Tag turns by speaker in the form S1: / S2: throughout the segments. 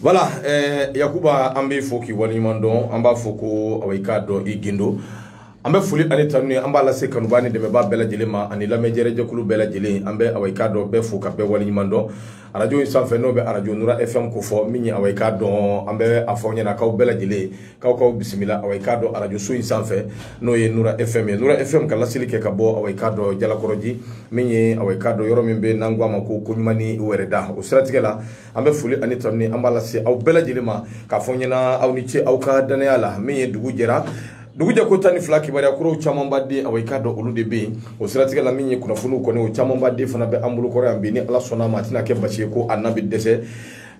S1: Voilà eh, yakuba an b'i fo k'i waleɲuman dɔn an b'a fɔ ko aw i k'a dɔn i gindo an bɛ foli ani tanuni an b'a lase kanuba ni dɛmɛba bɛɛ lajɛlen ma ani lamɛnjɛjɛkulu bɛɛ lajɛlen an bɛ aw i k'a dɔn bɛɛ fo ka bɛɛ waleɲuman dɔn arajo in sanfɛ n'o bɛ arajo nura fm ko fɔ min ye aw i k'a dɔn an bɛ a fɔ ɲɛna k'aw bɛɛ lajɛlen k'aw k'aw bisimila awa i k'a dɔn arajoso in sanfɛ n'o ye nura fm ye nura fm ka laseli kɛ ka bɔ awa i k'a dɔn jalakɔrɔji min ye awa i k'a dɔn yɔrɔ min bɛ n'an ko a ma ko koɲumani wɛrɛda o siratigɛ la an bɛ foli ani tanuni an b'a lase aw bɛɛ lajɛlen ma k'a fɔ ɲɛna aw ni ce aw ka dannaya la min ye dugu jɛra dugu jɛ ko tan ni fila kibaruya kuraw camanba de awa i k'a dɔn olu de bɛ yen o siratigɛ la min ye kunnafoniw kɔni o camanba de fana bɛ an bolo kɔrɔ yan bi ni ala sɔnna a ma a tɛna kɛ basi ye ko a na bɛ dɛsɛ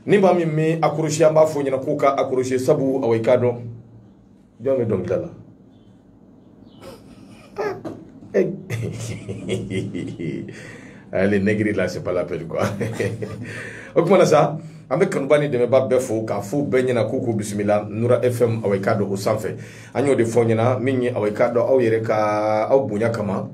S1: ni maa min min accrocher an b'a fɔ ɲɛna k'u ka accrocher sabu awa i k'a dɔn jɔn bɛ dɔnkili da la ale nɛgiri la c'est pas la peine quoi o kuma na sa an bɛ kanuba ni dɛmɛba bɛɛ fo k'a fɔ bɛɛ ɲɛna k'u k'u bisimila nura fm awa i k'a dɔn o sanfɛ an y'o de fɔ ɲɛna min ye awa i k'a dɔn aw yɛrɛ ka aw bonya kama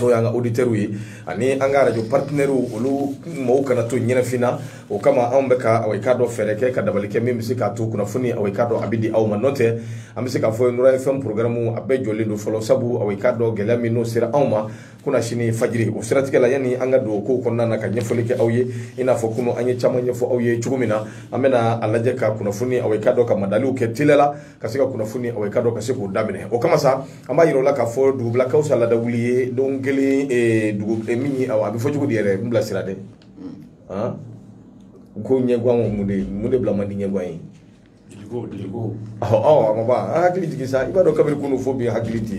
S1: n'o y'an ka auditeurs ye ani an ka radio partenaires olu mɔgɔw kana to ɲɛnafin na o kama anw bɛ ka aw k'a dɔ fɛɛrɛ kɛ ka dabali kɛ min bɛ se k'a to kunnafoni aw k'a dɔ a bɛ di aw ma n'o tɛ an bɛ se k'a fɔ Nura FM programme a bɛɛ jɔlen don fɔlɔ sabu aw k'a dɔ gɛlɛya min n'o sera anw ma kunasini fajiri o siratigɛ la yanni an ka don o kow kɔnɔna na ka ɲɛfɔli kɛ aw ye i n'a fɔ kunu an ye caman ɲɛfɔ aw ye cogo min na an bɛna a lajɛ ka kunnafoni aw k'a dɔ ka madaliw kɛ teliya la ka se ka kunnafoni awa i k'a dɔn ka se k'o daminɛ o kama sa an b'a yira aw la k'a fɔ dugu bila ka wusa laada wuli ye don kelen eh, dugu eh, min ye a bɛ fɔ cogo di yɛrɛ n bila sira dɛ ah? ko ɲɛguwan ko mun de mun de bila man di ɲɛguwan ye ɔ a ma ban an hakili jigin sa i b'a dɔn kabiri kunu fo bi hakili tɛ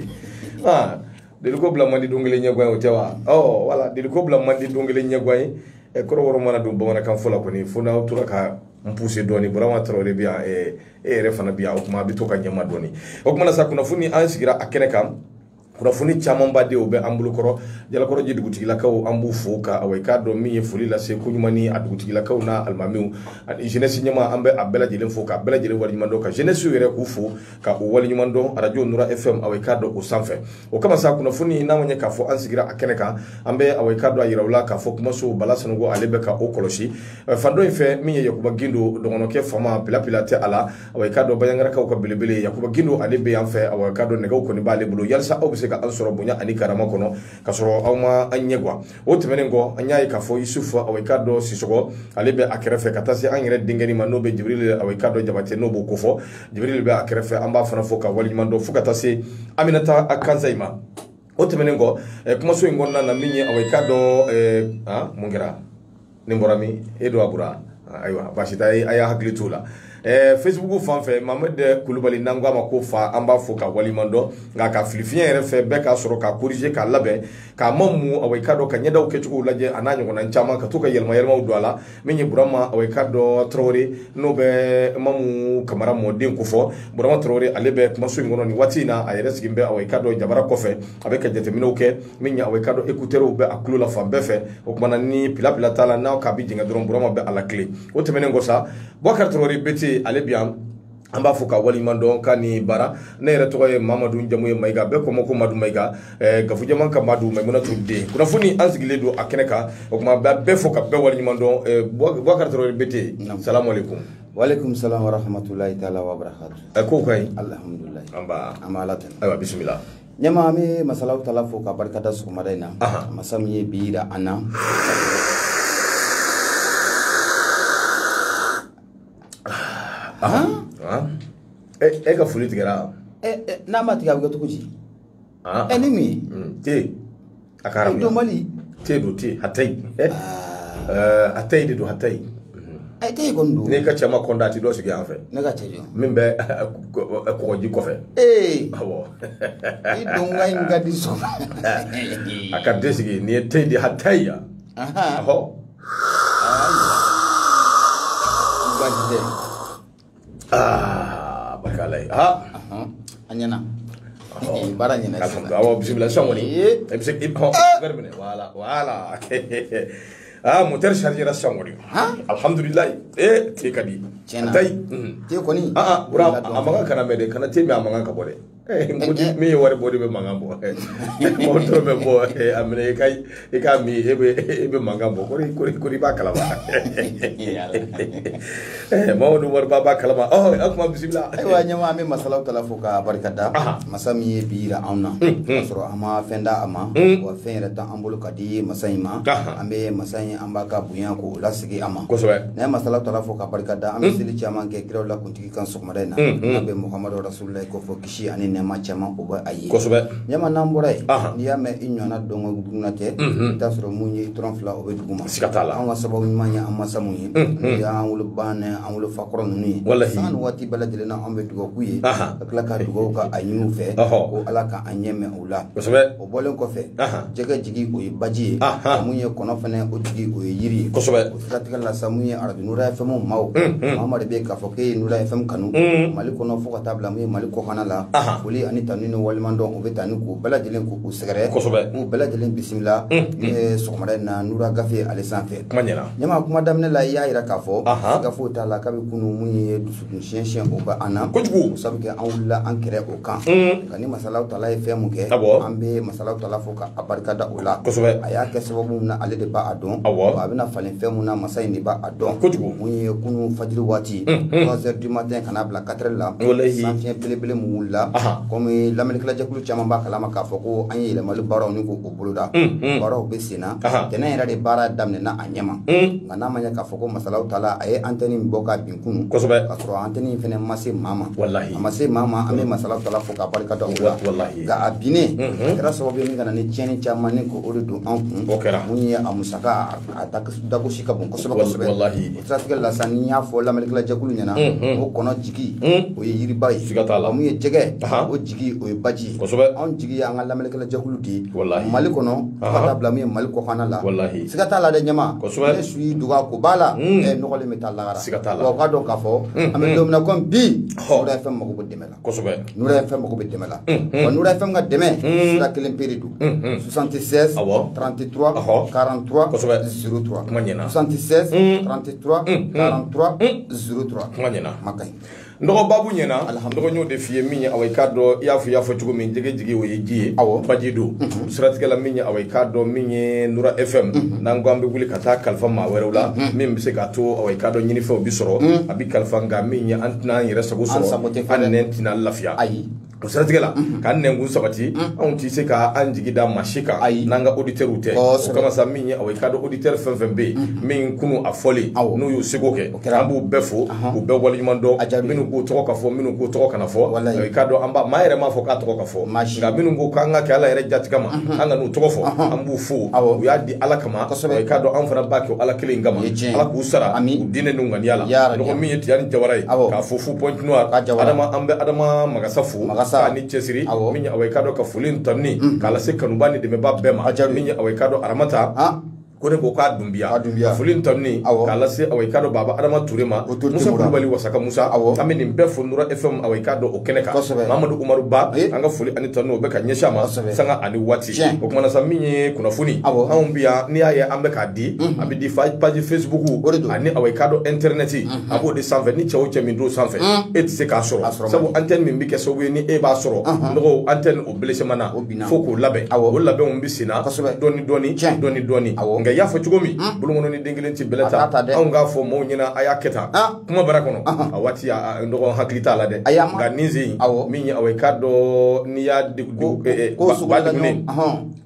S1: ah, deliko bila man di don kelen ɲɛguwan ye o tɛ wa ɔ voilà deliko bila man di don kelen ɲɛguwan ye eh, kɔrɔbɔrɔ mana don bamanankan fɔ la kɔni fo n'aw tora ka n pousser dɔɔni burama tarawele bi yan e yɛrɛ fana bi yan o kuma a bɛ to ka ɲɛma dɔɔni o kuma na sa kunnafoni an sigira a kɛnɛ kan kunnafoni camanba de o bɛ an bolo kɔrɔ jalakɔrɔji dugutigilakaw an b'u fo ka awa i k'a dɔn min ye foli lase koɲumani a dugutigilakaw n'a alimamiw ani jeunesse ɲɛmaa an bɛ a bɛɛ lajɛlen fo k'a bɛɛ lajɛlen waleɲuman dɔn ka jeunesse yɛrɛ k'u fo ka u waleɲuman dɔn arajo nura fm awa i k'a dɔn o sanfɛ o kama sa kunnafoni n'a ma ɲɛ k'a fɔ an sigira a kɛnɛ kan an bɛ awa i k'a dɔn a yira aw la k'a fɔ kumaso bala sanɔgɔ ale bɛ ka o kɔlɔsi fan dɔ in fɛ min ye yakuba gindo dɔgɔnɔkɛ fama pilapila tɛ a la awa i k'a dɔn baɲangarakaw ka belebele yakuba gindo ale bɛ yan fɛ awa i k'a dɔn nɛgɛw kɔni b'ale bolo yalisa aw bɛ se ka an sɔrɔ bonya ani karama kɔnɔ ka sɔrɔ aw ma an ɲɛgwan o tɛmɛnen kɔ an y'a ye k'a fɔ yusufu awika dɔ sisɔgɔ ale bɛ a kɛrɛfɛ ka taa se an yɛrɛ denkɛnin ma n'o bɛ jibirili awika dɔ jabate n'o b'o kofɔ jibirili bɛ a kɛrɛfɛ an b'a fana fo k'a waleɲuman dɔn fo ka taa se aminata kansayi ma o tɛmɛnen kɔ kumaso in kɔnɔna na min ye awika dɔ mun kɛra nin bɔra min e don a bɔra ayiwa baasi t'a ye a y'a hakili t'o la ɛɛ facebook fan fɛ mohamɛd kulubali n'an k'a ma ko fa an b'a fo k'a waliɲuman dɔn nka ka filifiɲɛ yɛrɛ fɛ bɛɛ k'a sɔrɔ ka korije k'a labɛn k'a ma mu awa i ka dɔn ka ɲɛdaw kɛcogow lajɛ a n'a ɲɔgɔnna caman ka to ka yɛlɛma yɛlɛmaw don a la min ye burama awa i ka dɔn tarawele n'o bɛ mamu kamara mɔden ko fɔ burama tarawele ale bɛ kumaso in kɔnɔ nin waati in na a yɛrɛ sigin bɛ awa i ka dɔn jabara kɔfɛ a bɛ ka jateminɛw kɛ min ye awa i ka dɔn ekuterew bɛ a tulo la fan bɛɛ fɛ o kumana ni pilapila t'a la n'a k'a bi jɛngɛ dɔrɔn burama bɛ a latilen o tɛmɛnen kɔ sa bubakari tarawele bete ale bi yan an b'a fo k'a waliɲuman dɔn k'a ni baara ne yɛrɛ tɔgɔ ye mamadu jamu ye mayiga bɛɛ ko n ma ko madu mayiga eh, gafujaman ka madu maimunatu den kunnafoni an sigilen don a kɛnɛ kan o tuma b'a bɛɛ fo ka bɛɛ waliɲuman dɔn eh, bubakari tarawele bete salamu aleykum walekum salam
S2: warahmatulahi taala wabarakatu eh, kow ka ɲi alhamdulilayi
S1: an b'a
S2: an b'a ala
S1: tanu ayiwa bisimila ɲɛma an
S2: bɛ masa alawu taala fo ka barika da sɔgɔmada in na masa min ye bi yira an
S1: na e ka foli tigɛra n'a ma tigɛ
S2: a bɛ kɛ cogo di ɛ ni mun ye te
S1: a ka arabu dɔnbali te
S2: don te
S1: hatayi eh, eh, hatayi de don hatayi a
S2: te kɔni don n'i ka cɛ ma kɔnda a ti dɔ
S1: sigi yan fɛ ne ka cɛ jɔ min bɛ kɔgɔji kɔfɛ ee awɔ
S2: i don ka in ka di sɔn
S1: a ka den sigi nin ye te de hatayi ya ahɔ ba tɛ aa barika ala ye aa a
S2: ɲɛna Eh, baara ɲɛna k'a sɔrɔ awɔ bisimila sisan
S1: kɔni Ee. i bɛ se i hɔn wɛri minɛ wala wala aa motɛri sarijira sisan kɔni Han? alihamudulilayi ee te ka di Tiɲɛna. hatayi te kɔni
S2: aa bura a mankan
S1: kana mɛn dɛ kana te min a mankan ka bɔ dɛ min ye wari bɔ de bɛ mankan bɔ mɔgɔ dɔrɔn bɛ bɔ a minɛ i ka i k'a min e bɛ e bɛ mankan bɔ kori kori kori b'a kalama mamadu wariba b'a kalama ɔ a kuma bisimila ayiwa ɲɛma an bɛ masa
S2: alawu taala fo ka barika da masa min ye bi yira anw na k'a sɔrɔ an ma fɛn da a ma wa fɛn yɛrɛ t'an bolo k'a di masa in ma an bɛ masa in an b'a ka bonya k'o lasegin a ma kosɛbɛ n'an ye masa alawu taala
S1: fo ka
S2: barika da an bɛ seli caman kɛ kiraw la kuntigi kan sɔgɔmada in na n'a bɛ muhamadu rasululahi ko fɔ kisi ani nɛɛma caman o bɛ a ye kosɛbɛ ɲama n'an bɔra
S1: yen
S2: n'i y'a mɛn i ɲɔgɔnna dɔngɔ dugunna tɛ i t'a sɔrɔ mun ye i tɔrɔn fila o bɛ dugu ma siga t'a la an ka
S1: sababu ɲuman ye
S2: an masa min ye n'o y'an woloba ni an wolofa kɔrɔ ninnu ye walahi san ni waati bɛɛ lajɛlen na an bɛ dugawu k'u ye ka tila ka dugawu ka a ɲini u fɛ ko ala k'an ɲɛ mɛn u la kosɛbɛ o bɔlen kɔfɛ jɛgɛ jigi o ye baji ye mun ye kɔnɔ fɛnɛ o jigi o ye yiri ye kosɛbɛ o siratigɛ la sa mun ye arajo nura fm maa o maa de bɛ k'a fɔ k'e ye nura fm kanu mali kɔnɔ fo ka taa bila mun ye mali kɔkanna la foli ani tanu ni waleɲuman dɔn o bɛ taa ni k'u bɛɛ lajɛlen k'u sɛgɛrɛ kosɛbɛ k'u bɛɛ lajɛlen bisimila mun ye sɔgɔmada in na nura gafe ale sanfɛ kuma ɲɛna ɲɛma kuma daminɛ la i y'a jira k'a fɔ siga foyi t'a la kabi kunu mun ye dusu Siyɛnsin o bɛ an na kojugu sabu kɛ an wulila an kɛrɛ o kan nka ni masa ala taala ye fɛn min kɛ an bɛ masa ala taala fo k'a barika da o la kosɛbɛ a y'a kɛ sababu min na ale de b'a dɔn a bɛna falen fɛn min na masa in de b'a dɔn kojugu mun ye kunun fajiri waati 3h du matin ka n'a bila 4h la sanfiɲɛ belebele min wulila kɔmi lamɛnnikɛlajɛkulu caman b'a kalama k'a fɔ ko an ye yɛlɛmali baaraw ni ko o boloda baaraw bɛ senna tɛnɛn yɛrɛ de baara daminɛna a ɲɛma nka n'a ma ɲɛ k'a fɔ ko masa ala taala ye antenne in bɔ ka bin kunu kosɛbɛ ka sɔrɔ antenne in fɛnɛ ma se maa ma walahi a ma se maa ma an bɛ masa ala taala fo k'a barika da o la walahi nka a binnen a kɛra sababu ye min ka na ni tiɲɛni caman ni ko o de don an kun o kɛra mun ye a musaka a dagosi ka bon kosɛbɛ kosɛbɛ walahi o siratigɛ la sa n'i y'a fɔ lamɛnnikɛlajɛkulu ɲɛna o kɔnɔ jigi o ye yiriba ye siga t'a la mun ye jɛgɛ o jigi o ye baji ye kosɛbɛ anw jigi y'an ka lamɛnnikɛlajɛkulu de ye walahi mali kɔnɔ fo ka taa bila min ye mali kɔfana la walahi siga t'a la dɛ ɲɛma kosɛbɛ ni su y'i dogo a kobaa la hmm. i nɔgɔlen bɛ taa lahara siga t'a la wa u k'a dɔn k'a fɔ hmm. an bɛ hmm. don min na komi bi nura fm mago bɛ dɛmɛ la kosɛbɛ nura fm mago bɛ dɛmɛ la wa nura fm ka dɛmɛ sira kelen pe de don 76 33 43 kosɛbɛ 03 kuma ɲɛna 76 33 43 03 kuma ɲɛna kuma ka ɲi n dɔgɔ babu
S1: ɲɛna n dɔgɔ y'o de f'i ye min ye awa i k'a dɔn i y'a fɔ i y'a fɔ cogo min jɛgɛ jigi o ye ji ye awɔ baji don mhm. siratigɛ la min ye awa i k'a dɔn min ye nura fm mhm. n'an ko an bɛ wuli ka taa kalifa maa wɛrɛw la mhm. min bɛ se k'a to awa i k'a dɔn ɲinifɛnw bi sɔrɔ a bi kalifa nka min ye an tɛna an yɛrɛ sago sɔrɔ an nɛn tɛna lafiya ayi o siratigɛ la k'an nɛnkun sabati anw tɛ se ka an jigi da maa si kan Ayi. n'an ka auditeurs tɛ o Kosɛbɛ. kama sa min ye awa i k'a dɔn auditeur fɛn fɛn bɛ yen min kunu a fɔlen Awɔ. n'u y'u seko kɛ kɛra. an b'u bɛɛ fo k'u bɛɛ waleɲuman dɔn A jaabi. minnu k'u tɔgɔ ka fɔ minnu k'u tɔgɔ kana fɔ Walayi. Eh, k'a dɔn an b'a maa yɛrɛ m'a fɔ k'a tɔgɔ ka fɔ Maa si. nka minnu ko k'an k'a kɛ ala yɛrɛ jaati kama an kan'u tɔgɔ fɔ an b'u fo Awɔ. u y'a di ala kama kosɛbɛ i k'a dɔn anw fana b'a kɛ ala kelen kama ala k'u sara ami u diinɛ n'u ŋaniya la nɔgɔ min ye tijani jawara ye k'a fo fo Pointe Noire adama an bɛ adama magasa fo magasa ni cɛsiri min ye awa i k'a dɔn ka foli ni tanuni mm. k'a lase kanuba ni dɛmɛba bɛɛ ma min ye awa i k'a dɔn aramata ko ne ko k'a dunbiya foli tanuni k'a lase awa i k'a dɔn baba adama ture ma musa kulubali wasaka musa an bɛ nin bɛɛ fo nura fm awa i k'a dɔn o kɛnɛ kan mamadu umaru ba an ka foli ani tanuni o bɛ ka ɲɛsin a ma sanga ani waati Tiɲɛ. o kuma na sa min ye kunnafoni Awɔ. anw bi yan n'i y'a ye an bɛ k'a di a bɛ di fa- page facebook O de don. ani aw ye k'a dɔn internet a b'o de sanfɛ ni cɛ o cɛ min don sanfɛ e tɛ se k'a sɔrɔ A sɔrɔ sabu antenne min bɛ kɛ sababu ye ni e b'a sɔrɔ nɔgɔ antenne o blessement na O binna. fo k'o labɛn Awɔ. o labɛnw bɛ senna Kosɛbɛ. dɔɔni dɔɔni Tiɲɛ. dɔɔni dɔɔni Awɔ. nka i y'a fɔ cogo min bolokɔnɔnin den kelen tɛ bɛlɛ ta A t'a ta dɛ. anw k'a fɔ mɔɔw ɲɛna a y'a kɛ tan Ah. kuma baara kɔnɔ a waati n dɔgɔ hakili t'a la dɛ nka nin sen min ye aw ye k'a dɔn n'i y'a ba degunnen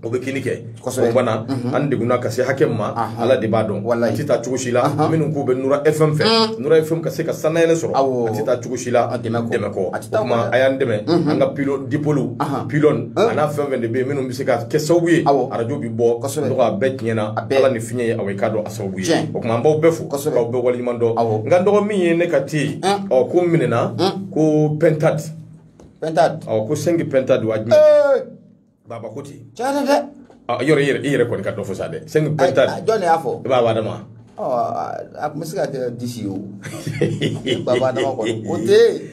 S1: o bɛ kinni kɛ o fana an degunna ka se hakɛ min ma ala de b'a dɔn a tɛ taa cogo si la minnu k'u bɛ nura fm fɛ nura fm ka se ka sanayɛlɛ sɔrɔ a tɛ taa cogo si la dɛmɛ kɔ o tuma a y'an dɛmɛ an ka pilo dipôle pylône a n'a fɛn fɛn de bɛ yen minnu bɛ se ka kɛ sababu ye arajo bɛ bɔ a bɛɛ tiɲɛna ala ni fiɲɛ ye aw ye k'a dɔn sababu ye o tuma an b'aw bɛɛ fo k'aw bɛɛ waleɲuman dɔn nka n dɔgɔ min ye ne ka te ye ɔ ko minɛna ko pintade pintade ɔ ko cinq pintades wa jumɛn baba ko ten tiɲɛ tɛ dɛ yɔrɔ i yɛrɛ i yɛrɛ kɔni ka dɔ fɔ sa dɛ cinq pintades jɔn de y'a fɔ i baba
S2: adama
S1: a
S2: tun bɛ se ka kɛ dix ye o baba adama kɔni o tɛ yen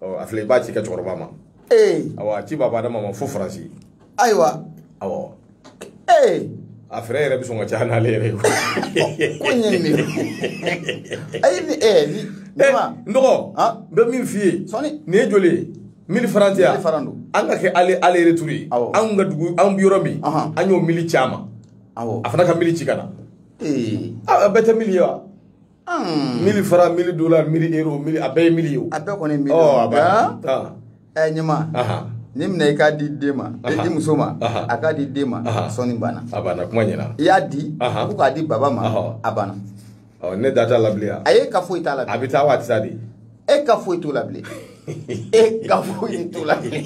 S1: a filɛ i b'a ci i ka cɛkɔrɔba ma ee awa ci baba adama ma fo faransi
S2: ayiwa
S1: awa ee a frais yɛrɛ bɛ sɔn ka caya n'ale yɛrɛ ye ko ɲɛ
S2: nin de ayi ni ee ni ne ma n
S1: dɔgɔ n bɛ min f'i ye sɔni nin ye joli ye mili faran tɛ yan mili faran don an k'a kɛ aller aller-retour ye awɔ an ka dugu an bɛ yɔrɔ min an y'o mili ci a ma awɔ a fana ka mili ci ka na ee a bɛɛ tɛ mili ye wa mili faran mili dola mili euro mili a bɛɛ ye mili ye o a bɛɛ kɔni ye mili ɔ
S2: a b'a ɛ ɲɛma ni minɛ i k'a di den ma i muso ma a k'a di den ma sɔni banna a banna kuma min na
S1: i y'a
S2: di ko k'a di baba ma a banna ne da t'a
S1: la bilen ayi e ka foyi t'a la a
S2: bɛ taa wa a tɛ taa de
S1: e ka foyi
S2: t'o la bilen e ka foyi t'o la bilen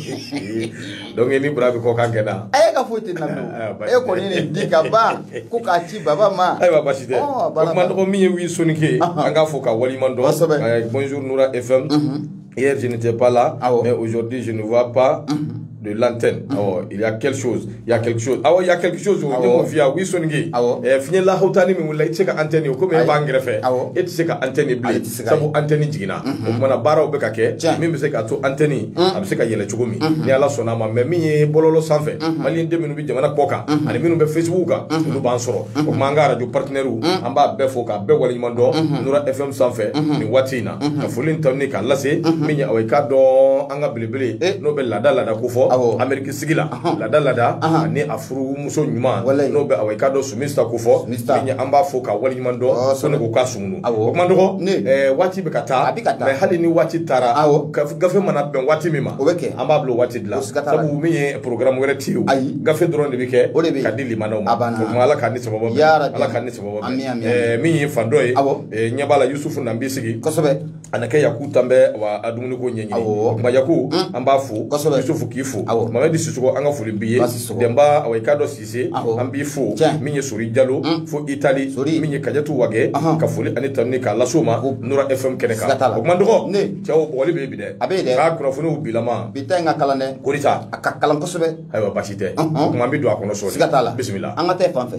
S2: donc
S1: ni bura bɛ kɔ k'a kɛ na e ka foyi tɛ na bilen
S2: ah, e kɔni de di ka ban ko k'a ci baba ma ayiwa basi
S1: tɛ o kuma n dɔgɔ min ye wi sonike an k'a fo k'a waleɲuman dɔn kosɛbɛ bonjour nura fm mhm. hier je n'étais pas là ah mais aujourd'hui je ne vois pas mhm. de l'antenne. Mm -hmm. Il y a quelque chose. Il y a quelque chose. Ah il y a quelque chose. Ah ouais. Via oui songi. Ah ouais. Fini la hotani mi wala i tɛ se ka antenne ko me ba ngrefe. Ah ouais. I tɛ se ka antenne bi. Sabu antenne jigina. O kuma na baara o bɛ ka kɛ. Min bɛ se k'a to antenne. A bɛ se ka yɛlɛ cogo min. Ni ala sɔnna a ma mais min ye bɔlɔlɔ sanfɛ. Mali den minnu bi jamana kɔkan ani minnu bɛ Facebook kan olu b'an sɔrɔ. O kuma an ka radio partenaire an b'a bɛɛ fo k'a bɛɛ waleɲuman dɔn Nura FM sanfɛ nin waati in na. Ka foli ta ni k'a lase min ye aw ye k'a dɔn an ka belebele eh. n'o bɛ laada laada ko fɔ ameriki sigi la laada laada ani a furumuso ɲuman n'o bɛ awɔ i k'a dɔn sumista ko fɔ an b'a fo k'a waleɲuman dɔn oh, sɔni k'u ka sumunu o kuma dɔgɔ eh, waati bɛ ka taa mais hali ni waati taara gafe mana bɛn waati min ma an b'a bila waati de la sabu min ye programme wɛrɛ ti o gafe dɔrɔn de bɛ kɛ ka di limanaw ma o tuma ala k'an ni sababu bɛn ala k'an ni sababu bɛn eh, min ye fan dɔ ye ɲɛ b'a la yusufu na n b'i sigi a na kɛ yaku tan bɛ wa a dumuni ko ɲɛɲini o kuma yaku an b'a fo kosɛbɛ yusufu k'i fo awɔ mamadi sisogo an ka foli b'i ye dɛnba awɔ i k'a dɔn sise an b'i fo min ye sori jalo fo itali sori min ye kajatu wagɛ ka foli ani tanuni k'a las'o ma nura fm kɛnɛ kan o kuma dɔgɔ ne cɛw bɔgɔli bɛ bi dɛ a bɛ dɛ k'a kunnafoniw bilama bi ta in ka kalan dɛ
S2: korita a ka kalan
S1: kosɛbɛ
S2: ayiwa basi tɛ
S1: o kuma an bɛ don a kɔnɔ sɔɔni siga t'a la bisimila an ka
S2: taa fan fɛ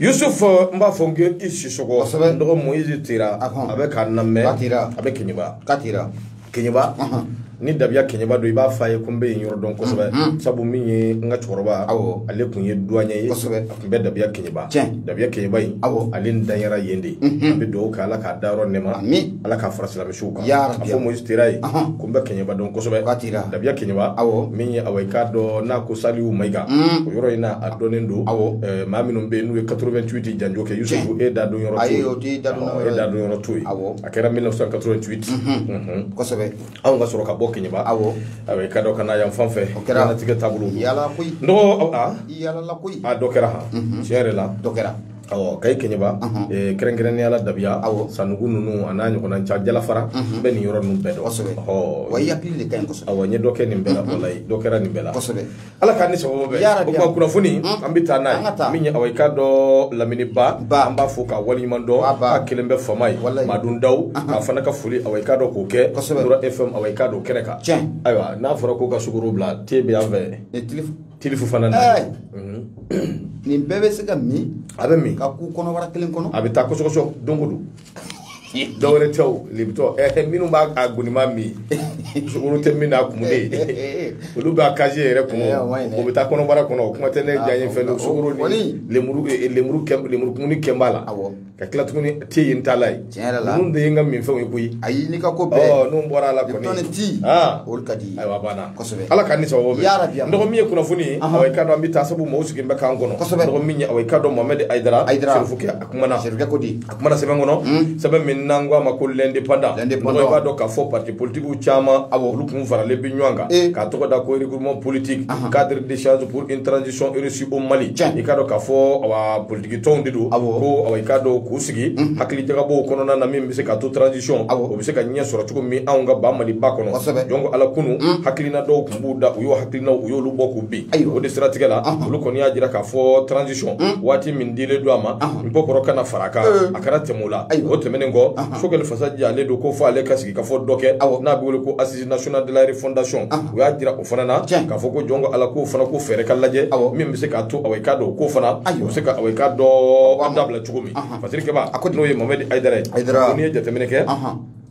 S1: Yusuf n b'a fɔ n i sisɔgɔ n dɔgɔ moyizi tera a bɛ k'an lamɛn a bɛ kɛɲɛba ka kɛɲɛba ni dabiya kɛɲɛba don i b'a fɔ a ye ko n bɛ yen yɔrɔ dɔn kosɛbɛ sabu min ye n ka cɛkɔrɔba aw ale kun ye duwanyɛ ye kosɛbɛ a kun bɛ dabiya kɛɲɛba dabiya kɛɲɛba in aw ale danyara yen de an bɛ dugawu kɛ ala k'a dayɔrɔ nɛma ala k'a fara silamɛ su kan Ya Rabbi. a fɔ moyizi tera ye Ahan. ko n bɛ kɛɲɛba dɔn kosɛbɛ Ka t'i la. dabiya kɛɲɛba Awɔ. min ye awa i k'a dɔn n'an ko saliw mayiga o yɔrɔ in na a dɔnnen don Awɔ. Eh, maa minnu bɛ yen n'u ye 88 janjo kɛ yusufu e da don yɔrɔ Ayi, to o t'i da don Awɔ, yɔrɔ e ye. da don yɔrɔ to yen Awɔ. a kɛra 1988 Mhm.
S2: kosɛbɛ anw ka sɔrɔ ka bɔ
S1: kɛɲɛba Awɔ. awa i k'a dɔn ka na yan fan fɛ kɛra. diɲɛlatigɛ taabolo don. yala koyi n dɔgɔ
S2: aw- a
S1: yalala koyi
S2: a dɔ kɛra han tiɲɛ
S1: yɛrɛ la dɔ kɛra
S2: awɔ kayi
S1: keɲeba eh, kɛrɛnkɛrɛnnenya la dabiya Awɔ. sanugu ninnu a n'a ɲɔgɔnna ca jalafara bɛ nin yɔrɔ ninnu bɛɛ dɔn kosɛbɛ Ɔhɔ. wa i hakili
S2: de ka ɲi kosɛbɛ awɔ n ye dɔ kɛ nin bɛɛ la
S1: walayi dɔ kɛra nin bɛɛ la kosɛbɛ ala k'an ni
S2: sababu bɛn
S1: Ya Rabi, o tuma ya. kunnafoni an bɛ taa n'a An ka ye taa. min ye awɔ i k'a dɔn lamini ba Ba. an b'a fo k'a waleɲuman dɔn Ba, ba. k'a kelen bɛ fama ye Walayi. madun daw a fana ka foli awɔ i k'a dɔn k'o kɛ Kosɛbɛ. Nura fm awɔ i k'a dɔn kɛnɛ kan Tiɲɛ. ayiwa n'a fɔra ko ka sukoro bila te bɛ yan fɛ E, tile- Tili Fofana na. Ɛɛ!
S2: Unhun! Nin bɛɛ bɛ se ka min. A bɛ min. Ka
S1: kun kɔnɔbara
S2: kelen kɔnɔ. A bɛ taa kɔsɔkɔsɔ don
S1: o don. Dɔ wɛrɛ tɛ o, Lipton ɛɛ minnu b'a a goniman min, sukoro tɛ min na, a kumunen, olu bɛ a casier yɛrɛ kɔnɔ, o bɛ taa kɔnɔbara kɔnɔ, o kuma tɛ ne diyanyefɛn don, sukoro ni lenburu, lenburu kɛ, lenburu kumuni kɛ b'a la. Awɔ! ka tila tuguni te yen t'a la ye tiɲɛ yɛrɛ la ninnu de ye n ka minfɛnw ye koyi ayi n'i ka ko bɛɛ
S2: ɔ n'u bɔra a la
S1: kɔni tɔni ti olu
S2: ka di ye ayiwa banna kosɛbɛ
S1: ala k'an ni sababu bɛn yarabi n dɔgɔ min ye kunnafoni ye awɔ i k'a dɔn an bɛ taa sabu mɔgɔw sigilen bɛ k'an kɔnɔ kosɛbɛ dɔgɔ min ye awɔ i k'a dɔn mohamɛdi ayidara ayidara serifukɛ a kumana serifukɛ ko di a kumana sɛbɛn kɔnɔ sɛbɛn min n'an ko a ma ko l'indépendant l'indépendant i b'a dɔn k'a fɔ parti politiques caman awɔ olu kun faralen bɛ ɲɔgɔn kan k'a tɔgɔ da ko regroupement politique cadre d'échange pour une transition réussie au Mali i k'a dɔn k'a fɔ awa Tikitɔnw de don ko awa i k'a dɔn k'u sigi hakilijagabɔ kɔnɔna na min bɛ se k'a to transition o bɛ se ka ɲɛ sɔrɔ cogo min anw ka ba maliba kɔnɔ jɔn ko ala kunun hakilina dɔw tun b'u da u y'o hakilina u y'olu bɔ k'u bin ayi o de siratigɛ la olu kɔni y'a jira k'a fɔ transition waati min dilen don a ma n bɔ kɔrɔ kana fara a kan a kana tɛmɛ o la ayi o tɛmɛnen kɔ sokɛli fasajan ale don ko fɔ ale ka sigikafɔ dɔ kɛ aw n'a bɛ wele ko assises nationales de la refondation u y'a jira o fana na k'a fɔ ko jɔn ko ala k'o fana ko fɛɛrɛ ka lajɛ min bɛ se k'a to awa i k'a dɔn k'o fana o bɛ se ka awa i k'a dɔn an dabila cogo min fasirikɛba a ko n'o ye mamadi ayidara ye ko n'i ye jateminɛ kɛ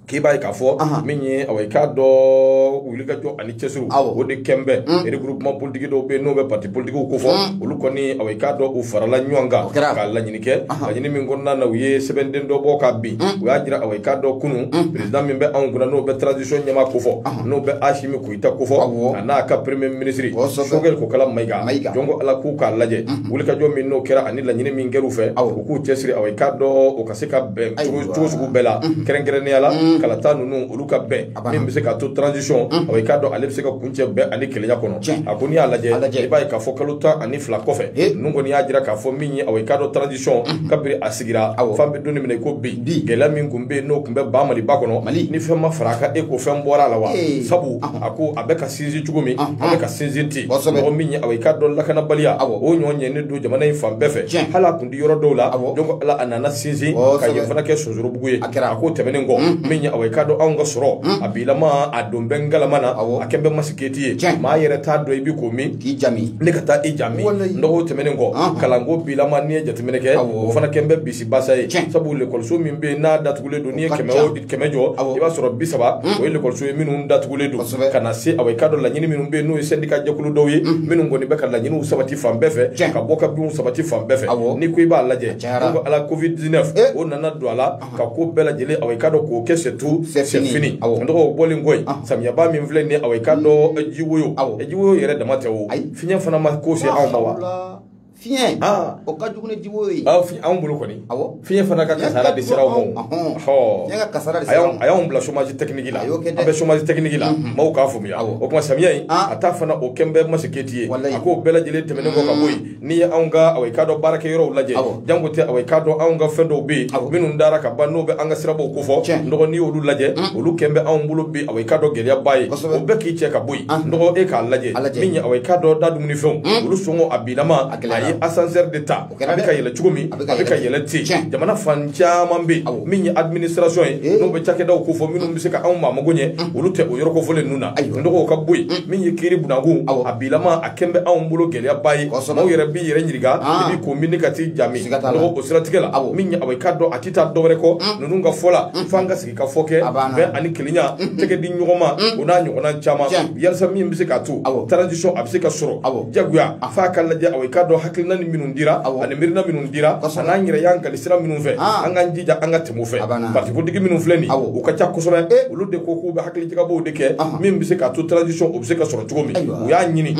S1: k'i b'a ye k'a fɔ min ye awa i k'a dɔn wulikajɔ ani cɛsiriw o de kɛn bɛ regroupement politique dɔw bɛ yen n'o bɛ parti politiquew ko fɔ olu kɔni awa i k'a dɔn u farala ɲɔgɔn kan k'a laɲini kɛ laɲini min kɔnɔna na u ye sɛbɛnden dɔ bɔ ka bin u y'a jira awa i k'a dɔn kunu perezida min bɛ anw kunna n'o bɛ transition ɲɛmaa kofɔ n'o bɛ asimi goyita kofɔ a n'a ka premier ministre sokɛli kokala mayiga jɔn ko ala k'u k'a lajɛ wulikajɔ min n'o kɛra ani laɲini min kɛr'u fɛ u k'u cɛsiri awa i k'a dɔn o ka se ka bɛn cogo sugu bɛɛ la kɛrɛnkɛrɛnnenya la kalata ninnu olu ka bɛn min bɛ se k'a to transition awa i k'a dɔn ale bɛ se ka kuncɛ bɛn ani kelenya kɔnɔ a ko n'i y'a lajɛ i b'a ye k'a fɔ kalo tan ani fila kɔfɛ ninnu kɔni y'a jira k'a fɔ min ye awa i k'a dɔn transition kabiri a sigira fan bɛ don min na i ko bi gɛlɛya min tun bɛ yen n'o tun bɛ ba maliba kɔnɔ ni fɛn ma fara a kan e ko fɛn bɔra a la wa sabu a ko a bɛ ka sinsin cogo min a bɛ ka sinsin ten n dɔgɔ min ye awa i k'a dɔn lakanabaliya o ɲɔgɔn ɲɛnen don jamana in fan bɛɛ fɛ hali a tun tɛ yɔrɔ dɔw la jɔn ko ala a nana sinsin ka yen fana kɛ sorobugu ye a kɛra a k'o tɛmɛnen kɔ min ye awa i k'a dɔn anw ka sɔrɔ a bilama a don bɛ ngalama na a kɛn bɛ masiketi ye Tiɲɛ. maa yɛrɛ t'a dɔn i bi ko min k'i jami ne ka taa i ja min Walayi. n dɔgɔ o tɛmɛnen kɔ Anhan. kalanko bilama n'i ye jateminɛ kɛ Awɔ. o fana kɛn bɛ bisi basa ye Tiɲɛ. sabu lekɔliso min bɛ yen n'a datugulen don n'i ye ka kɛmɛ ca. o kɛmɛ jɔ Awɔ. i b'a sɔrɔ bisaba o ye lekɔliso ye minnu datugulen don Kosɛbɛ. ka na se awa i k'a dɔn laɲini minnu bɛ yen n'o ye sɛndika jɛkulu dɔw ye minnu kɔni bɛ ka laɲiniw sabati fan bɛɛ fɛ Tiɲɛ. ka bɔ ka binw sabati fan bɛɛ fɛ Awɔ. n'i ko i b'a lajɛ Cayara. Jɔn ko ala covid 19 Eh. o nana don a la ka ko bɛɛ lajɛlen awa i k'a dɔn k'o kɛ c'est tout C'est fini. c'est fini Awɔ. n dɔgɔ o bɔlen kɔ yen Ahɔ. samiyaba min filɛ nin ye awa i k'a dɔn eh, jiwoyo Awɔ. Eh, jiwoyo yɛrɛ dama tɛ o Ayi. fiɲɛ fana ma ko se anw ma wa Mashallah. fiɲɛ
S2: Ah. o ka jugu ni jiwoyo ye aw fi- anw bolo kɔni
S1: Awɔ. fiɲɛ fana ka kasara de sera anw ma Ahɔn. Ɔhɔ. Fiɲɛ ka kasara de a sera y'anw- aw ma. a y'anw bila chômage technique la A y'o kɛ dɛ. an bɛ chômage technique la maaw k'a faamuya Awɔ. o tuma samiya in Ah. a ta fana o kɛn bɛ masiketi ye Walayi. a k'o bɛɛ lajɛlen tɛmɛnen kɔ ka bɔ yen n'i ye anw ka awa i k'a dɔn baarakɛyɔrɔw lajɛ janko tɛ awa i k'a dɔn anw ka fɛn dɔw bɛ yen minnu dara ka ban n'o bɛ an ka sirabaw ko fɔ n dɔgɔ n'i y'olu lajɛ mm. olu kɛn bɛ anw bolo bi awa i k'a dɔn gɛlɛyaba ye o bɛɛ k'i cɛ ka bɔ yen ah. n dɔgɔ e k'a lajɛ min ye awa i k'a dɔn dadumunifɛnw mm. olu sɔngɔ a bilama a ye asansɛri de ta a bɛ ka yɛlɛ cogo min a bɛ ka yɛlɛ ten jamana fan caman bɛ yen min ye administration ye eh. n'o bɛ cakɛdaw ko fɔ minnu bɛ se ka anw maa mago ɲɛ mm. olu tɛ o yɔrɔ kofɔlen ninnu na n dɔgɔ ka bɔ yen min ye kiiri bunakun a bilama kɛlen bɛ anw bolo gɛlɛyaba ye maaw yɛrɛ b'i yɛrɛ ɲininka ah. i b'i ko min ka t'i jami nɔgɔ o siratigɛ la min ye awa i k'a dɔn a tɛ taa dɔwɛrɛ kɔ mm. ninnu ka fɔ la mm. f'an ka sigikafɔ kɛ bɛn ani kelenya mm. tɛgɛ di ɲɔgɔn ma o n'a ɲɔgɔnna caman yalasa min bɛ se k'a to transition a bɛ se ka sɔrɔ jagoya ah. f'a ka lajɛ awa i k'a dɔn hakilina ni minnu dira ani miirina minnu dira an'an yɛrɛ y'an kali sira minnu fɛ ah. an k'an jija an ka tɛmɛ o fɛ parti politique minnu filɛ nin u ka ca kosɛbɛ eh. olu de ko k'u bɛ hakilijagabɔw de kɛ min bɛ se k'a to transition o bɛ se ka sɔrɔ cogo min u y'a ɲini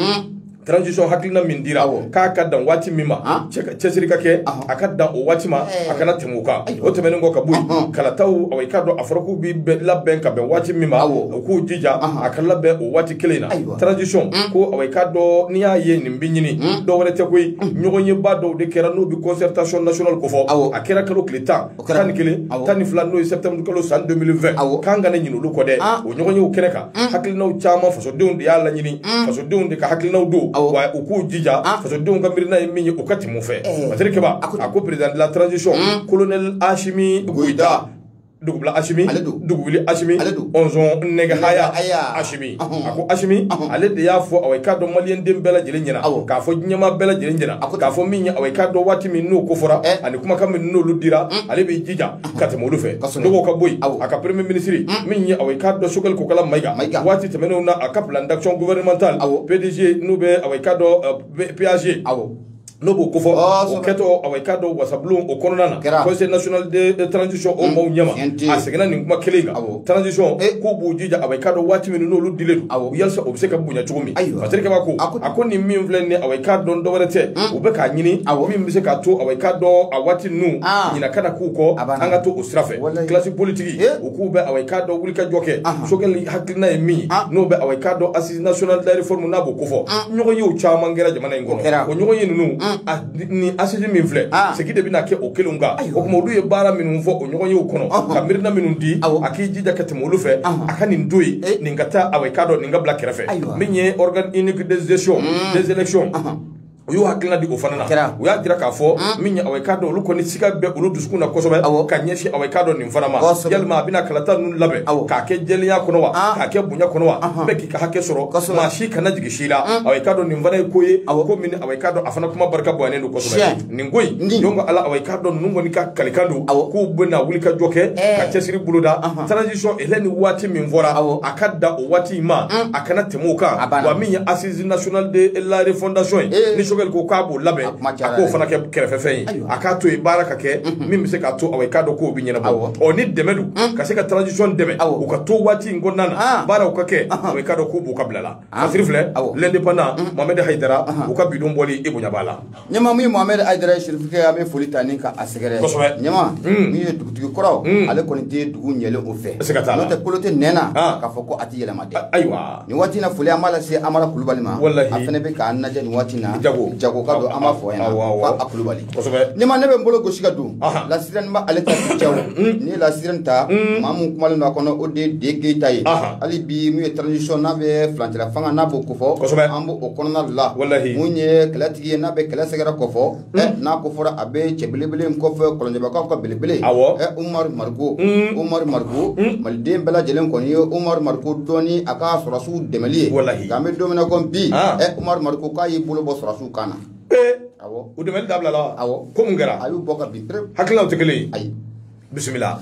S1: transition hakilina min dira k'a ka dan waati min ma cɛsiri ka kɛ a ka dan o waati ma a kana tɛmɛ o kan o tɛmɛnen kɔ ka bɔ yen kalataw awa i k'a dɔn a fɔra k'u bɛ labɛn ka bɛn waati min ma u k'u jija a ka labɛn o waati kelen na transition ko awa i k'a dɔn n'i y'a ye nin bɛ ɲini dɔwɛrɛ tɛ koyi ɲɔgɔnyeba dɔw de kɛra n'o bɛ concertation nationale kofɔ a kɛra kalo tile tan tan ni kelen tan ni fila n'o ye septembre kalo san 2020 awɔ k'an kana ɲinɛ olu kɔ dɛ ah. o ɲɔgɔnyew kɛnɛ kan mm. hakilinaw caman fasodenw de y'a laɲini mm. fasodenw de ka hakilinaw don wa u k'u jija ah. fasodenw ka miirina ye min ye u ka tɛmɛ o fɛ eh. masiri kɛba a ko président de la transition mm. colonel Asimi goyita dugubila Asimi ale don dugubili Asimi ale don ɔnzɔn nɛgɛ haya Asimi a ko asimi ale de y'a fɔ awa i k'a dɔn maliyɛn den bɛɛ lajɛlen ɲɛna k'a fɔ diɲɛmaa bɛɛ lajɛlen ɲɛna k'a fɔ min ye awa i k'a dɔn waati min n'o ko fɔra eh. ani kumakan min n'olu dira mm. ale b'i jija ka tɛmɛ olu fɛ n'o kɔ ka bɔ yen a ka premier minisiri mm. min ye awa i k'a dɔn Choguel kokala mayiga waati tɛmɛnenw na a ka plan d'action gouvernementale pdg n'u bɛ awa i k'a dɔn euh, PAG n'o b'o kofɔ o kɛtɔ awa i k'a dɔn wasabulon o kɔnɔna na conseil national de transition o maaw ɲɛma a seginna nin kuma kelen kan transition k'u b'u jija awa i k'a dɔn waati minnu n'olu dilen don yalasa o bɛ se ka bonya cogo min masiri kɛba ko a ko nin min filɛ nin ye awa i k'a dɔn dɔwɛrɛ tɛ u bɛ k'a ɲini min bɛ se k'a to awa i k'a dɔn a waati ninnu ɲina kana k'u kɔ an ka to o sira fɛ classe politique u k'u bɛ awa i k'a dɔn wulikajɔ kɛ Choguel hakilina ye min ye n'o bɛ awa i k'a dɔn nationale de la réforme n'a b'o kofɔ ɲɔgɔnyew caman kɛra jamana in kɔnɔ o ɲɔgɔnye ninnu ni assise min filɛ segin de bɛna kɛ o kelenw kan o tuma olu ye baara minnu fɔ o ɲɔgɔnyew kɔnɔ ka miirina minnu di a k'i jija ka tɛmɛ olu fɛ a ka nin to yen nin ka taa awa i k'a dɔn nin ka bila kɛrɛfɛ min ye organe unique de gestion des élections u y'u hakilina di o fana na Kɛra. u y'a jira k'a fɔ min ye awa i k'a dɔn olu kɔni siga bɛ olu dusukun na kosɛbɛ Awɔ. ka ɲɛsin awa i k'a dɔn nin fana ma Kosɛbɛ. yalima a bɛna kalata ninnu labɛn Awɔ. k'a kɛ jɛlenya kɔnɔ wa Ah. k'a kɛ bonya kɔnɔ wa Ahan. bɛɛ k'i ka hakɛ sɔrɔ Kosɛbɛ. maa si kana jigin si la awa i k'a dɔn nin fana ye ko ye Awɔ. ko min awa i k'a dɔn a fana kuma barika bonyalen don kosɛbɛ Tiɲɛ. nin ko in Ni. donc ala awa i k'a dɔn ninnu kɔni ka kalikan don Awɔ. k'u bɛna wulikajɔ kɛ Ɛɛ. ka cɛsiri boloda Ahan. transition délai ni waati min fɔra Awɔ. a ka dan o waati in ma a kana tɛmɛ o kan ah, wa min ye assise nationale de la refondation ye eh. ni sogɛli ko k'a b'o labɛn ah, a k'o fana kɛ kɛrɛfɛfɛn ye a k'a to yen baara ka kɛ mhm. min bɛ se k'a to aw ye k'a dɔn k'o bɛ ɲɛnabɔ ɔ ni dɛmɛ don mhm. ka se ka transition dɛmɛ u ka to waati in kɔnɔna na ah. baaraw ka kɛ aw ye k'a dɔn k'o b'u ka bila la fasiri filɛ l'indépendant mhm. mohamed hayidara u ka bidon bɔli i bonya b'a la Ɲɛmaa min ye
S2: Mohamed Haidara Cherif kɛ an bɛ foli ta ni ka a sɛgɛrɛ. Kosɛbɛ! Ɲɛmaa. Un! Min ye dugutigi kɔrɔ. Un! Ale kɔnni tɛ dugu ɲɛlen o fɛ. Siga t'a la. N'o tɛ kolo tɛ nɛn na. Han! K'a fɔ ko a tɛ yɛlɛma dɛ. Ayiwa! Nin waati in na foli an b'a lase Amara Kulubali ma. Walahi! A fana bɛ k'an lajɛ nin waati in na. Jago! Jago ka don an b'a fɔ a ɲɛna. Awɔ, awɔ! Ko a Kulubali. Kosɛbɛ! Ɲɛmaa ne bɛ n bolo gosi ka don. Ahan! La Sirène n bɛ ale ta bi cɛ o. Un! N'i ye La Sirène ta. Un! Maa min kumalen don a kɔnɔ o de ye Dee Keyita ye. Ahan! Hali bi min ye transition n'a bɛ furancɛlafanga n'a b'o ko. fɔ kosɛbɛ an b'o kɔnɔna la walahi mun ye kɛlɛtigi ye n'a bɛ kɛlɛ sɛgɛrɛ ko fɔ hmm. n'a ko fɔra a bɛ cɛ belebele in ko fɔ kɔlɔnjɛbakaw ka belebele umari mariko umari mariko hmm. maliden bɛɛ lajɛlen kɔni ye umari mariko dɔn ni a ka sɔrɔsiw dɛmɛli ye nka an bɛ don min na ko bi ah. umari mariko k'a y'i bolo bɔ sɔrɔsiw kan na u
S1: dɛmɛ dabilala ko mun kɛra a y'u bɔ ka bin
S2: hakililaw tɛ kelen
S1: ye ayi bisimila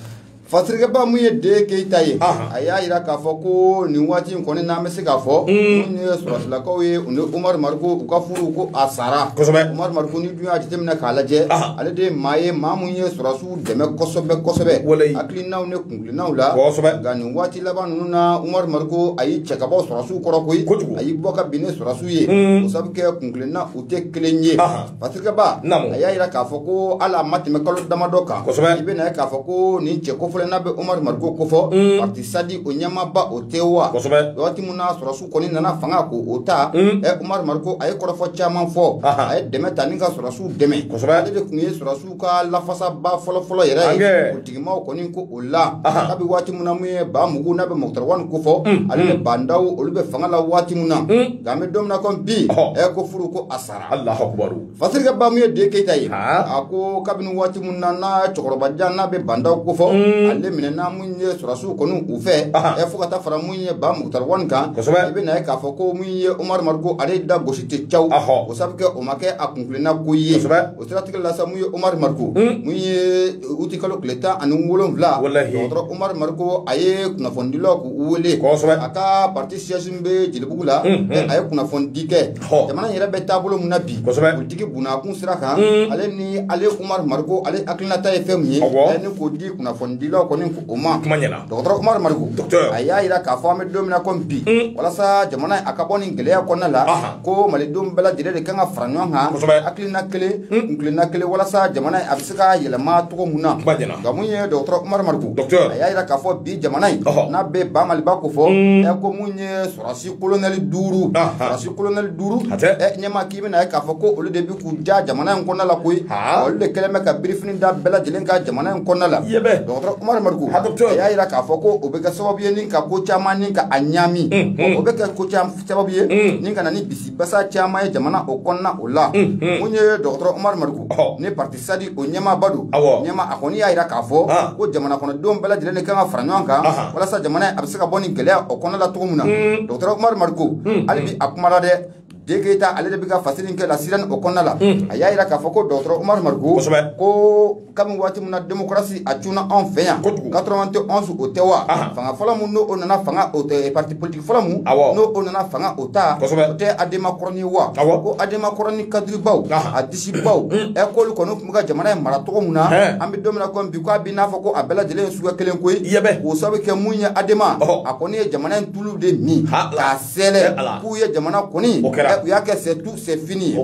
S2: fasirikɛba mun ye de keyita ye a y'a jira k'a fɔ ko nin waati in kɔni n'an bɛ se k'a fɔ mun ye sɔrɔsilakaw ye u ni umaru mariko u ka furu ko a sara kosɛbɛ umaru mariko n'i dun y'a jateminɛ k'a lajɛ ale de ye maa ye maa mun ye sɔrɔsiw dɛmɛ kosɛbɛ kosɛbɛ walayi hakilinaw ni kunkilennaw la kosɛbɛ nka nin waati laban ninnu na umaru mariko a y'i cɛ ka bɔ sɔrɔsiw kɔrɔ koyi kojugu a y'i bɔ ka bin ni sɔrɔsiw ye o sabu kɛ kunkilennaw tɛ kelen ye Fasirikɛba, naamu, a y'a jira k'a fɔ ko hali a ma tɛmɛ kalo damadɔ kan, kosɛbɛ, i bɛna ye k'a fɔ ko nin cɛ kofɔlen n'a bɛ Umaru Mariko ko fɔ, un, parti sadi o ɲɛmaaba o tɛ wa, kosɛbɛ, waati min na sɔrɔsiw kɔni nana fanga ko o ta, un, ɛ Umaru Mariko a ye kɔrɔfɔ caman fɔ, ahan, a ye dɛmɛ ta ni ka sɔrɔsiw dɛmɛ, kosɛbɛ, ale de tun ye sɔrɔsiw ka lafasaba fɔlɔfɔlɔ yɛrɛ ye, ankɛ, politikimaw kɔni ko o la, ahan, kabi waati min na mun ye Ba Mugu n'a bɛ Mukutari Wani ko fɔ, un, ale ni Ba Ndaw olu bɛ fanga la waati min na, un, nka an bɛ don min na komi bi, ɔhɔ, ɛ ko furu ko a sara Alahu akibaru. Fasirikɛba mun ye Dee Keyita ye. Haa. A ko kabini waati min na n'a cɛkɔrɔba jan n'a bɛ Ba Ndaw ko fɔ. Un. Ale minɛna mun ye sɔrɔsiw kɔni u fɛ. Aha. Ɛ fo ka taa fara mun ye ba Mukutari Wani kan. Kosɛbɛ. I bɛ na ye k'a fɔ ko mun ye Umaru Mariko ale da gosi tɛ caw. Ahɔ. O sabu kɛ o ma kɛ a kunkilenna ko ye. Kosɛbɛ. O siratigɛ la sa mun ye Umaru Mariko. Un. Mun ye uti kalo tile tan ani wolonfila. Walahi. Dɔgɔtɔrɔ Umaru Mariko a ye kunnafonidilaw k'u wele. Kosɛbɛ. A ka parti siège min bɛ Jelibugu la. Unhun. Ɛ a ye kunnafonidi kɛ. Hɔ. jamana in yɛrɛ bɛ taabolo min na bi Kosɛbɛ. politiki bunakun sira kan Mm. ale ni ale umaru mariko ale hakilinata ye fɛn min ye Awɔ. ale ni k'o di kunnafonidilaw kɔni ko o ma Kuma ɲɛna. dɔgɔtɔrɔ umaru mariko Docteur. a y'a jira k'a fɔ an bɛ don min na komi bi Mm. walasa jamana in a ka bɔ nin gɛlɛya kɔnɔna la Aha. ko malidenw bɛɛ lajɛlen de kan ka fara ɲɔgɔn kan Kosɛbɛ. hakilina kelen kunkilenna kelen walasa jamana in a bɛ se ka yɛlɛma cogo min na Kuma ɲɛna. nka mun ye dɔgɔtɔrɔ umaru mariko Docteur. a y'a jira k'a fɔ bi jamana in Ɔhɔ. n'a bɛ ba maliba ko fɔ Mm. ɛ ko mun ye sɔrɔsi kolonɛli duuru sɔrɔsi kolonɛli duuru ɲɛma k'i bɛna ye k'a fɔ ko olu de bɛ k'u ja jamana in kɔnɔna la koyi olu de kɛlen bɛ ka birifini da bɛɛ lajɛlen kan jamana in kɔnɔna la dɔgɔtɔrɔ umaru mariko a y'a jira k'a fɔ ko o bɛ kɛ sababu ye ni ka ko caman ni ka a ɲaami o bɛ kɛ ko sababu ye ni ka na ni bisibasa caman ye jamana o kɔnɔna o la mun ye dɔgɔtɔrɔ umaru mariko ni pati sadi o ɲɛmaaba don ɲɛma a kɔni y'a jira k'a fɔ ko jamana kɔnɔdenw bɛɛ lajɛlen de kan ka fara ɲɔgɔn kan walasa jamana a bɛ se ka bɔ nin gɛlɛya o kɔnɔna la cogo min na mm. dɔgɔtɔrɔ umaru mariko mm. hali bi a kuma la dɛ de keyita ale de bɛ ka fasiri kɛ la sirani o kɔnɔna la mm. a y'a jira k'a fɔ ko dɔgɔtɔrɔ umaru mariko ko kabini waati min na demokarasi a cunna anw fɛ yan quatre-vingt-onze o tɛ wa fanga fɔlɔ min n'o nana fanga o tɛ parti politique fɔlɔ min n'o nana fanga o ta o tɛ adema kɔrɔni wa ko adema kɔrɔni kadiribaw a baw ɛ k'olu kɔni tun bɛ ka jamana in mara cogo min na an bɛ don min na ko bi k'a bɛ n'a fɔ ko a bɛɛ lajɛlen ye suguya kelen ko ye k'o sababu kɛ mun ye adema a kɔni ye jamana in tulu de min k'a sɛlɛ k'u ye jamana kɔni u y'a kɛ c'est tout c'est fini ye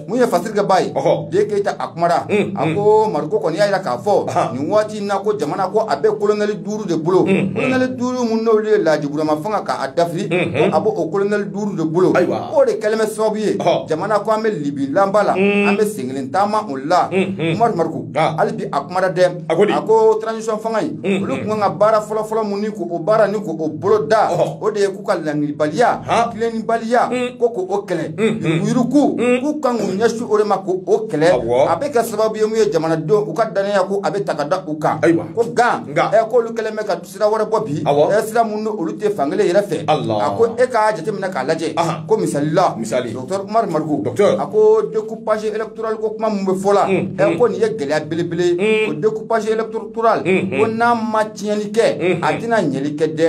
S2: mun ye fasirikɛba ye de keyita a kumara a ko mariko kɔni y'a jira k'a fɔ nin waati in na ko jamana ko a bɛ kolonɛli duuru de bolo kolonɛli duuru minnu n'olu ye laji burama fanga k'a dafiri a bɛ o kolonɛli duuru de bolo Ayiwa. o de kɛlen bɛ sababu ye Ɔhɔ. jamana ko an bɛ libi lanba la Mm. an bɛ sengelen taama o la Mm, mm. umaru mariko Ah. hali bi a kumara dɛ A ko di? a ko transition fanga in Mm, olu mm. kun kan ka baara fɔlɔfɔlɔ mun ni k'o baara ni k'o bolo da Ɔhɔ. o de ye k'u ka ɲangilibaliya Ah. tilennibaliya Mm. ko k'o kɛlɛ Mm, mm. yuruguyurugu Mm. k'u kan k'u ɲɛsin o de ma k'o kɛlɛ Awɔ. a bɛ kɛ sababu ye mun ye jamanadenw u ka dannaya ko a bɛ taa ka da u kan Ayiwa. ko gan Nka. ɛ k'olu kɛlen bɛ ka sira wɛrɛ bɔ bi ɛ sira minnu n'olu tɛ fankelen yɛrɛ fɛ a ko e k'a jateminɛ k'a lajɛ ko misali la dɔkitɛri umaru mariko a ko découpage électoral ko kuma min bɛ fɔ la mm, ɛ mm. ko nin ye gɛlɛya belebele mm. o découpage électoral ko n'a ma tiɲɛni kɛ a tɛna ɲɛli kɛ dɛ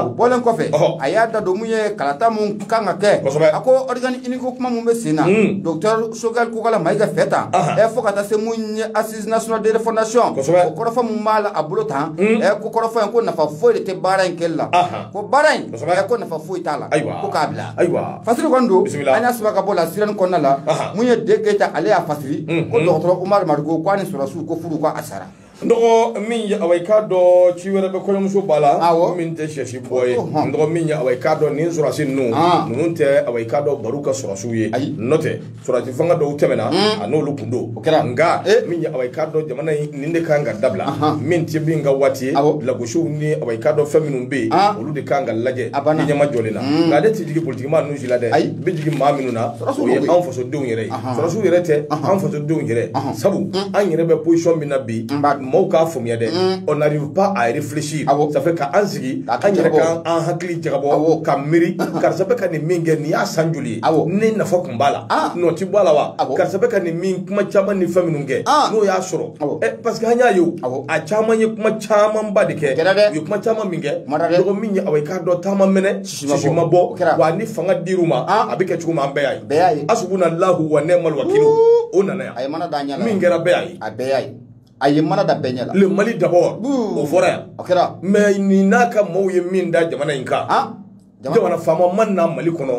S2: o bɔlen kɔfɛ a y'a da don mun ye kalata min kan ka kɛ a ko organe unique ko kuma min bɛ sen na dɔkitɛri sogɛli kokala mayiga fɛ tan ɛ fo ka taa se mun ye asi nationales de refondation o kɔrɔfɔ mun b'a la a bolo tan hmm. ɛ ko kɔrɔfɔ in ko nafa foyi de tɛ baara in kɛli la ko baara in ɛ ko nafa foyi t'a la ko k'a bila fasiri kɔni don an y'a sɛbɛn ka bɔ la sirani kɔnɔna la mun ye de keyita ale y'a fasiri hmm, ko hmm. dɔgɔtɔrɔ umaru mariko ko a ni sɔrɔsiw ko furu ko a sara n dɔgɔ
S1: min ye awa i k'a dɔn ci wɛrɛ bɛ kɔɲɔmuso ba la min tɛ sɛsi bɔ ye n dɔgɔ min ye awa i k'a dɔn nin sɔrɔsi ninnu ninnu tɛ awa i k'a dɔn baro ka sɔrɔsiw ye nɔ tɛ Sɔrɔdasi fanga dɔw tɛmɛna a n'olu kun don o kɛra nka min ye awɔ i k'a dɔn jamana in nin de kan ka dabila min tɛ min ka waati ye lagosiw ni awɔ i k'a dɔn fɛn minnu bɛ yen olu de kan ka lajɛ a ban ɲɛma jɔlen na nka ale tɛ jigin politikimaa ninnu si la dɛ ayi bɛ jigin maa minnu na o ye anw fasodenw yɛrɛ ye sɔrɔsiw yɛrɛ tɛ an fasodenw yɛrɛ sabu an yɛrɛ bɛ position min na bi mɔgɔw k'a faamuya dɛ on n'arrive pas à réfléchir ça fait k'an sigi an yɛrɛ k'an hakili jagabɔ ka miiri karisa bɛ ka nin min kɛ nin y'a san joli ye Awɔ. ne nafa kun b'a la Ah. nɔ ti bɔ a la wa Awɔ. karisa bɛ ka nin min kuma caman ni fɛn minnu kɛ Ah. n'o y'a sɔrɔ Awɔ. Eh, parce que an y'a ye o Awɔ. a caman ye kuma camanba de kɛ Kɛra dɛ. u ye kuma caman min kɛ Kuma na dɛ. dɔgɔ min ye awɔ i k'a dɔn ta ma mɛnɛ Sisi ma bɔ. sisi ma O bɔ kɛra. wa ni fanga dir'u ma Ah. a bɛ kɛ cogo min an bɛɛ y'a ye Bɛɛ y'a ye. hasbunallahu wa ni'mal wakilu o nana yan a ye mana da a ɲɛ la min kɛra bɛɛ y'a ye a bɛɛ y'a ye a ye mana da bɛɛ ɲɛ la le Mali d'abord Buu. o fɔra yan o kɛra mais nin n'a ka maaw ye min da jamana in kan Ah. jamana faama ma na mali kɔnɔ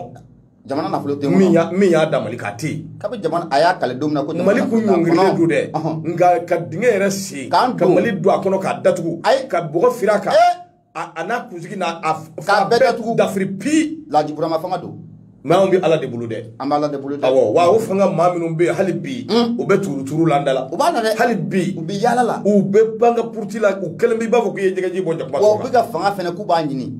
S1: jamana nafolo tɛ min y'a min y'a da Mali kan tɛ yen kabi jamana a y'a kale don min na ko mali kun ɲɔngirilen don dɛ nka ka dingɛ yɛrɛ sen ka mali don a kɔnɔ k'a datugu ayi ka bɔgɔ firi a kan eh! a n'a kunsigi n'a a k'a bɛɛ datugu dafiri pi Laji Burama fanga don mais anw bɛ ala de bolo dɛ an bɛ ala de bolo dɛ awɔ wa o fanga maa minnu bɛ yen hali bi hmm. u bɛ turuturu la an da la u b'a la dɛ hali bi u bɛ yaala la u bɛ baga puruti la u kɛlen bɛ i b'a fɔ k'i ye jɛgɛji bɔ jakuma wa u bɛ ka fanga fana k'u b'a ɲini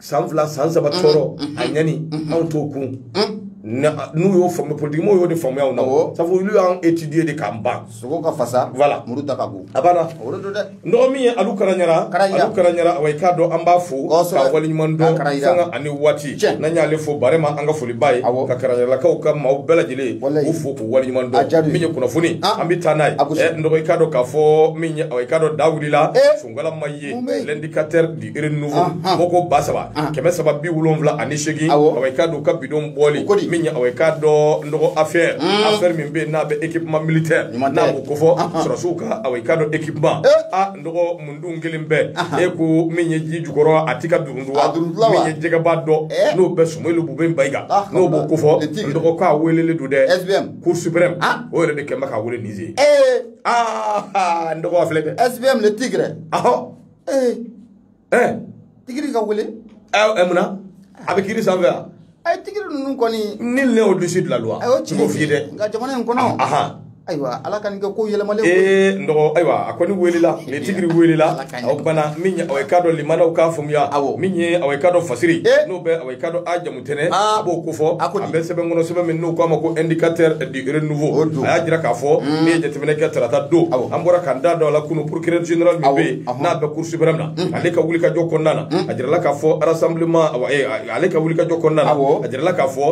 S1: san fila san saba tɔɔrɔ a ɲani anw t'o kun n'u y'o faamu politikimaw y'o de faamuya na sabu olu y'an étudier de k'an ban sogo ka fasa voilà muru da ka bon a banna o de don dɛ n dɔgɔ min ye Alu Karaɲara Alu Karaɲara awa i k'a dɔn an b'a fo k'a waleɲuman dɔn sanga ani waati n'an y'ale fo vraiment an ka foliba ye ka karaɲaralakaw ka maaw bɛɛ lajɛlen u fo k'u waleɲuman dɔn min ye kunnafoni an bɛ taa n'a ye n dɔgɔ i k'a dɔn k'a fɔ min ye awa i k'a dɔn da wulila Ngalama ye l'indicateur du renouveau bɔko ba saba kɛmɛ saba bi wolonwula ani seegin awɔ i k'a dɔn u ka bi don bɔli min ye awɔ i k'a dɔn n dɔgɔ affaire affaire min bɛ yen n'a bɛ équipement militaire n'a b'o kofɔ sɔrɔsiw ka awɔ i k'a dɔn équipement a n dɔgɔ min tun kɛlen bɛ i ko min ye ji jukɔrɔ a tɛ ka duruntu wa min ye jɛgɛba dɔ n'o bɛ Sumeyilu Bubɛyi Mayiga n'o b'o kofɔ n dɔgɔ k'a welelen don dɛ SBM Cour suprême o yɛrɛ de kɛlen bɛ k'a wele Niger aa n dɔgɔ filɛ dɛ SBM le tigre ahɔ ee ɛɛ tigiri ka wele ɛ mun na a bɛ kiri sanfɛ wa a ye tigiri ninnu kɔni nul n'est au-dessus de la loi a y'o n tiɲɛ b'o f'i ye dɛ nka jamana in kɔnɔ ahan ayiwa ala ka nin kɛ ko yɛlɛmalen ko ye. ee n dɔgɔ ayiwa a kɔni welela le tigiri welela Ala ka ɲɛ. o kumana min ye awɔ i k'a dɔn lamɛnnaw k'a faamuya Awɔ. min ye awɔ i k'a dɔn fasiri Eh. n'o bɛ awɔ i k'a dɔn a jamu tɛnɛ ah. a b'o kofɔ a bɛ sɛbɛn kɔnɔ sɛbɛn min n'u k'a ma ko indicateur du renouveau a y'a jira k'a fɔ hmm. n'i ye jateminɛ kɛ tarata don an bɔra k'an da don a la kunun procureur général min bɛ yen n'a bɛ cour suprême na hmm. ale ka wulikajɔ kɔnɔna na hmm. a jirala k'a fɔ rassemblement eh, ale ka wulikajɔ kɔnɔna na a jirala k'a fɔ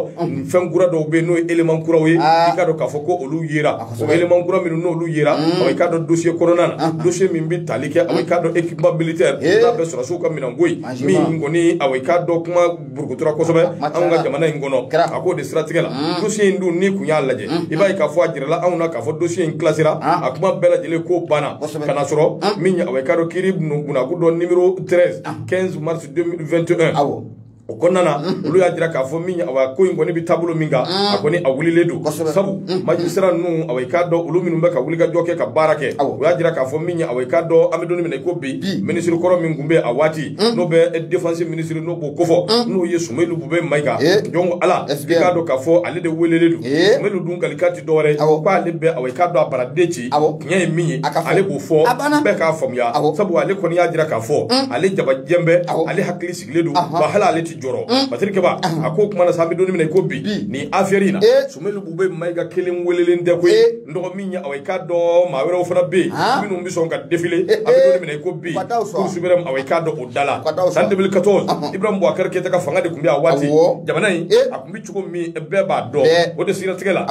S1: fɛn kura dɔw bɛ yen n'o ye élément kuraw ye ah. i k'a dɔn k'a fɔ ko olu yera o élément kura minnu n'olu yera awa i k'a dɔn dossier kɔnɔna na ah. dossier min bɛ tali kɛ awa i k'a dɔn équipement militaire n'a bɛ sɔrɔdasiw ka minɛnko ye min kɔni awa i k'a dɔn kuma burukutura kosɛbɛ anw ka jamana in kɔnɔ a k'o de siratigɛ la mm. dossier in dun n'i kun y'a lajɛ mm. i b'a ye k'a fɔ a jirala anw na k'a fɔ dossier in kilasira ah. a kuma bɛɛ lajɛlen ko banna ka na sɔrɔ ah. min ye awa i k'a dɔn kiiri bunakun dɔ numéro 13 15 ah. mars 2021 o kɔnɔna na mm-hmm. olu y'a jira k'a fɔ min awa ko in kɔni bɛ taabolo min kan mm. a kɔni a wulilen don sabu mm-hmm. magistrat ninnu awa i k'a dɔn olu minnu bɛ ka wulikajɔ kɛ ka baara kɛ o y'a jira k'a fɔ min awa i k'a dɔn an bɛ don min na i ko bi minisiri kɔrɔ min tun bɛ a waati Mm. n'o bɛ défense ministre n'o b'o kofɔ mm. n'o ye Soumeylou Boubèye Maïga eh. donc awa i k'a dɔn k'a fɔ ale de welelen don eh. Soumeylou dun kalikan ti dɔwɛrɛ ye k'ale bɛ awa i k'a dɔn a baaraden ci tiɲɛ ye min ye ale b'o fɔ bɛɛ k'a faamuya sabu ale kɔni y'a jira k'a fɔ mm. ale jabajɛn bɛ ale hakili sigilen don wa hali ale ti jɔrɔ Patrick Kɛba a ko kuma na sa an bɛ don min na i ko bi nin affaire in na eh. Soumeylou Boubèye Maïga kelen welelen tɛ koyi n dɔgɔ min ye awa i k'a dɔn maa wɛrɛw fana bɛ yen minnu bɛ sɔn ka défiler an bɛ don min na i ko bi cour suprême awa i k'a dɔn o da la san 2014 Ibrahim Boubacar Keita ka fanga de tun bɛ a waati jamana in a tun bɛ cogo min bɛɛ b'a dɔn o de siratigɛ la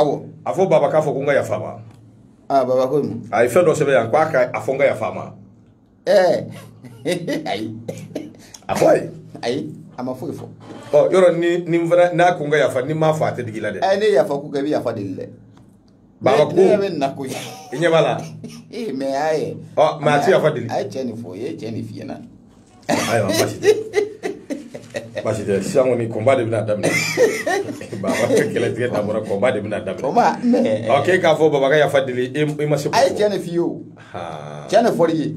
S1: a fɔ baba k'a fɔ ko n ka yafa ma
S2: a ye fɛn dɔ sɛbɛn yan
S1: k'a ka a fɔ n ka yafa ma
S2: ɛɛ ayi a fɔ
S1: a ye ayi a ma
S2: foyi fɔ ɔ yɔrɔ ni
S1: ni n fana n'a ko n ka yafa ni n m'a fɔ a tɛ digi i la dɛ ɛɛ ne ye yafa ko kɛ i bɛ yafa
S2: deli dɛ Baba Ne-
S1: ko- ne yɛrɛ bɛ na koyi
S2: i ɲɛ b'a la
S1: ee mais a ye
S2: ɔ mais a tɛ yafa
S1: deli a ye cɛ nin fɔ i ye
S2: cɛ nin f'i ɲɛna ayiwa
S1: baasi tɛ baasi tɛ sisan kɔni combat de bɛna daminɛ baba ka kɛlɛ tigɛ dabɔra combat de bɛna o daminɛ ma mɛ ɔ k'e k'a fɔ baba ka yafa deli e e ma se a ye k'o fɔ cɛ nin f'i ye o
S2: cɛ nin fɔ i ye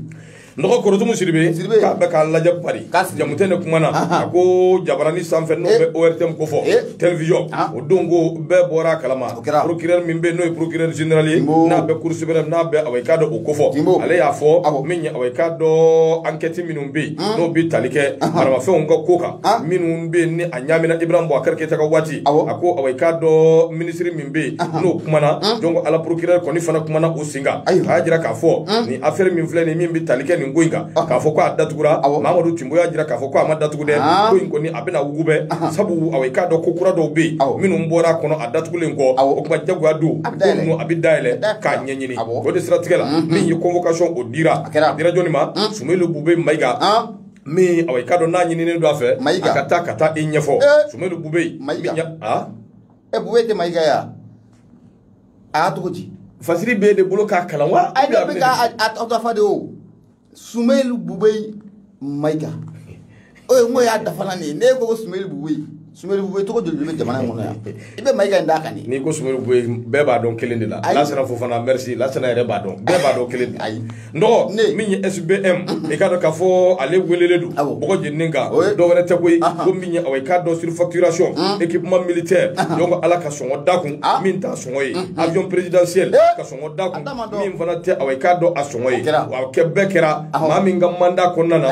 S2: n dɔgɔ
S1: Korotumu Sidibe k'a bɛ k'a lajɛ Pari Jamutɛnɛ kuma na a ko jabaranin sanfɛ n'o bɛ ortm kofɔ télévision o don ko bɛɛ bɔra a kalama procureur min bɛ n'o ye procureur général ye n'a bɛ cour suprême n'a bɛ awa i k'a dɔn o kofɔ ale y'a fɔ min ye awa i k'a dɔn enquête minnu bɛ yen n'o bɛ tali kɛ maramafɛnw ka ko kan minnu bɛ yen ni a ɲaamina Ibrahim Boubacar Keita ka waati a ko awa i k'a dɔn ministre min bɛ yen n'o kumana donc ala procureur kɔni fana kumana o sen kan a y'a jira k'a fɔ nin affaire min filɛ nin min bɛ tali kɛ nin ko in kan k'a fɔ ko a datugura mamadu timbo y'a jira k'a fɔ ko a ma datugu dɛ ko in kɔni a bɛna wugubɛ sabu awa i k'a dɔn ko kura dɔw bɛ yen minnu bɔra a kɔnɔ a datugulen kɔ o tuma jagoya don ko ninnu a bɛ dayɛlɛ k'a ɲɛɲini o de siratigɛ la min ye convocation o dira a dira jɔni ma sumeyilu bube mayiga min awa i k'a dɔn n'a ɲininen don a fɛ a ka taa ka taa i ɲɛfɔ sumeyilu bube mayiga
S2: ɛ bube tɛ mayiga ya a y'a cogo di fasiri b'e de bolo
S1: k'a kalan wa a yɛrɛ bɛ k'a
S2: dafa de o sumeyilu bube mayiga o ye n ko y'a dafana nin ye ne ko ko sumeyilu bube sumeyilu bube tɔgɔ joli bɛ jamana in kɔnɔ yan i bɛ mayiga in d'a kan de n'i ko sumeyilu
S1: bube bɛɛ b'a dɔn kelen de la lasana fofana merci lasana yɛrɛ b'a dɔn bɛɛ b'a dɔn kelen de ayi Dɔgɔ min ye SB i kaa k'a fɔ ale wele don mɔgɔ jeni kan dɔwɛrɛ tɛ koyi i k'a dɔn sirifatirirason e kki kuma mili tɛ jɔn ala ka sɔn da kun min taa sɔn ye a jɔn pererizsidsen ka sɔn da min fana tɛ a k'a dɔn a sɔn ye kɛ bɛɛ kɛra maa min ka manda kɔnɔna na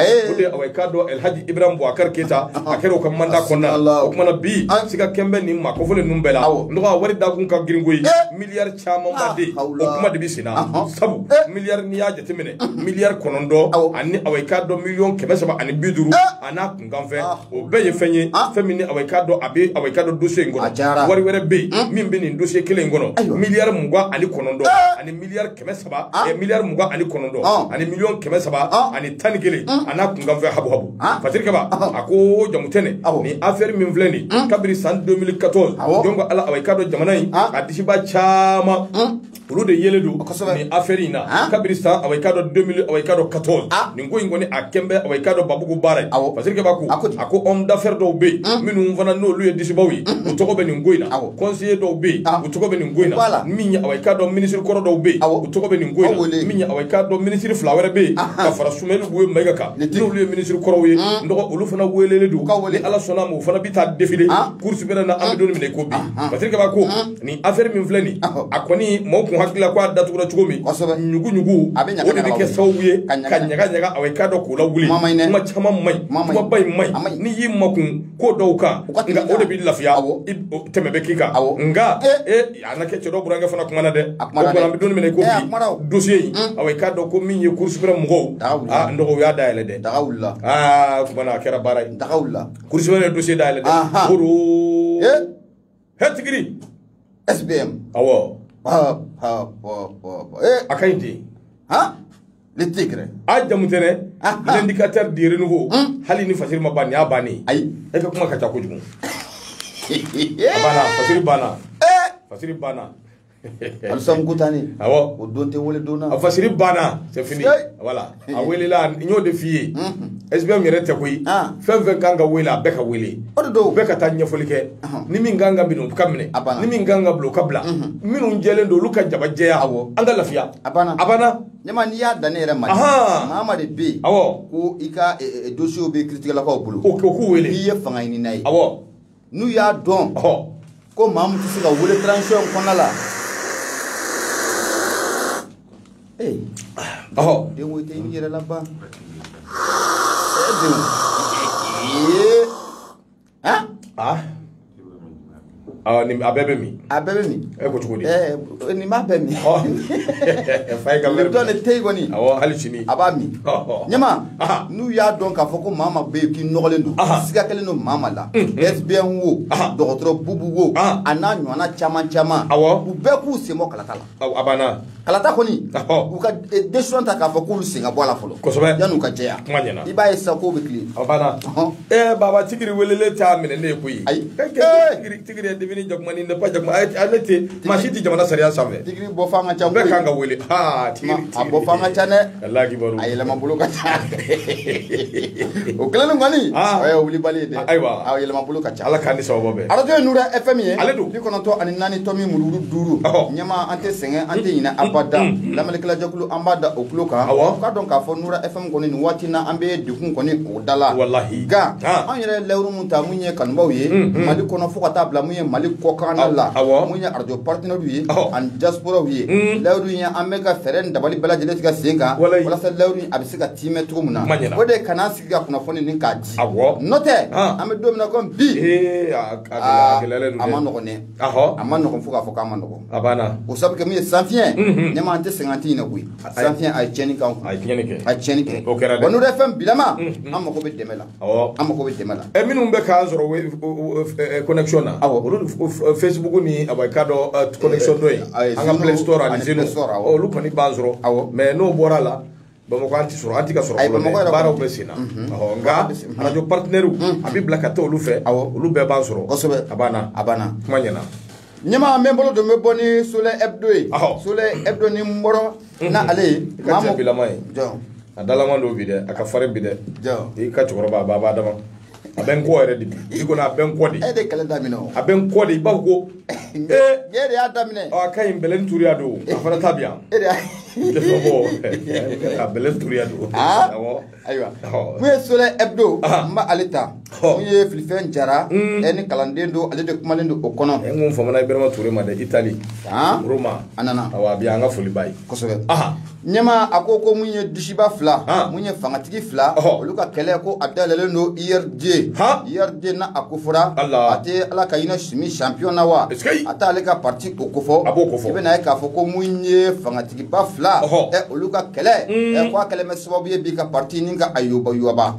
S1: o k'a dɔn alilhaji ib bɔ a kari keyita a kɛra u ka manda kɔnɔna o tumaumana bi an sigi ka kɛlenbɛn nin ma ko fɔ ninnu bɛɛ la dɔgɔ wari da kun ka gko miya caman ba de o kuma de bɛ sen na sabu miliyari n'i y'a jateminɛ miliyari kɔnɔntɔn ani awa i k'a dɔn miliyɔn kɛmɛ saba ani bi duuru a n'a kunkanfɛn o bɛɛ ye fɛn ye fɛn min ni awa i k'a dɔn a bɛ awa i k'a dɔn dosiye in kɔnɔ wari wɛrɛ bɛ yen min bɛ nin dosiye kelen in kɔnɔ miliyari mugan ani kɔnɔntɔn ani miliyari kɛmɛ saba miliyari mugan ani kɔnɔntɔn ani miliyɔn kɛmɛ saba ani tan ni kelen a n'a kunkanfɛn habu habu Ah. fatiri kaba ah. a ko jamutɛnɛ nin affaire min filɛ nin hmm. kabiri san 2014 donc ala awa i k'a dɔn jamana in ah. a disiba caman hmm. olu de yelen don nin affaire in na kabiri san awa i k'a dɔn 2000 awa i k'a dɔn 14 nin ko in kɔni a kɛn bɛ awa i k'a dɔn babugu baara ye fatiri kaba ko a ko homme d'affaire dɔw bɛ yen hmm. minnu fana n'olu ye disibaw ye u tɔgɔ bɛ nin ko in na conseiller dɔw bɛ yen u tɔgɔ bɛ nin ko in na min ye awa i k'a dɔn ministre kɔrɔ dɔw bɛ yen u tɔgɔ bɛ nin ko in na min ye awa i k'a dɔn ministre fila wɛrɛ bɛ yen ka fara Sumeyilu Bube Mayiga kan n'olu ye minisiri kɔrɔw ye n dɔgɔ olu fana welelen don ni Ala sɔnna a ma u fana bɛ taa défiler Cour suprême na an bɛ don min na i ko bi fatiri kaba ko nin affaire min filɛ nin ye a kɔni maaw tun hakili la ko a datugura cogo min ɲuguɲugu o de bɛ kɛ sababu ye ka ɲagaɲaga awa i k'a dɔn k'o lawuli kuma caman man ɲi kumaba in man ɲi n'i y'i makun ko dɔw kan nka o de bɛ lafiya tɛmɛ bɛ k'i kan nka a na kɛ cɛ dɔ burankɛ fana kumana dɛ a kumana dɛ an bɛ don min na i ko bi dossier in awa i k'a dɔn ko min ye Cour suprême mɔgɔw n dɔgɔ u y'a dayɛlɛ dɛ daga wulila aa kumana a kɛra baara ye daga wulila Cour suprême ye dossier dayɛlɛ dɛ kɔrɔ he tigiri
S2: SBM awɔ
S1: a ka ɲi ten
S2: le tigre a Jamutɛnɛ
S1: l'indicateur de renouveau hali ni fasiri ma ban nin y'a bannen ayi e ka kuma ka ca kojugu a banna fasiri banna fasiri banna alisamu
S2: kutani awɔ o don tɛ
S1: wele don
S2: na a
S1: fasiri banna c'est fini voilà a welela n y'o de f'i ye SBM yɛrɛ tɛ koyi fɛn fɛn kan ka wele a bɛɛ ka wele o de don bɛɛ ka taa ɲɛfɔli kɛ ni min kan ka minɛ o ka minɛ ni min kan ka bila o ka bila minnu jɛlen don olu ka jaba jɛya an ka lafiya a banna a banna Ɲɛma n'i y'a dan
S2: ne yɛrɛ ma maa ma de bɛ yen ko i ka eh, eh, eh, dossier bɛ kiritigɛlakaw bolo o k'u wele n'i ye
S1: fanga ɲinina ye
S2: n'u y'a dɔn ko maa min tɛ se ka wele transition in kɔnɔna la ee den ko i tɛ i yɛrɛ laban ee den ee
S1: ah ah ah nin a bɛɛ bɛ min a bɛɛ bɛ min e ko cogo di ɛɛ nin b'a bɛɛ min
S2: ɔ fa
S1: ye ka nin wɛrɛ dɔn nin tɛ yen kɔni awɔ
S2: hali sini a b'a
S1: min Ɔhɔ.
S2: ɲɛma Aha. n'u y'a dɔn k'a fɔ ko maa ma bɛ yen k'i nɔgɔlen don Aha. siga kɛlen don maa ma la SBM wo Aha. dɔgɔtɔrɔ bubu wo Aha. a n'a ɲɔgɔnna caman caman Awɔ. u bɛɛ k'u sen bɔ kalata la a banna kalata kɔni u ka e, décision ta k'a fɔ k'olu sen ka bɔ a la fɔlɔ kosɛbɛ yan'u ka jɛya
S1: kuma ɲɛna
S2: i b'a ye sisan k'o bɛ tile a banna
S1: ee baba tigiri welelen t'a minɛ ne ye koyi ayi tigiri tigiri est devenu jakuma ni n'est pas jakuma ale tɛ maa si tɛ jamana sariya sanfɛ tigiri bɔ fan ka ca bɛɛ
S2: kan ka wele aa
S1: tigiri a bɔ
S2: fan ka ca dɛ a
S1: yɛlɛma bolo ka
S2: ca o kelen kɔni o ye wulibali ye dɛ ayiwa a yɛlɛma bolo ka
S1: ca ala
S2: k'an ni sababu bɛn arajo
S1: ye nura fm ye
S2: ale don bi kɔnɔntɔn ani
S1: naani tɔmi
S2: mururu duuru ɲɛma an tɛ sɛgɛn an tɛ ɲinɛ abada lamɛnnikɛlajɛkulu an b'a da o tulo kan k'a dɔn k'a fɔ nura fm kɔni nin waati na an bɛ degun kɔni o da la walahi nka
S1: an yɛrɛ
S2: layidu ta mun ye kanubaw ye mali kɔnɔ fo ka taa bila mun ye mali kɔkan la mun ye arajo partenaires ye ani diasporaw ye layidu in an bɛ ka fɛɛrɛ dabali bɛɛ lajɛlen tigɛ sen kan walasa layidu a bɛ se ka tiimɛ cogo min na o de kana sigi ka kunnafoni nin k'a di n'o tɛ an bɛ don min na ko bi a man nɔgɔn dɛ a man nɔgɔn fo k'a fɔ k'a man nɔgɔn o sabu kɛ min ye sanfiɲɛ ɲɛma an tɛ sɛgɛn an tɛ ɲinɛ koyi sanfiɲɛ a ye tiɲɛni k'an kun a ye tiɲɛni kɛ a tiɲɛni kɛ nura fm bilama an mago bɛ dɛmɛ la Ɔ an mako bɛ dɛmɛ la ɛ minnu bɛ k'an
S1: sɔrɔ connection na awɔ olu Facebook ni a bɛ k'a dɔ connection dɔ ye an ka play store ani zeno olu kɔni b'an sɔrɔ awɔ mais n'o bɔra la Bamakɔ an tɛ sɔrɔ an tɛ ka sɔrɔ ayi Bamakɔ yɛrɛ baaraw bɛ senna ɔ nka radio partenaires a bɛ bila ka taa olu fɛ awɔ olu bɛɛ b'an sɔrɔ kosɛbɛ a banna a banna kuma ɲɛna. ɲɛmaa an
S2: bɛ bolo don bɛ bɔ ni soleil hebdo ye soleil hebdo ni n bɔrɔ mhm. na ale ye ka cɛ bilama ye
S1: a dalama don bi dɛ a ka farin bi dɛ i ka cɛkɔrɔba a b'a b'a dama a bɛ n kɔ yɛrɛ de bi i kɔni a bɛ n kɔ de e de kɛlɛ daminɛ o
S2: a bɛ n kɔ de i b'a
S1: fɔ ko
S2: ee ne de y'a daminɛ ɔ a ka ɲi bɛlɛni turuya
S1: don a fana ta bi yan e de y'a tɛ
S2: sɔn bɔ a
S1: bɛlɛni turuya don awɔ
S2: ayiwa mun ye soleil hebdo n bɛ ale ta mun ye filifɛn jara hmm. ɛ ni kalanden don ale de kumalen don o kɔnɔ ɛ n ko famana ibrahima ture
S1: ma dɛ itali roma a nana awa bi
S2: an ka foli ba ye
S1: kosɛbɛ
S2: ɲɛma a ko ko mun ye dusiba fila mun ye fangatigi fila olu ka kɛlɛ ko a dayɛlɛlen don URD URD n'a kofɔra a tɛ ala ka hinɛ sumi champion na wa a t'ale ka parti o kofɔ i bɛna ye k'a fɔ ko mun ye fangatigi ba fila olu ka kɛlɛ mm. ko a kɛlɛ bɛ sababu ye bi ka parti nin ka a
S1: yɔbayɔba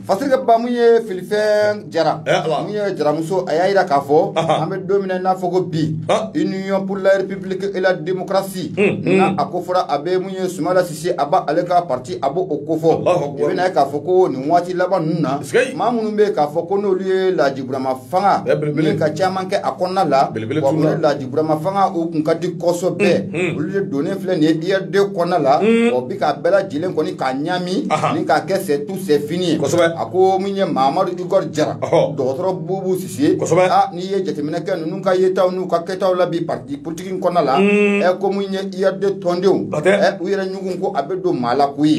S1: parce que ba mun ye
S2: filifɛn jara mun ye jaramuso a y'a jira k'a fɔ an bɛ don min na i n'a fɔ ko bi union pour la république et la démocratie mm, mm. n'a ko fɔra a bɛ mun ye sumayila sise a b' ale ka parti a b' o ko fɔ i bɛna ye k'a fɔ ko nin waati laban ninnu na maa minnu bɛ k'a fɔ ko n'olu ye laji burama fanga nin ka caman kɛ a kɔnɔna la wa o de laji burama fanga o kun ka di kɔsɔbɛ olu de donnen filɛ nin ye URD kɔnɔna la wa bi k'a bɛɛ lajɛlen kɔni k'a ɲami ni k'a kɛ c'est tout c'est fini ye a ko mun ye Mamadu Igor Jara dɔgɔtɔrɔ Bubu Sise a n'i ye jateminɛ kɛ ninnu ka yetaw n'u ka kɛtaw la bi parti politique in kɔnɔna la ɛ ko mun ye URD tɔndenw ɛ u yɛrɛ ɲugun ko a bɛ don maa la koyi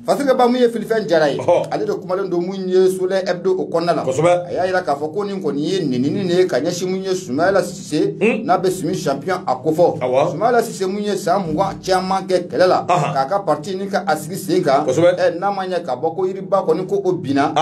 S2: Parce que ba mun ye filifɛn jara ye ale de kumalen don mun ye soleil hebdo o kɔnɔna la a y'a jira k'a fɔ ko nin kɔni ye nenini de ye ka ɲɛsin mun ye sumayila sise hmm? n'a bɛ sumi champion a ko fɔ sumayila sise mun ye san mugan caman kɛ kɛlɛ la k'a ka parti nin ka a sigi sen kan n'a ma ɲɛ ka bɔ ko yiriba kɔni ko o binna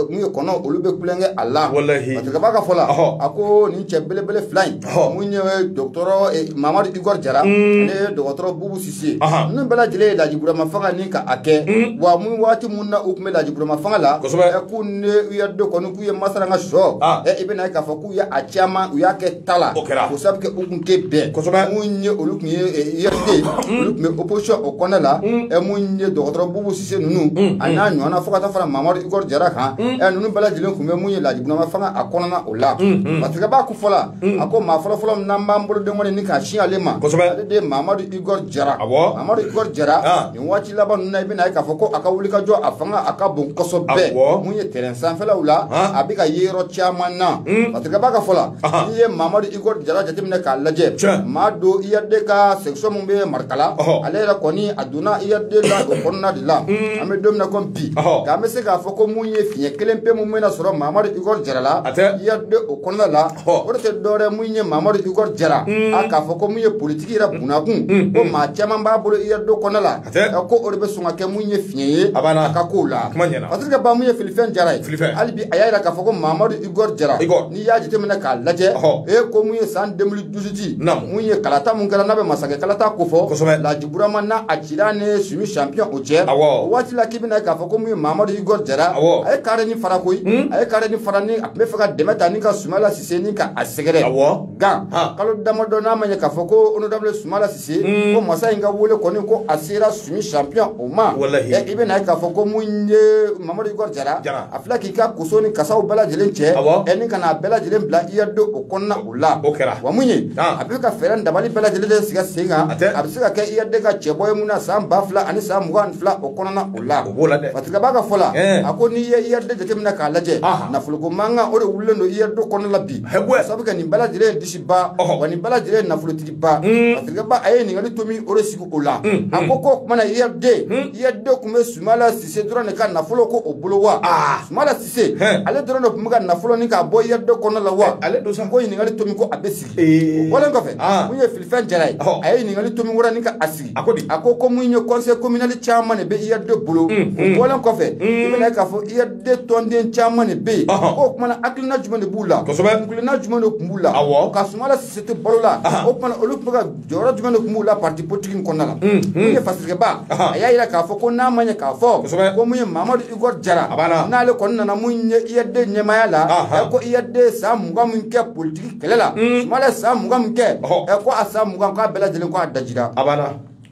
S2: mun ye kɔnɔ olu bɛ kule kɛ a la parce que ba ka fɔ la a ko nin cɛ belebele fila in mun ye dɔgɔtɔrɔ mamadu igor jara hmm. mun ye dɔgɔtɔrɔ bubu se ninnu bɛɛ lajɛlen ye laji burama fanga nin ka a kɛ mm. wa mun waati mun na u tun bɛ laji burama fanga la k'u ni URD kɔni k'u ye masara ka sɔ ah. i bɛna ye k'a fɔ k'u ye a caman u y'a kɛ ta la o sabu kɛ u tun tɛ bɛn mun ye olu tun ye URD mm. olu tun bɛ opposition o kɔnɔ la mm. mun ye dɔgɔtɔrɔ bubu sise ninnu a n'a ɲɔgɔnna fo ka taa fara mamadu igor jara kan ninnu bɛɛ lajɛlen tun bɛ mun ye laji burama fanga a kɔnɔna o la parce que b'a ka fɔ la a ko maa fɔlɔfɔlɔ min n'an b'an bolo den kɔni ni k'a sin ale ma kosɛbɛ ale de ye mamadu igor jara awɔ mamadu igor jara nin waati laban ninnu na i bɛna ye k'a fɔ ko a ka wulikajɔ a fanga a ka bon kosɛbɛ awɔ mun ye terrain sanfɛlaw la a bɛ ka ye yɔrɔ caman na parce que b'a ka fɔ la n'i ye mamadu igor jara jateminɛ k'a lajɛ maa don URD ka section min bɛ marikala ale yɛrɛ kɔni a donna URD la o kɔnɔna de la an bɛ don min na komi di k'an bɛ se k'a fɔ ko mun ye fiɲɛ kelen pe mun bɛna sɔrɔ mamadu igor jara la ird o kɔnɔna la o de tɛ dɔwɛrɛ mun ye mamadu igor jara a k'a fɔ ko mun ye politiki yɛrɛ bunakun ko maa caman b'a bolo ird kɔnɔna la ko o de bɛ sɔn ka kɛ mun ye fiɲɛ ye a ka kow la parce que ba mun ye filifɛn jara ye hali bi a y'a jira k'a fɔ ko mamadu igor jara n'i y'a jateminɛ k'a lajɛ e ko mun ye san 2018 mun ye kalata mun kɛra n'a bɛ masakɛ kalata ko fɔ Burama n'a a cira ni Sumi champion o cɛ, awɔ, o waati la k'i bɛna ye k'a fɔ ko min ye Mamadu Igor Jara, awɔ, a ye carré ni fara koyi, un, a ye carré ni fara ni a tun bɛ fɛ ka dɛmɛ ta ni ka Sumala Sise ni ka a sɛgɛrɛ, awɔ, gan, han, kalo damadɔ n'a ma ɲɛ k'a fɔ ko honorable Sumala Sise, un, ko masa in ka wele kɔni ko a sera Sumi champion o ma, walahi, ɛ i bɛna ye k'a fɔ ko min ye Mamadu Igor Jara, Jara, a filɛ k'i ka koso ni kasaw bɛɛ lajɛlen cɛ, awɔ, ɛ ni ka n'a bɛɛ lajɛlen bila IRD o kɔnɔna O la o kɛra wa mun ye a bɛ ka fɛɛrɛ dabali bɛɛ lajɛlen de sigi sen kan a bɛ se ka kɛ IRD ka cɛbɔ ye mun na san ba fila ani san mugan ni fila o kɔnɔna o la o b'o la dɛ Faturikɛ b'a ka fɔ la a ko n'i ye IRD jateminɛ k'a lajɛ nafoloko mankan o de wulilen don IRD kɔnɔna la bi k'a sabu kɛ nin bɛɛ lajɛlen ye disiba wa nin bɛɛ lajɛlen ye nafolotigiba Faturikɛ ba a ye ɲininkali tomi o de sigi o la a ko k'o tuma na IRD IRD tun bɛ Sumala Sise dɔrɔn de ka nafolo ko o bolo wa Sumala se ale dɔrɔn de tun bɛ ka nafolo ni k'a bɔ ird kɔnɔ la wa ale don san ko ɲininkali tomi ko a bɛ sigi o bɔlen kɔfɛ mun ye filifɛn jara ye a ye ɲininkali tomi wɛrɛ ni ka a sigi a ko di a ko ko mun ye conseil communal caman de bɛ ird bolo o bɔlen kɔfɛ i bɛna ye k'a fɔ ird tɔnden caman de bɛ yen o kuma na hakilina jumɛn de b'u la kuntilenna jumɛn de tun b'u la awɔ ka sumala sise to balo la o kuma na olu tun bɛ ka jɔyɔrɔ jumɛn de tun b'u la parti politique in kɔnɔna la min ye fasikɛba a y'a jira k'a fɔ ko n'a ma ɲɛ k'a fɔ ko mun ye mamadu igor jara n'ale kɔni nana mun ye ird ɲɛmaya la ɛ ko ird san mugan min kɛ politiki kɛlɛ la sumala san mugan min kɛ ɛ ko a san mugan k'a bɛɛ lajɛlen ko a dajira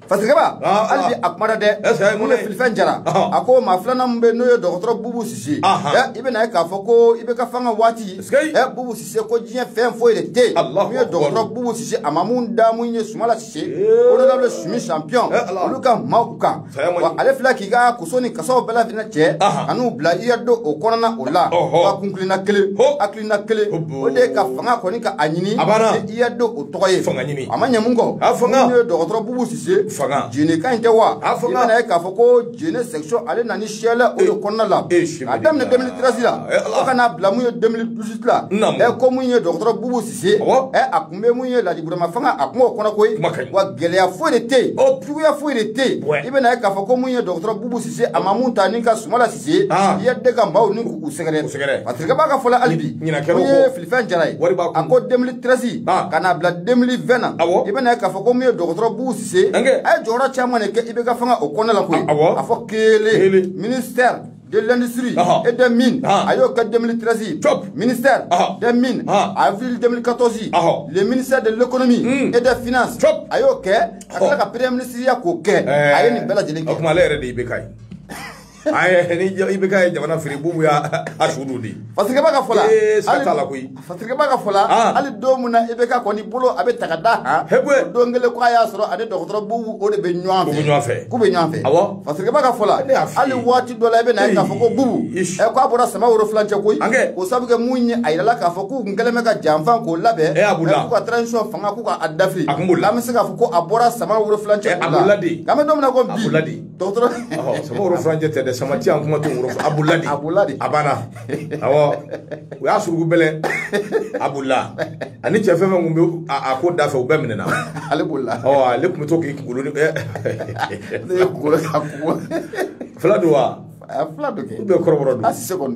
S2: fasikɛba hali bi a kumada dɛ mun ye filifɛn jara a ko maa filanan min bɛ n'o ye dɔgɔtɔrɔ bubu sise ɛ i bɛna ye k'a fɔ ko ibk fanga waati ɛ bubu se ko diɲɛ fɛn foyi de tɛ yen min ye dɔgɔtɔrɔ bubu sise a ma mun da mun ye sumala sise honorable sumi champion olu ka maaw kan wa ale filɛ k'i ka koso ni kasaw bɛɛ lajɛlen cɛ ka n'u bila ird o kɔnɔna o la wa kuntilenna kelen hakilina kelen o de ye ka fanga kɔni ka a ɲini ni ird o tɔgɔ ye a ma ɲɛ mun kɔ mun ye dɔgɔtɔrɔ bubu sise jeneka in tɛ wa i bɛna ye k'a fɔ ko jene section ale nana ni siyɛlɛ o de kɔnɔna la a daminɛ 2013 la fo ka n'a bila mun ye 2018 la ɛ ko mun ye dɔgɔtɔrɔ bubu sise ɛ a kun bɛ mun ye lajiburama fanga a kun b'o kɔnɔ koyi wa gɛlɛya foyi de tɛ yen juguya foyi de tɛ yen i bɛna ye k'a fɔ ko mun ye dɔgɔtɔrɔ bubu sise a ma mun ta ni ka sumala sise ird ka maaw ni k'u sɛgɛrɛ parce que b'a ka fɔ la hali bi mun ye filifɛn jara ye a ko 2013 ka n'a bila 2020 na i bɛna ye k'a fɔ ko mun ye dɔgɔtɔrɔ bubu se a ye jɔyɔrɔ caman de kɛ IBK fanga o kɔnɔna la koyi a fɔ kelen ministère de l'industrie et des mines a y'o kɛ 2013 ministère des mines avril 2014 le ministère de l'économie hmm. et des finances a y'o kɛ ka tila ka premier ministre ya k'o kɛ a ye nin bɛɛ lajɛlen kɛ o tuma ale yɛrɛ de ye IBK ye
S1: ayi ni IBK ye jamana firi bubu y'a su don de fasikɛba ka fɔ
S2: la ee sa t'a la
S1: koyi fasikɛba ka fɔ la
S2: ah. hali don min na IBK kɔni bolo a bɛ ta ka da kan hebuwe don kelen ko a y'a sɔrɔ a ni dɔgɔtɔrɔ bubu o de bɛ ɲɔgɔn fɛ u bɛ ɲɔgɔn fɛ k'u bɛ ɲɔgɔn fɛ awɔ fasikɛba ka fɔ la hali waati dɔ la i bɛ na ye k'a fɔ ko bubu ɛ eh, k'a bɔra sama woro filancɛ koyi o sabu kɛ mun ye a yirala k'a fɔ k'u kun kɛlen bɛ ka janfan k'o labɛn eh, eh, k'u ka transition fanga k'u ka a dafiri a kun b'o la an bɛ se k'a fɔ ko a bɔra sama woro filancɛ k'u la a kun b'o la de k'an bɛ don min na ko bi sama woro
S1: filancɛ tɛ dɛ sama an kuma abu a banna u y'a surugu bɛlɛ a bu la ani cɛ fɛn fɛn tun bɛ a ko da fɛ u bɛɛ minɛna
S2: ale bolila ale tun bɛ to
S1: k'i kunkolo fila don wa fila bɛ
S2: kɔrɔ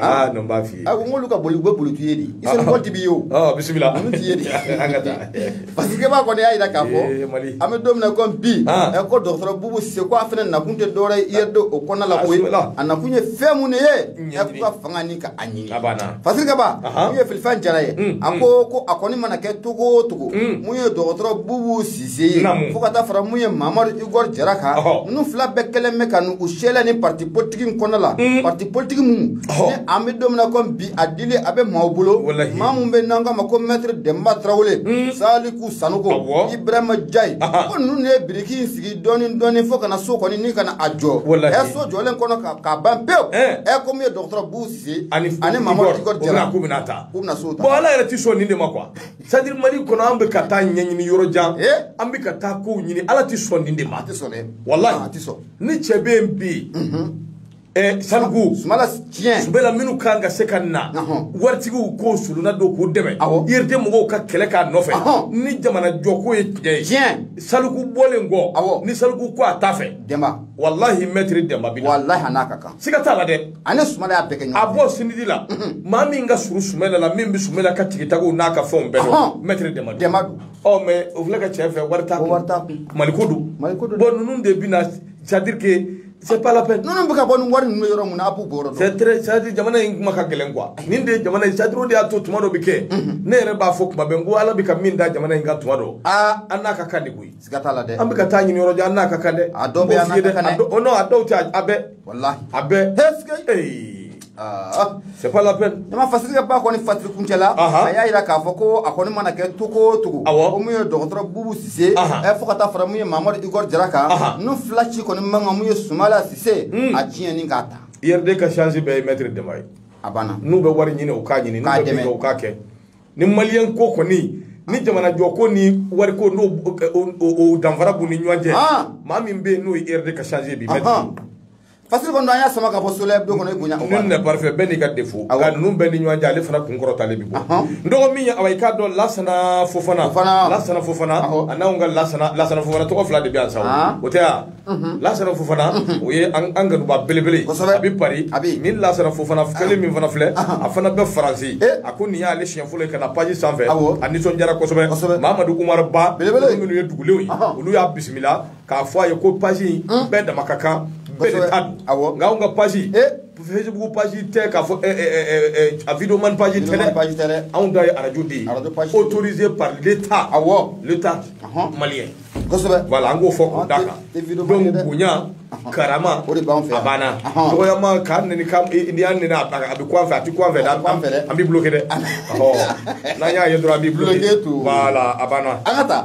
S1: aa non n b'a f'i ye a ko n k'olu ka boli u bɛ
S2: boli t'i ye de i sɔrɔ mɔgɔ ti b'i ye o ɔ bisimila olu
S1: t'i ye de an
S2: ka taa
S1: fasikɛba
S2: kɔni y'a jira k'a fɔ Ee, Mali. an bɛ don min na ko bi Ah. ɛ, ko dɔgɔtɔrɔ bubu sise ko a fana nakun tɛ dɔwɛrɛ ye URD o kɔnɔna la Ah, koyi bisimila. a nakun ye fɛn mun de ye Ɲɛdimi. ɛ, k'u ka fanga nin ka a ɲini A banna. fasikɛba
S1: Aha. mun
S2: ye filifɛn jara ye Mm, a ko ko a kɔni mana kɛ cogo o cogo Mm. mun ye dɔgɔtɔrɔ bubu sise ye fo ka taa fara mun ye mamadu igor jara kan ninnu fila bɛɛ kɛlen bɛ ka u sela ni parti politique in kɔnɔ la mm. parti politique minnu ni an bɛ don min na ko bi a dili a bɛ maaw bolo maa mun bɛ n'an k'a ma ko maître denba tarawele mm. saliku sanɔgɔ ibrahima njayi ko ninnu de ye biriki in sigi dɔɔni dɔɔni fo ka na so kɔni ni ka na a jɔ ɛ so jɔlen kɔnɔ ka ban pewu ɛ eh. ko mun ye dɔgɔtɔrɔ bubu sise ani mamadu igor jara k'u bɛna taa k'u bɛna so ta bon ala yɛrɛ tɛ sɔn nin de ma
S1: quoi c'est-à-dire mali kɔnɔ an bɛ ka taa ɲɛɲini yɔrɔ jan eh? an bɛ ka taa kow ɲini ala tɛ sɔn nin de ma a tɛ sɔn dɛ
S2: walayi ah, a tɛ
S1: sɔn ni cɛ
S2: bɛ yen bi
S1: mhm. eh, saliku sumala
S2: tiɲɛ sumala minnu kan ka
S1: se ka na waritigiw k'o suluna don k'u dɛmɛ URD mɔgɔw ka kɛlɛ k'a nɔfɛ ni jamana jɔko ye tiɲɛ ye tiɲɛ saliku
S2: bɔlen kɔ
S1: ni saliku ko a t'a fɛ dɛnba walahi
S2: maître
S1: dɛnba bi walahi a n'a ka kan siga
S2: t'a la dɛ a
S1: ni sumala y'a bɛɛ kɛ ɲɔgɔn
S2: fɛ a bɔ CNID
S1: la maa min ka surun sumala la min bɛ sumala ka tigitago n'a ka fɛnw bɛɛ dɔn maître dɛnba dɛnba don ɔ
S2: mais o filɛ ka cɛ
S1: fɛ wari t'a kun wari t'a kun maliko don
S2: maliko don
S1: bon ninnu de
S2: bɛna
S1: c'est-à-dire que c'est pas la peine ninnu bɛ ka bɔ ni wari ninnu
S2: bɛ yɔrɔ min na an b'u bɔyɔrɔ dɔn c'est très c'est-à-dire jamana in kuma
S1: ka gɛlɛn quoi nin de ye jamana in c'est-à-dire o de y'a to tuma dɔ bɛ kɛ ne yɛrɛ b'a fɔ kuma bɛɛ n ko ala bɛ ka min da jamana in kan tuma dɔ aa an n'a ka kan de koyi siga t'a la dɛ an bɛ ka
S2: taa ɲini yɔrɔ jan an
S1: n'a ka kan dɛ a dɔw bɛ yan n'a
S2: ka kan dɛ o non a dɔw tɛ a
S1: bɛɛ walahi a bɛɛ c'est pas la peine ne ma fasiri ka ba kɔni
S2: fasiri kuncɛ la a y'a jira k'a fɔ ko a kɔni mana kɛ cogo o cogo ko mun ye dɔgɔtɔrɔ bubu sise fo ka taa fara mun ye mamadu igor jara kan ninnu fila si kɔni man kan mun ye sumala sise a ciyɛn in k'a ta urd ka chance bɛɛ
S1: ye maître dɛnba ye a banna n'u bɛ
S2: wari ɲini u k'a
S1: ɲini n'u bɛ min kɛ u k'a kɛ ni maliyɛn ko kɔni ni jamanajɔ ko ni wari ko n'o o danfara b'u ni ɲɔgɔn cɛ ah. maa min bɛ yen n'o ye urd ka chance ye bi mɛtiri fasiri kɔni
S2: an y'a sama ka bɔ soleil hebdo kɔnɔ i bonya nul n'est parfait bɛɛ n'i
S1: ka défaut nka ninnu bɛɛ ni ɲɔgɔn cɛ ale fana kun kɔrɔtalen bɛ bɔ n dɔgɔ min ye awa i k'a dɔn lasana fofana lasana fofana a n'anw ka lasana lasana fofana tɔgɔ fila de bɛ yan sa o tɛ yan lasana fofana o ye an kanuba belebele a bɛ pari ni lasana fofana kelen min fana filɛ a fana bɛ faransi a ko nin y'ale siɲɛ fɔlɔ ka na paji sanfɛ a nisɔndiyara kosɛbɛ mamadu umaru ba minnu ye dugulenw ye olu y'a bisimila k'a fɔ a ye ko paji bɛɛ dama ka kan bɛɛ de ta don nka anw ka paji Facebook page tɛ k'a fɔ a video man page tɛ dɛ anw ta ye arajo de ye autorisé par l'Etat awɔ l'Etat malien kosɛbɛ voilà an k'o fɔ k'o da kan donc bonya karama a banna dɔgɔyama k'a neni n'i y'an neni a bɛ kun an fɛ a tɛ kun an fɛ dɛ an b'i bloqué dɛ n'an y'a ye dɔrɔn an b'i bloqué voilà a banna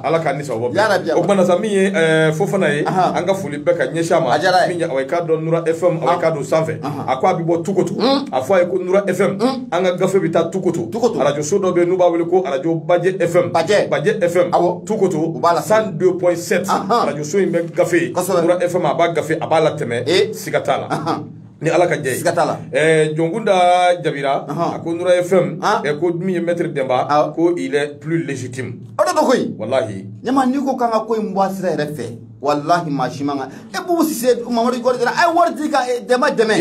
S1: ala k'an ni sababu bɛn o kumana sa min ye fofana ye an ka foli bɛɛ ka ɲɛsin a ma min ye aw ye k'a dɔn nura fm aw ye k'a don sanfɛ a ko a bɛ bɔ tukoto a fɔ a ye ko nura fm an ka gafe bɛ taa tukoto tukoto arajoso dɔ bɛ yen n'u b'a wele ko arajo bajɛ fm bajɛ bajɛ fm awɔ tukoto u b'a la cent deux point sept arajoso in bɛ gafe kosɛbɛ nura fm a b'a gafe a b'a latɛmɛ ee siga t'a la ni ala ka jɛ ye siga t'a la ɛɛ jɔnkunda jabira a ko nura fm ɛ ko min ye mɛtiri dɛnba ko il est plus légitime o de don
S2: koyi walahi ɲama
S1: n'i ko k'an ka
S2: ko in bɔ a sira yɛrɛ fɛ walahi maa si man kan e bubu sise mamadu igor jara a ye wari di ka dɛnba dɛmɛ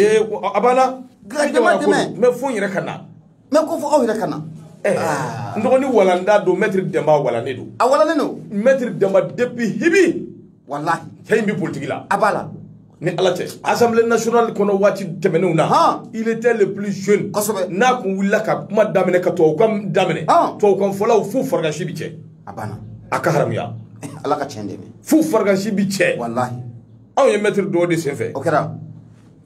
S2: a banna
S1: Ka dɛnba
S2: dɛmɛ. N bɛ fo n yɛrɛ ka na.
S1: N bɛ ko fo aw
S2: yɛrɛ ka na. Eh, ah. N
S1: dɔgɔnin walanda don mɛtiri dɛnba walannen don. A walannen don. Mɛtiri
S2: dɛnba
S1: depuis hibi. Walahi. Cɛ
S2: in bɛ politiki la.
S1: A b'a la. ni
S2: ala cɛ
S1: assemblée nationale kɔnɔ waati tɛmɛnenw na il était le plus jeune kosɛbɛ n'a kun
S2: wulila
S1: ka kuma daminɛ ka tubabukan daminɛ tubabukan fɔlaw fo faragasi bi cɛ a banna a ka
S2: haramuya
S1: ala ka tiɲɛ dɛmɛ
S2: fo faragasi bi cɛ
S1: walahi
S2: anw ye mɛtiri
S1: dɔn o de senfɛ o kɛra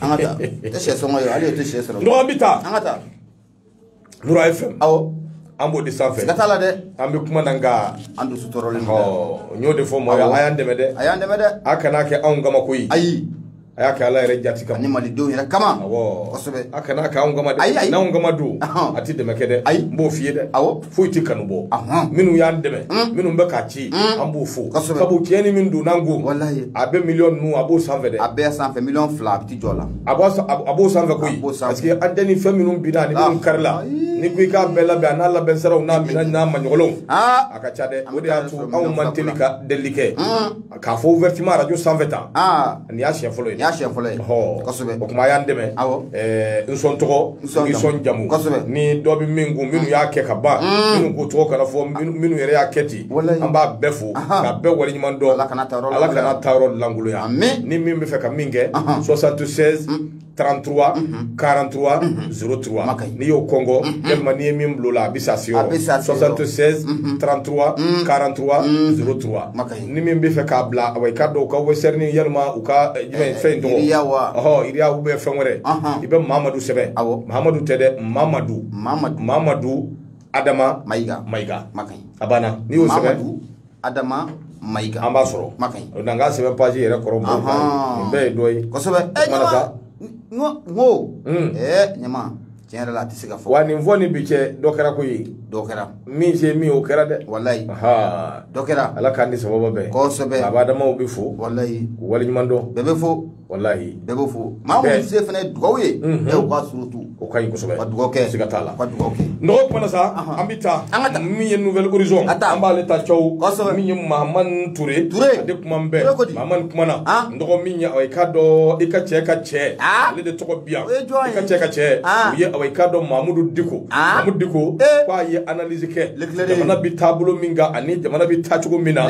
S2: an ka taa tɛ sɛ sɔngɔ ye hali o tɛ sɛ sɔrɔ nɔgɔ an bɛ taa an
S1: ka
S2: taa
S1: nura fm awɔ an b'o
S2: de sanfɛ
S1: siga t'a la dɛ an bɛ
S2: kuma na nka
S1: an dusu tɔɔrɔlen
S2: don dɛ
S1: n y'o de fɔ
S2: mɔgɔ
S1: ye
S2: a
S1: y'an dɛmɛ dɛ
S2: a
S1: y'an dɛmɛ
S2: dɛ
S1: a
S2: kana
S1: kɛ anw kama
S2: koyi
S1: ayi a y'a kɛ ala yɛrɛ jati kama ani malidenw yɛrɛ
S2: kama awɔ kosɛbɛ a
S1: kana kɛ anw
S2: kama dɛ
S1: ayi ayi n'anw kama don a tɛ dɛmɛ kɛ dɛ ayi n b'o f'i ye dɛ awɔ foyi tɛ kanu bɔ minnu y'an dɛmɛ hmm. minnu bɛ k'a ci hmm. an b'u fo sabu tiɲɛni min donna an kun a bɛ miliyɔn ninnu a b'o sanfɛ dɛ a bɛɛ sanfɛ miliyɔn fila
S2: a tɛ jɔ la a b'o
S1: sanfɛ koyi parce que antɛni fɛn minnu binna ani minnu ah. karila n'i ko i k'a bɛɛ labɛn a n'a labɛn saraw n'a minɛn n'a maɲɔgɔnw ah. a ka ca dɛ o de y'a to anw man teli ka delili kɛ hmm. k'a fɔ ouvertement arajo sanfɛ tan aa nin y'a siɲɛ fɔlɔ ye nin y'a siɲɛ fɔlɔ ye ɔhɔ kosɛbɛ o kuma a y'an dɛmɛ awɔ ɛɛ n sɔn tɔgɔ n sɔn jamu. sɔn jamu Kosɛbɛ. ni dɔ bɛ min kun minnu y'a kɛ ka ban minnu ko tɔgɔ kana fɔ minnu minnu yɛrɛ y'a kɛ ten Walayi. an b'a bɛɛ fo Ahan. k'a bɛɛ waleɲuman dɔn Ala kan'a ta yɔrɔ lankolonya. kan'a ta yɔrɔ lankolonya Amin. ni min b'a fɛ ka min kɛ 76 trente trois quarante trois zéro trois Maka ye. n'i y'o kɔnkɔn yalima n'i ye min bil'o la a bɛ s'a se A bɛ s'a yɔrɔ se yɔrɔ. soixante seize trente trois quarante trois zéro trois Maka ye. ni min b'a fɛ k'a bila awa i k'a dɔn u ka Western yalima u ka eh, jumɛn fɛn in tɔgɔ Ria wa? ɔhɔ Ria ou bien fɛn wɛrɛ Ahan. i bɛ mamadu sɛbɛn Awɔ. mamadu tɛ dɛ mamadu mamadu mamadu adama mayiga mayiga makan a banna n'i y'o sɛbɛn Mamadu
S2: adama mayiga an b'a sɔrɔ
S1: ma kaɲi n'an k'a sɛbɛn paji yɛrɛ kɔrɔ nin bɛɛ ye dɔ ye kosɛbɛ ɛ eh, ɲama n ko
S2: n ko hmm. eh, ɲama tiɲɛ yɛrɛ la a tɛ se ka fɔ wa nin fɔ ni bi
S1: cɛ dɔ kɛra koyi dɔ kɛra
S2: min se min o
S1: kɛra dɛ
S2: walayi dɔ kɛra ala k'an ni sababa bɛn
S1: kosɛbɛ a b'a damaw
S2: bɛ fo
S1: walayi k'u waleɲuman
S2: dɔn bɛɛ
S1: bɛ fo
S2: walahi bɛɛ bɛ
S1: fo
S2: maa minnu se fana ye dugawu ye bɛɛ u ka surtout o ka ɲi kosɛbɛ ka
S1: dugawu kɛ siga t'a la
S2: ka dugawu kɛ
S1: n dɔgɔ kuma
S2: na sa an
S1: bɛ taa an ka taa min ye nouvel horizon ka taa an b'ale ta cɛw kosɛbɛ min ye mahamani ture ture a de kumanen bɛ mahamani kumana n dɔgɔ min ye awa i k'a dɔn i ka cɛ ka cɛ ale de tɔgɔ bi yan i ka cɛ ka cɛ o ye awa i k'a dɔn mahamudu diko mahamudu diko k'a ye analyse jamana bɛ taabolo min kan ani jamana bɛ taacogo min na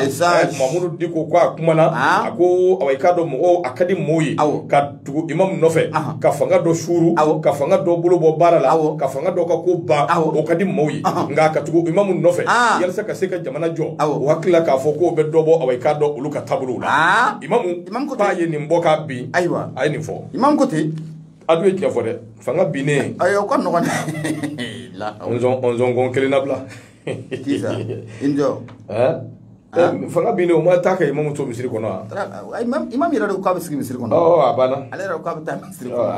S1: mamudu diko ko a kumana a ko awa i k'a dɔn mɔgɔw a ka di mɔgɔw ye ka tugu imamu nɔfɛ ka fanga dɔ suuru ka fanga dɔ bolo bɔ baara la ka fanga dɔ ka ko ban o ka di mɔgɔw ye nka ka tugu imamu nɔfɛ yalasa ka se ka jamana jɔ o hakili la k'a fɔ k'o bɛ dɔ bɔ awa i k'a dɔn olu ka taabolo la imamu k'a ye nin bɔ k'a bin a ye nin fɔ imamu ko ten
S2: a dun ye tiɲɛ fɔ
S1: dɛ fanga binnen ayi o ka
S2: nɔgɔn
S1: nsɔnkɔn kelen na bila fanga binnen o ma taa ka imamu to misiri kɔnɔ wa imamu yɛrɛ de ko k'a
S2: bɛ sigi misiri kɔnɔ a banna ale yɛrɛ
S1: ko k'a bɛ taa
S2: misiri kɔnɔ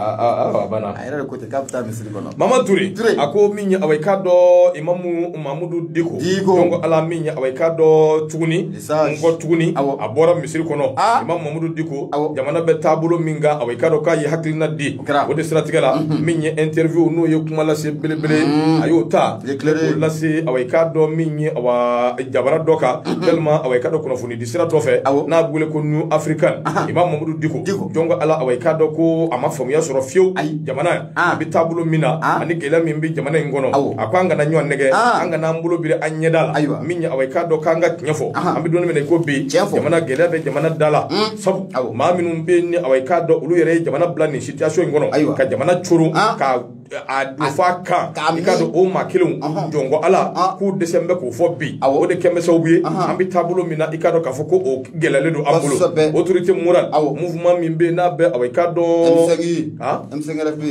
S2: a banna a
S1: yɛrɛ de ko ten k'a bɛ
S2: taa misiri kɔnɔ mahamani ture a ko
S1: min ye awa i k'a dɔn imamu mamudu diko diko donc ale min ye awa i k'a dɔn tuguni kɔ tuguni a bɔra misiri kɔnɔ imamu mamudu diko jamana bɛ taabolo min kan awa i k'a dɔn k'a ye hakilina di o de siratigɛ la mhm. min ye interview n'o ye kuma lase belebele mhm. a y'o ta o lase awa i k'a dɔn min ye awa jabara dɔ kan mhm. yalima awa i k'a dɔn kunnafoni di sira dɔ fɛ n'a bɛ wele ko new african imamu mamudu diko jɔn ko ala awa i k'a dɔn ko a ma faamuya sɔrɔ fiyewu jamana a bɛ taabolo min na ani gɛlɛya min bɛ jamana in kɔnɔ a ko an kana ɲɔgɔn nɛgɛn an kana an bolo biri an ɲɛda la ayiwa min ye awa i k'a dɔn k'an ka tiɲɛ fɔ an bɛ don min na i ko bi jamana gɛlɛya bɛ jamana da la hmm. sabu maa minnu bɛ yen awa i k'a dɔn olu yɛrɛ ye jamana bila nin situation in kɔnɔ ka jamana coron ka a don f'a kan i k'a dɔn o maa kelenw jɔn ko ala k'u dɛsɛ bɛ k'o fɔ bi o de kɛ bɛ sabu ye an bɛ taabolo min na i k'a dɔn k'a fɔ ko o gɛlɛyalen don an bolo Kosɛbɛ. autorité morale Awɔ. mouvement min bɛ yen n'a bɛ awɔ i k'a dɔn M5 Ah? M5
S2: RP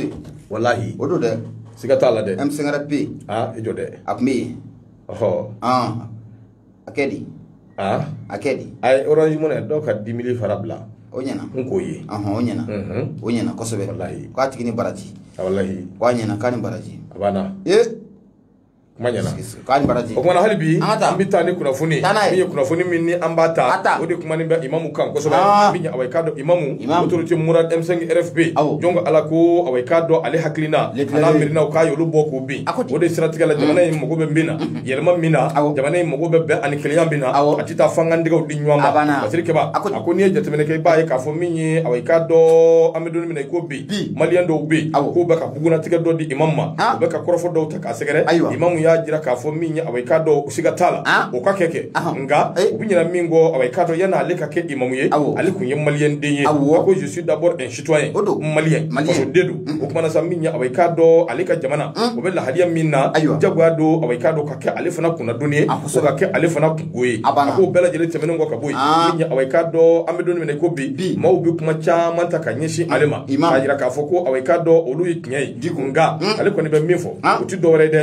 S2: walahi o
S1: don dɛ
S2: siga t'a la dɛ M5
S1: RP ah
S2: i jɔ dɛ
S1: a tun bɛ yen
S2: ɔhɔ ɔn a kɛ di ah a kɛ di a ye orange money
S1: dɔw ka dix mille francs bila o ɲɛna n k'o
S2: ye ɔhɔn
S1: o ɲɛna Mhm. o
S2: ɲɛna kosɛbɛ Walahi. k'a tigi ni baraji Ah, walahi ko a
S1: ɲɛna k'a ni baraji
S2: a banna ee
S1: kuma ɲɛna k'a ni baraji o kuma
S2: na hali bi
S1: an bɛ taa ni kunnafoni min ye kunnafoni min ni an b'a ta o de kumanen bɛ imamu kan kosɛbɛ min ye awa i k'a dɔn imamu autorité morale M5 RFP jɔn ko ala ko awa i k'a dɔn ale hakilina an'a miirinaw k'a y'olu bɔ k'u bin o de siratigɛ la jamana in mago bɛ min na yɛlɛma min na jamana in mago bɛ bɛn ani kelenya min na a tɛ taa f'an k'an tɛgɛw di ɲɔgɔn ma masiri kɛba a ko n'i ye jateminɛ kɛ i b'a ye k'a fɔ min ye awa i k'a dɔn an bɛ don min na i ko bi maliyɛn dɔw bɛ yen k'u bɛ ka bugunnatigɛ dɔ di imamu ma u bɛ ka kɔrɔfɔ dɔw ta k'a sɛgɛrɛ ayiwa imamu y'a jira k'a fɔ min ye awa i k'a dɔn o siga t'a la ah. o ka kɛ kɛ nka eh. u bɛ ɲina min kɔ awa i k'a dɔn yan'ale ka kɛ imamu ye ale tun ye maliyɛn den ye a ko je suis d'abord un citoyen malien fasoden don mm-hmm. o kuma na sa min ye awa i k'a dɔn ale ka jamana mm. o bɛ lahaliya min na jagoya don awa i k'a dɔn ka kɛ ale fana kunnadoni ye fo ka kɛ ale fana kunko ye a k'o bɛɛ lajɛlen tɛmɛnen kɔ ka bɔ yen ah. min ye awa i k'a dɔn an bɛ don min na i ko bi maaw bɛ kuma caman ta ka ɲɛsin ale ma k'a jira k'a fɔ ko awa i k'a dɔn olu ye tiɲɛ ye di kun nka mm. ale kɔni bɛ min fɔ ah. o tɛ dɔwɛrɛ dɛ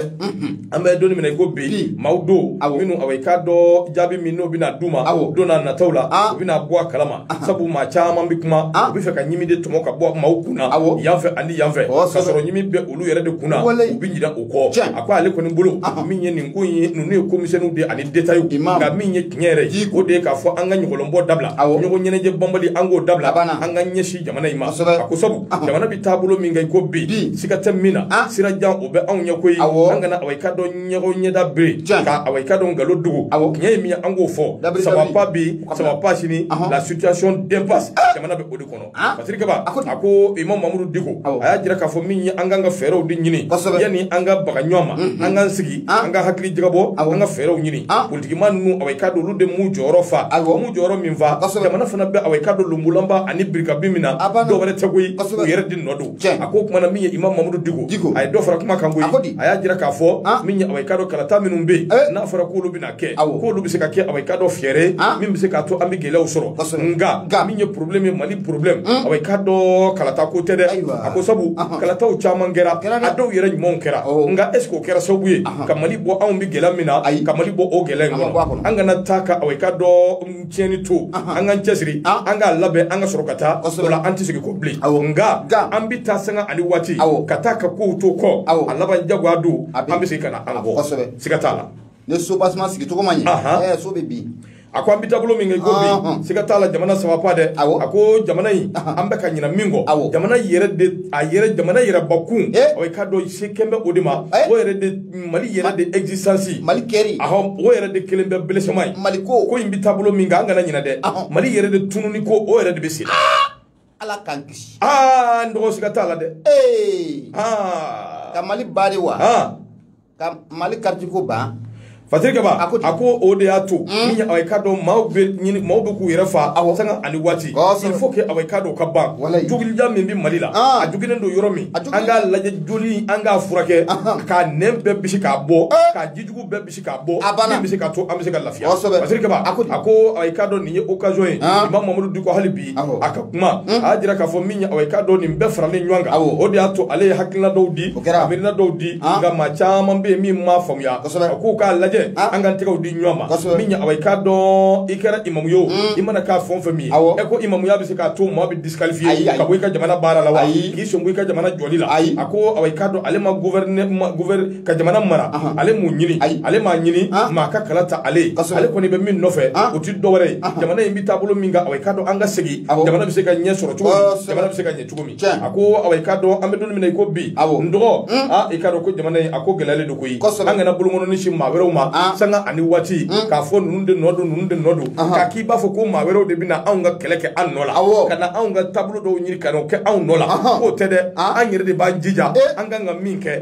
S1: an bɛ don min na i ko bi maaw don minnu awɔ i k'a dɔn jaabi min n'o bɛna d'u ma don nataw la ah. u bɛna bɔ a kalama ah. sabu maa caman bɛ kuma u bɛ fɛ ka ɲimi de tɔmɔ ka bɔ maaw kun na yan fɛ ani yan fɛ oh, ka sɔrɔ ɲimi bɛ olu yɛrɛ de kun na u bɛ ɲinɛ o kɔ a ko ale kɔni bolo min ye nin ko in ye ninnu ye ko misɛnniw de ani detayiw nka min ye tiɲɛ yɛrɛ ye o de ye k'a fɔ an ka ɲɔgɔlɔnbɔ dabila ɲɔgɔn ɲɛnajɛ banbali an k'o dabila an ka ɲɛsin jamana in ma a ko sabu jamana bɛ taabolo min kan i ko bi siga tɛ min na ah. sira jan o bɛ anw ɲɛ koyi an kana awa i k'a dɔn ɲɔgɔn ɲɛda biri ka awa i k'a dɔn nkalon dogo tiɲɛ ye min ye an k'o fɔ ça va pas bi ça va pas sini la situation d'impasse ah. jamana bɛ o de kɔnɔ ah. pasiri kaba a ko imam mamudu diko a y'a jira k'a fɔ min ye an kan ka fɛɛrɛw de ɲini yanni an ka baga ɲɔgɔn ma mm-hmm. an k'an sigi an ka hakili jagabɔ an ka fɛɛrɛw ɲini politikimaa ninnu awa i k'a dɔn olu de m'u jɔyɔrɔ fa m'u jɔyɔrɔ min fa jamana fana bɛ awa i k'a dɔn lonbolanba ani birikabi min na dɔwɛrɛ tɛ koyi u yɛrɛ de nɔ don a ko kuma na min ye imam mamudu diko a ye dɔ fara kuma kan koyi a y'a jira k'a fɔ min ye awa i k'a dɔn kalata minnu bɛ yen n'a fɔra k'olu bɛna k'olu bɛ se ka kɛ awa i k'a dɔn fɛɛrɛ min bɛ se k'a to an bɛ gɛlɛyaw sɔrɔ nka min ye porobilɛmu ye mali porobilɛmu awa i k'a dɔn kalata ko tɛ dɛ a ko sabu kalataw caman kɛra a dɔw yɛrɛ ɲumanw kɛra nka est-ce que o kɛra sababu ye ka mali bɔ anw bɛ gɛlɛya min na ka mali bɔ o gɛlɛya in kɔnɔ an kana taa ka awa i k'a dɔn tiɲɛni to an k'an cɛsiri an k'a labɛn an ka sɔrɔ ka taa o la an tɛ segin kɔ bilen nka an bɛ taa sanga ani waati ka taa ka kow to kɔ a laban jagoya don an bɛ segin ka na an kɔ siga t'a la ni so
S2: basima sigi cogo ma ɲɛ Ahan. ɛɛ so bɛ bin a ko an bɛ
S1: taabolo min kan i ko bi Ɔnhɔn. siga t'a la jamana ça va pas dɛ Awɔ. a ko jamana in an bɛ ka ɲinɛ min kɔ Awɔ. jamana yɛrɛ de a yɛrɛ jamana yɛrɛ bakun Eh. ɔ i k'a dɔn se kɛlen bɛ o de ma Eh. o yɛrɛ de mali yɛrɛ de existence mali kɛri
S2: ahɔ o yɛrɛ de
S1: kɛlen bɛ belesema ye mali ko ko in bɛ
S2: taabolo min kan an kana
S1: ɲinɛ dɛ Ahɔ. mali yɛrɛ de tununi ko o yɛrɛ de bɛ sen na. ala
S2: k'an kisi aa n dɔgɔ
S1: siga t'a la dɛ ee
S2: aa ka mali ban de wa aa ka mali karitiko ban fatiri kaba a ko
S1: ten. a ko o de y'a to min ye awa i k'a dɔn maaw bɛ ɲini maaw bɛ k'u yɛrɛ fa Awɔ. sanga ani waati Kosɛbɛ. il faut que awa i k'a dɔn o ka ban Walayi. jogilida min bɛ mali la Ah. a jogilen don yɔrɔ min A jogilen an k'a lajɛ joli an k'a furakɛ Ahan. k'a nɛn bɛɛ bisi k'a bɔ Eh. k'a jijugu bɛɛ bisi k'a bɔ a banna min bɛ se k'a to an bɛ se ka lafiya kosɛbɛ Fatiri Kaba a ko awa i k'a dɔn nin ye occasion ye Imam Mamadu Diko hali bi a ka kuma a y'a jira k'a fɔ min awa i k'a dɔn nin bɛɛ faralen ɲɔgɔn kan o de y'a to ale ye hakilina dɔw di miirina dɔw di nka maa caman bɛ yen min m'a faamuya a k'u k'a lajɛ an k'an tɛgɛw di ɲɔgɔn ma min awa i k'a dɔn i kɛra imamu ye o i mana kɛ fɛn o fɛn min ye e ko imamuya bɛ se k'a to maa bɛ disqualifier ka bɔ i ka jamana baara la wa k'i sen bɔ i ka jamana jɔli la a ko awa i k'a dɔn ale ma gouverner ka jamana mara ale m'o ɲini ale m'a ɲini maa ka kala ta ale ye ale kɔni bɛ min nɔfɛ o ti dɔwɛrɛ ye jamana in bɛ taabolo min kan awa i k'a dɔn an ka segin jamana bɛ se ka ɲɛ sɔrɔ cogo min jamana bɛ se ka ɲɛ cogo min a ko awa i k'a dɔn an bɛ don min na i ko bi n dɔgɔ a i k'a dɔn ko jamana in a ko gɛlɛyalen don koyi an kana bolokɔnɔni sin maa wɛrɛw ma sanga ani waati k'a fɔ ninnu de nɔ don ninnu de nɔ don k'a k'i b'a fɔ ko maa wɛrɛw de bɛna anw ka kɛlɛ kɛ an nɔ la ka na anw ka taabolo dɔw ɲini ka n'o kɛ anw nɔ la k'o tɛ dɛ an yɛrɛ de b'an jija an kan ka min kɛ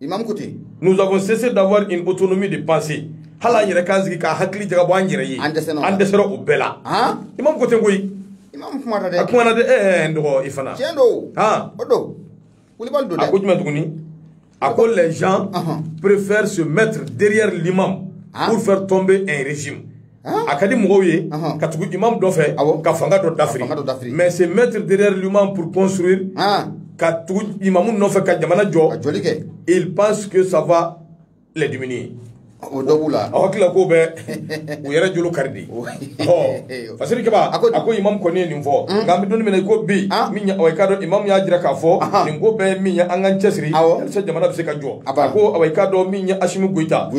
S1: Imam Kuti. Nous avons cessé d'avoir une autonomie de pensée. Hali an yɛrɛ k'an sigi ka hakili jagabɔ an yɛrɛ ye. An dɛsɛra o la. An dɛsɛra o bɛɛ la. Han. Imam ko ten koyi. Imam kumana dɛ. A kumana dɛ. Ɛɛ n dɔgɔ i fana. Tiɲɛ don. Han. O don. Kulibali don dɛ. A ko jumɛn tuguni? A ko les gens préfèrent se mettre derrière l'imam pour faire tomber un régime. a ka di mɔgɔw ye ka tugu imamu nɔfɛ ka fanga dɔ dafiri mais se mettre derrière l'imam pour construire ka tugu imamu nɔfɛ ka jamana jɔ ils pensent que ça va les diminuer o dɔ b'u la a hakili la k'o bɛ u yɛrɛ jolo kari de ɔ fasiri kaba a ko imamu kɔni ye nin fɔ nka an bɛ don min na i ko bi min awa i k'a dɔn imamu y'a jira k'a fɔ nin ko bɛɛ ye min ye an k'an cɛsiri walisa jamana bɛ se ka jɔ a ko awa i k'a dɔn min ye asimi goyita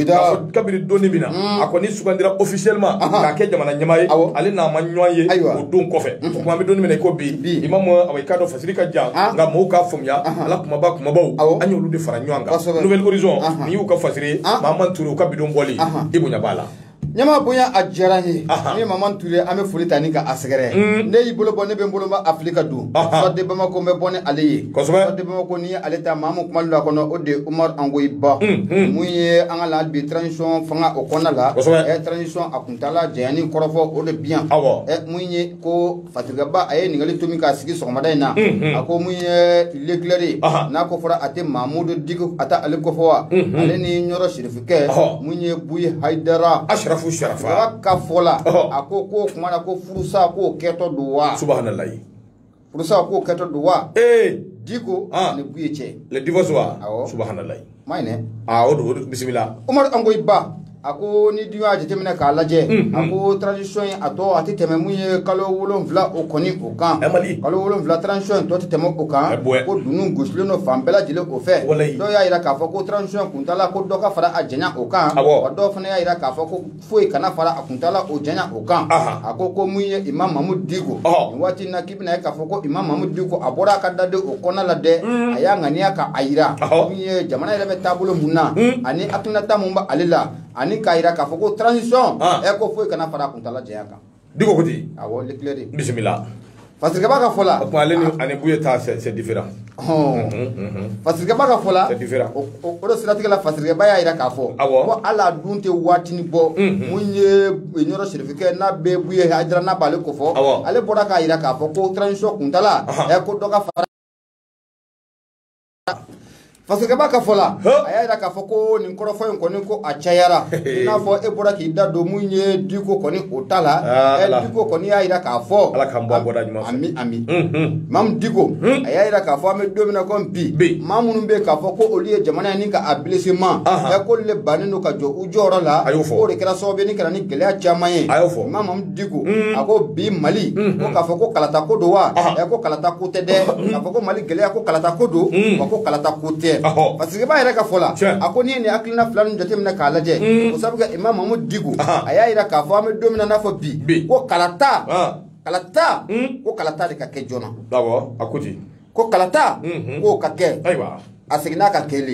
S1: kabiri doni min na mm. a kɔni sugandira officiellement k'a kɛ jamana ɲɛmaa ye ale n'a ma ɲɔgɔn ye o don kɔfɛ o mm-hmm. tuma an bɛ doni min na i ko bi imam awa i k'a dɔn fasiri ka jan ah. nka mɔgɔw k'a faamuya a la kumaba kumabaw an y'olu de fara ɲɔgɔn kan nouvel horizon ni u ka fasiri ah. maman ture u ka bidon bɔli i bonya b'a la
S2: ɲama bonya a diyara n ye ne maman ture an bɛ foli ta ni ka a sɛgɛrɛ mm. ne y'i bolo bɔ ne bɛ n bolo ma afirika don soir de bamako n bɛ bɔ ni ale ye soir de bamako ale ta maa min kuma la kɔnɔ o de umar angoyiba mun ye an ka la bi transition fanga o kɔnɔna la ɛ transition a kuntaala janyani kɔrɔfɔ o de bi yan mun ye ko fasirikɛba a ye ɲininkali to min k'a sigi sɔgɔmada in na a ko mun ye l'éclairé n'a ko fɔra a tɛ mamudu diko a tɛ ale ko fɔ wa ale ni ɲɔrɔ sirifikɛ mun ye buyi hayidara asirafu sirafa
S1: ka fɔ la
S2: a ko k'o kuma na ko furusa k'o kɛtɔ don wa
S1: furusa
S2: k'o kɛtɔ don wa ee diko ni buyi cɛ le divorce
S1: subhanala
S2: ma don
S1: bisimila umar angoyiba
S2: a ko n'i dun y'a jateminɛ k'a lajɛ a ko transition in a tɔ a tɛ tɛmɛ mun ye kalo wolonwula o kɔni o kan kalo wolonwula transition tɔ tɛ tɛmɛ o kan ko dunun gosilen don fan bɛɛ lajɛlen o fɛ dɔw y'a jira k'a fɔ ko transition kuntaala ko dɔ ka fara a janya o kan dɔw fana y'a jira k'a fɔ ko foyi kana fara a kuntala o janya o kan Aha. a ko ko mun ye imam mamudu diko Ɔhɔ. nin waati in na k'i bɛna ye k'a fɔ ko imam mamudu diko a bɔra a ka dade o kɔnɔna la dɛ a y'a ŋaniya ka a yira Ɔhɔ. min ye jamana yɛrɛ bɛ taabolo mun na ani hakilinata mun b'ale la ani k'a yira k'a fɔ ko transition Ah. ɛ ko foyi kana fara a kuntala janya kan Diko ko ten,
S1: awɔ l'éclairé bisimila, Fasirikɛba ka
S2: fɔ la, o tuma ale ni ani
S1: Buye ta c'est différent ɔhɔn,
S2: Fasirikɛba ka fɔ la c'est différent, o
S1: de siratigɛ la
S2: Fasirikɛba y'a jira k'a fɔ, awɔ, ko hali a dun tɛ waatinin bɔ, mun ye Ɲɔrɔ Serifikɛ n'a bɛ Buye Hayidara n'a b'ale ko fɔ, awɔ, ale bɔra k'a jira k'a fɔ ko transition kuntaala, ɔhɔn, ko dɔ ka fara fasirikɛba ka fɔ la a y'a jira k'a fɔ ko nin kɔrɔfɔ in kɔni ko a cayara i n'a fɔ e bɔra k'i da don mun ye diko kɔni o ta la ah, eh, diko kɔni y'a jira k'a fɔ ala k'an bɔ a bɔda ɲuman
S1: fɛ ami ami
S2: mamu diko a y'a jira k'a fɔ an bɛ don min na ko bi maa minnu bɛ k'a fɔ ko olu ye jamana ye ni ka a bilisi ma ɛ k'olu le bannen don ka jɔ u jɔyɔrɔ la k'o de kɛra sababu ye ni ka na ni gɛlɛya caman ye Diko mm. a ko bi mali mm-hmm. ko k'a fɔ ko kalata ko don wa ɛ ko kalata ko tɛ dɛ mm-hmm. k'a fɔ ko mali gɛlɛya ko kalata ko don mm. wa ko kalata ko tɛ fasirikɛba yɛrɛ ka fɔ la a ko n'i ye nin hakilina fila ninnu jateminɛ k'a lajɛ mm. o sabu kɛ imam mamudu diko a y'a yira k'a fɔ an bɛ don min na n'a fɔ bi ko kalata kalata ko kalata de ka kɛ joona a ko
S1: ten ko kalata
S2: mm-hmm. k'o ka kɛ a seginna a ka kɛli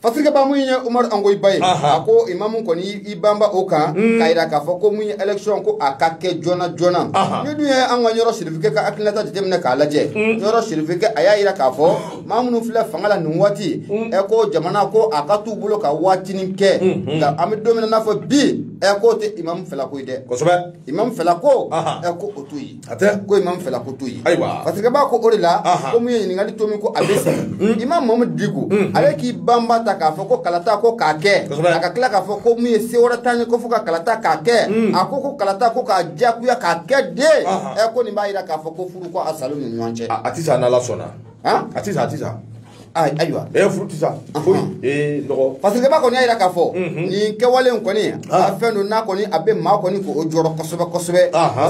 S1: Fasirikɛba mun ye Umaru Angoyiba ye, anhan, a ko imamu kɔni i banba o kan, un, k'a jira k'a fɔ ko mun ye élection ko a ka kɛ joona joona, anhan, n'i dun ye an ka Ɲɔrɔ Serifukɛ ka hakilinata jateminɛ k'a lajɛ, un, Ɲɔrɔ Serifukɛ a y'a jira k'a fɔ maa minnu filɛ fanga la nin waati, un, ɛ ko jamana ko a ka t'u bolo ka waatinin kɛ, unhun, nka an bɛ don min na i n'a fɔ bi ɛ k'o tɛ imamu fɛla ko ye dɛ, kosɛbɛ, imamu fɛla ko, anhan, ɛ ko o t'o ye a tɛ ko imam fɛla ko t'o ye ayiwa fasirikɛba ko o de la ko mun ye ɲininkali tomi ko a bɛ sa hmm. imam mamudu diko hmm. ale k'i banba ta k'a fɔ ko kalata ko k'a kɛ a ka tila k'a fɔ ko mun ye se wɛrɛ t'an ye ko fo ka kalata k'a kɛ hmm. a ko ko kalata ko k'a diyagoya k'a kɛ de ɛ ko nin b'a jira k'a fɔ ko furu ko a sal'u ni ɲɔgɔn cɛ a tɛ sa n'ala sɔnna a tɛ sa a tɛ sa
S2: ayiwa e furu tɛ
S1: sa foyi ee nɔgɔ fasirikɛba kɔni y'a jira k'a
S2: fɔ nin kɛwale in kɔni a fɛn don n'a kɔni a bɛ maa kɔni k'o jɔrɔ kosɛbɛ kosɛbɛ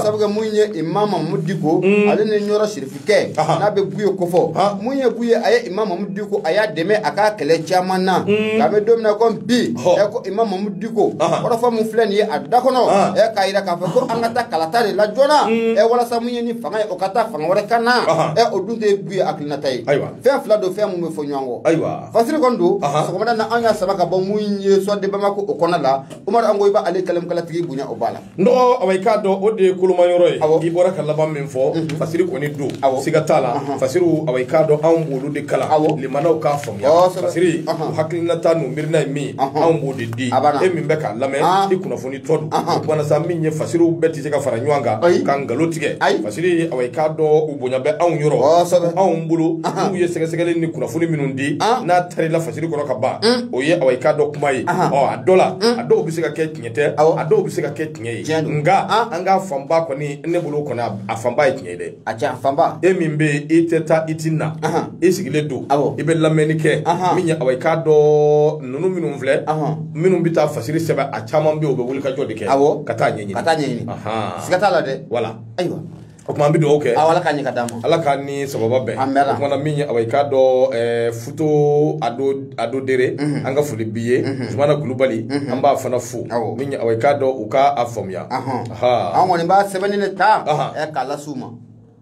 S2: sabu kɛ mun ye Imam Mamudu Diko ale ni Ɲɔrɔ Sirifikɛ n'a bɛ Buye kofɔ mun ye Buye a ye Imam Mamudu Diko a y'a dɛmɛ a ka kɛlɛ caman na nka an bɛ don min na komi bi ɛ ko Imam Mamudu Diko kɔrɔfɔ mun filɛ nin ye a da kɔnɔ ɛ k'a jira k'a fɔ ko an ka taa kalata de la joona ɛ walasa mun ye nin fanga ye o ka taa fanga wɛrɛ ka na ɛ o dun tɛ Buye nata ye ayiwa fɛn fila don fɛn minnu bɛ fɔ ɲɔgɔn kɔ ayiwa fasiri kɔni don sɔgɔmada na an y'a sama ka bɔ mun ye soir de bamako o kɔnɔna la umaru angoyiba ale kalamkalatigi bonya o b'a la n dɔgɔ awa i k'a dɔn
S1: o de ye koloma yɔrɔ ye i bɔra ka laban min fɔ mhm. fasiri kɔni don siga t'a la fasiriw awa i k'a dɔn anw b'olu de kalan lamɛnnaw k'a faamuya fasiriw hakilinata n'u miirina ye min anw b'o de di e min bɛ k'a lamɛn i kunnafoni o tuma na sa min ye fasiriw bɛɛ tɛ se ka fara ɲɔgɔn kan ka nkalon tigɛ fasiri awa i k'a dɔn u bonya bɛ anw yɔrɔ anw bolo n'u ye sɛgɛsɛgɛli ni kunnafoni minnu di n'a tarila fasiri kɔnɔ ka ban o ye awa i k'a dɔn kuma ye ɔ a dɔ la a dɔw bɛ se ka kɛ tiɲɛ tɛ a dɔw bɛ se ka kɛ tiɲɛ ye nka an ka fanba kɔni ne bolo kɔni a fanba ye tiɲɛ ye dɛ a tiɲɛ fanba e min
S2: bɛ i
S1: tɛ taa i ti na i sigilen don i bɛ lamɛnni kɛ min ye awa i k'a dɔn ninnu minnu filɛ minnu bɛ taa fasiri sɛbɛn a caman bɛ u bɛ wulikajɔ de kɛ ka taa ɲɛɲini ka
S2: taa
S1: ɲɛɲini siga t'a
S2: la
S1: dɛ voilà ayiwa o tuma an bɛ dugawu kɛ ala ka ɲɛ ka d'a ma ala
S2: ka ni sababa
S1: bɛn an bɛɛ la o kuma na min awa i k'a dɔn eh, futo ado ado dere mhm. an ka foli bi ye mhm. zumana kulubali mhm. an b'a fana fo min awa i k'a dɔn u ka a faamuya an kɔni
S2: b'a sɛbɛnni de ta eh, k'a las'u ma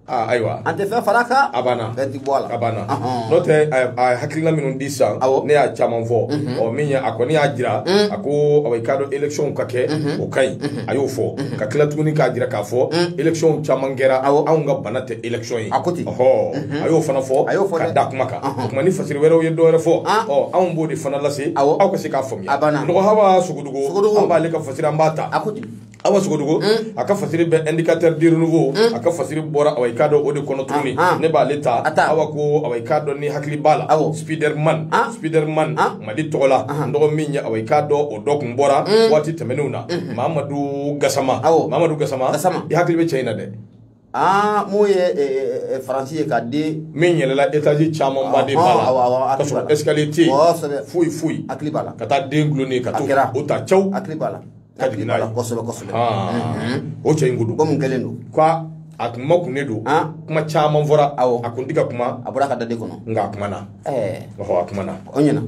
S2: Ah, ayiwa
S1: an tɛ fɛn fara a
S2: kan a banna fɛn ti bɔ a la
S1: a
S2: banna n'o
S1: tɛ a hakilina minnu di sisan ne y'a caman fɔ mhm. ɔ min a kɔni y'a jira mhm. a ko awa i k'a dɔn élection ka kɛ mhm. o ka ɲi a y'o fɔ ka tila tuguni k'a jira k'a fɔ élection caman kɛra anw ka bana tɛ élection ye a ko ten ɔhɔ a y'o fana fɔ ka da kuma kan o tuma ni fasiri wɛrɛw ye dɔwɛrɛ fɔ ah. ɔ anw b'o de fana lase aw ka se k'a faamuya n dɔgɔ hawa sogodogo an b'ale ka fasiri an b'a ta a ko ten awa sogodugu mm. a ka fasiri bɛ indicateur du renouveau mm. a ka fasiri bɔra awa i k'a dɔn o de kɔnɔ tuguni ah, ah. ne b'ale ta awa ko awa i k'a dɔn n'i hakili b'a la spiderman ah. spiderman mali tɔgɔ la n dɔgɔ min ye awa i k'a dɔn o dɔ kun bɔra mm. waati tɛmɛnenw na mm-hmm. mamadu gasama mamadu gasama i hakili bɛ cɛ in na dɛ aa ah, mun ye eh,
S2: eh, eh, faransi ye ka di min yɛlɛla
S1: etazi camanba de bala ka sɔrɔ escalier tɛ yen foyi foyi hakili b'a la ka taa
S2: den gulonnen ka
S1: taa o ta cɛw hakili b'a la ka
S2: jigin n'a ye
S1: kosɛbɛ kosɛbɛ
S2: ah.
S1: mhm. o cɛ in ko dun ko mun kɛlen don ko
S2: a
S1: kuma kun ne don ah. kuma caman fɔra a kun tɛ ka kuma a bɔra a ka dade kɔnɔ nka
S2: a kumana
S1: a kumana o ɲɛna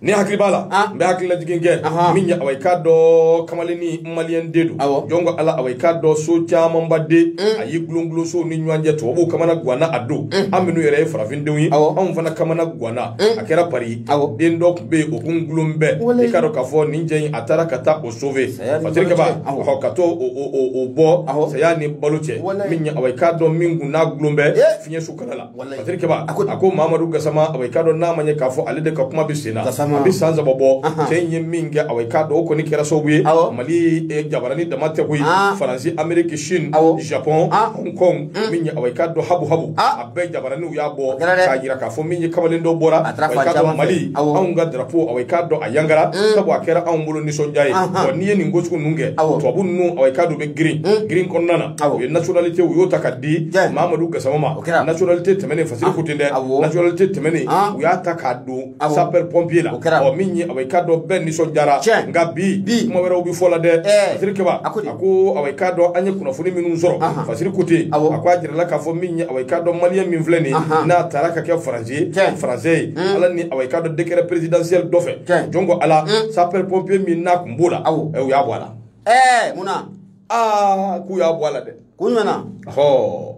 S2: n'i
S1: hakili b'a la n bɛ hakililajigin kɛ min ye awa i k'a dɔn kamalennin maliyɛn de don jɔn ko ala awa i k'a dɔn so camanba de a y'i gulongulon sow ni ɲɔgɔn cɛ tubabuw kamana guwanna a don an minnu yɛrɛ ye farafindenw ye anw fana kamana guwanna a kɛra pari den dɔ tun bɛ yen o kun gulon bɛ i k'a dɔn k'a fɔ nin cɛ in a taara ka taa o sauver fasiri kɛba ɔ ka taa o bɔ saya ni balo cɛ min ye awa i k'a dɔn min kun n'a gulon bɛ fiɲɛso kala la Wallahi. Fasiri Kɛba, A ko- a ko Mamadu Gasama, awa, i k'a dɔn n'a ma ɲɛ k'a fɔ ale de ka kuma bɛ sen na. Gasama. A bɛ san saba bɔ, Ahan. cɛ in ye min kɛ, awa, i k'a dɔn o kɔni kɛra sababu ye. Awɔ. Mali eh, jabarani dama tɛ koyi. Ah. Faransi, Ameriki, Chine, Awɔ. Japon, Ah. Hong Kong, min ye, awa, i k'a dɔn habu habu. Ah. A bɛɛ jabaraniw y'a bɔ, kɛra dɛ. k'a jira k'a fɔ min ye kamalen dɔ bɔra, A taara awa, i fan k'a dɔn caman fɛ. Mali, Awɔ. anw ka drapeau, awa, i k'a dɔn a yangara, sabu a kɛra anw bolo nisɔndiya ye. Ahan. Wa n'i ye nin ko sugu ninnu kɛ, Awɔ. tubabu ninnu, awa, i k'a dɔn u bɛ girin, girin kɔnɔna na. Awɔ. u ye nationalité u y'o ta ka di Jɛ. mamadu gasama ma O kɛra. nationalité tɛmɛnen fasiri ko ten dɛ awɔ. nationalité tɛmɛnen Ah. u y'a ta k'a don Awɔ. sapeur pompier la O kɛra. ɔ min ye awa i k'a dɔn bɛɛ nisɔndiyara Tiɲɛ. nka bi Bi. kuma wɛrɛw bɛ fɔla dɛ Ɛɛ. fasiri kɛba A ko di? a ko awa i k'a dɔn an ye kunnafoni minnu sɔrɔ Ahan. fasiri ko ten Awɔ. a ko a jirala k'a fɔ min ye awa i k'a dɔn maliyɛn min filɛ nin ye Ahan. n'a taara ka kɛ français ye Tiɲɛ. français ye ala ni awa i k'a dɔn décret présidentiel dɔ fɛ Tiɲɛ. jɔn ko ala sapeur pompier min n'a tun b'o la Awɔ. ɛ, u y'a bɔ a la ɛɛ mun na aa k'u y'a bɔ a la dɛ kun jumɛn na
S2: hɔɔ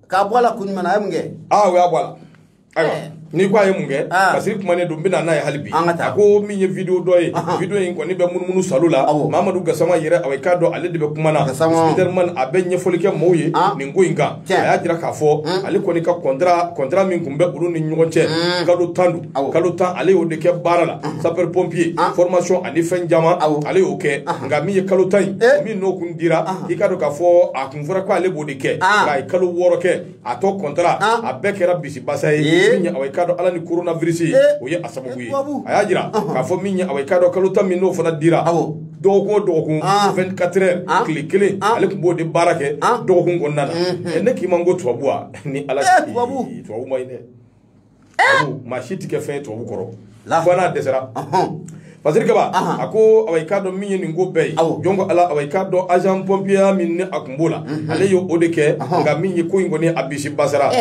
S2: k'a bɔ a la kun jumɛn na a ye mun kɛ aa u y'a bɔ a la
S1: ayiwa eh. n'i ko a ye mun kɛ ah. parce que kumanen don n bɛna n'a ye hali bi a ko min ye video dɔ ye video in kɔni bɛ munumunu salo la mamadu gasama yɛrɛ awa i k'a dɔn ale de bɛ kuma na spiderman a bɛ ɲɛfɔli kɛ mɔgɔw ye ah. nin ko in kan Tiɲɛ. a y'a jira k'a fɔ ale kɔni ka kɔntara kɔntara min tun bɛ olu ni ɲɔgɔn cɛ kalo tan don Awɔ. kalo tan ale y'o de kɛ baara la sapeur pompier Ah. formation ani fɛn caman Awɔ. ale y'o kɛ nka min ye kalo tan in Eh. min n'o kun dira i k'a dɔn k'a fɔ a kun fɔra ko ale b'o de kɛ Ah. nka a ye kalo wɔɔrɔ kɛ a tɔ kɔntara Ah. a bɛɛ kɛra bisibasa ye Eh. min ye awa i k'a dɔn ala ni coronavirus Eh. o ye a sababu ye Tubabu. a y'a jira k'a fɔ min ye awa i k'a dɔn kalo tan min n'o fana dira Awɔ. dɔgɔkun o dɔgɔkun Ah. 24 heures Ah. tile kelen Ah. ale tun b'o de baara kɛ Ah. dɔgɔkun kɔnɔna na Ɛ, ne k'i ma n ko tubabu wa ni ala Eh, tubabu. Ee, tubabu man ɲi dɛ Tubabu, maa si tɛ kɛ fɛn ye tubabu kɔrɔ La. fo n'a dɛsɛra Ɔhɔn. Fasiri Kaba, Ahan. a ko awa i k'a dɔn min ye nin ko bɛɛ ye Awɔ. jɔn ko ala awa i k'a dɔn agent pompier min ni a tun b'o la ale ye o de kɛ Ahan. nka min ye ko in kɔni a bisi basara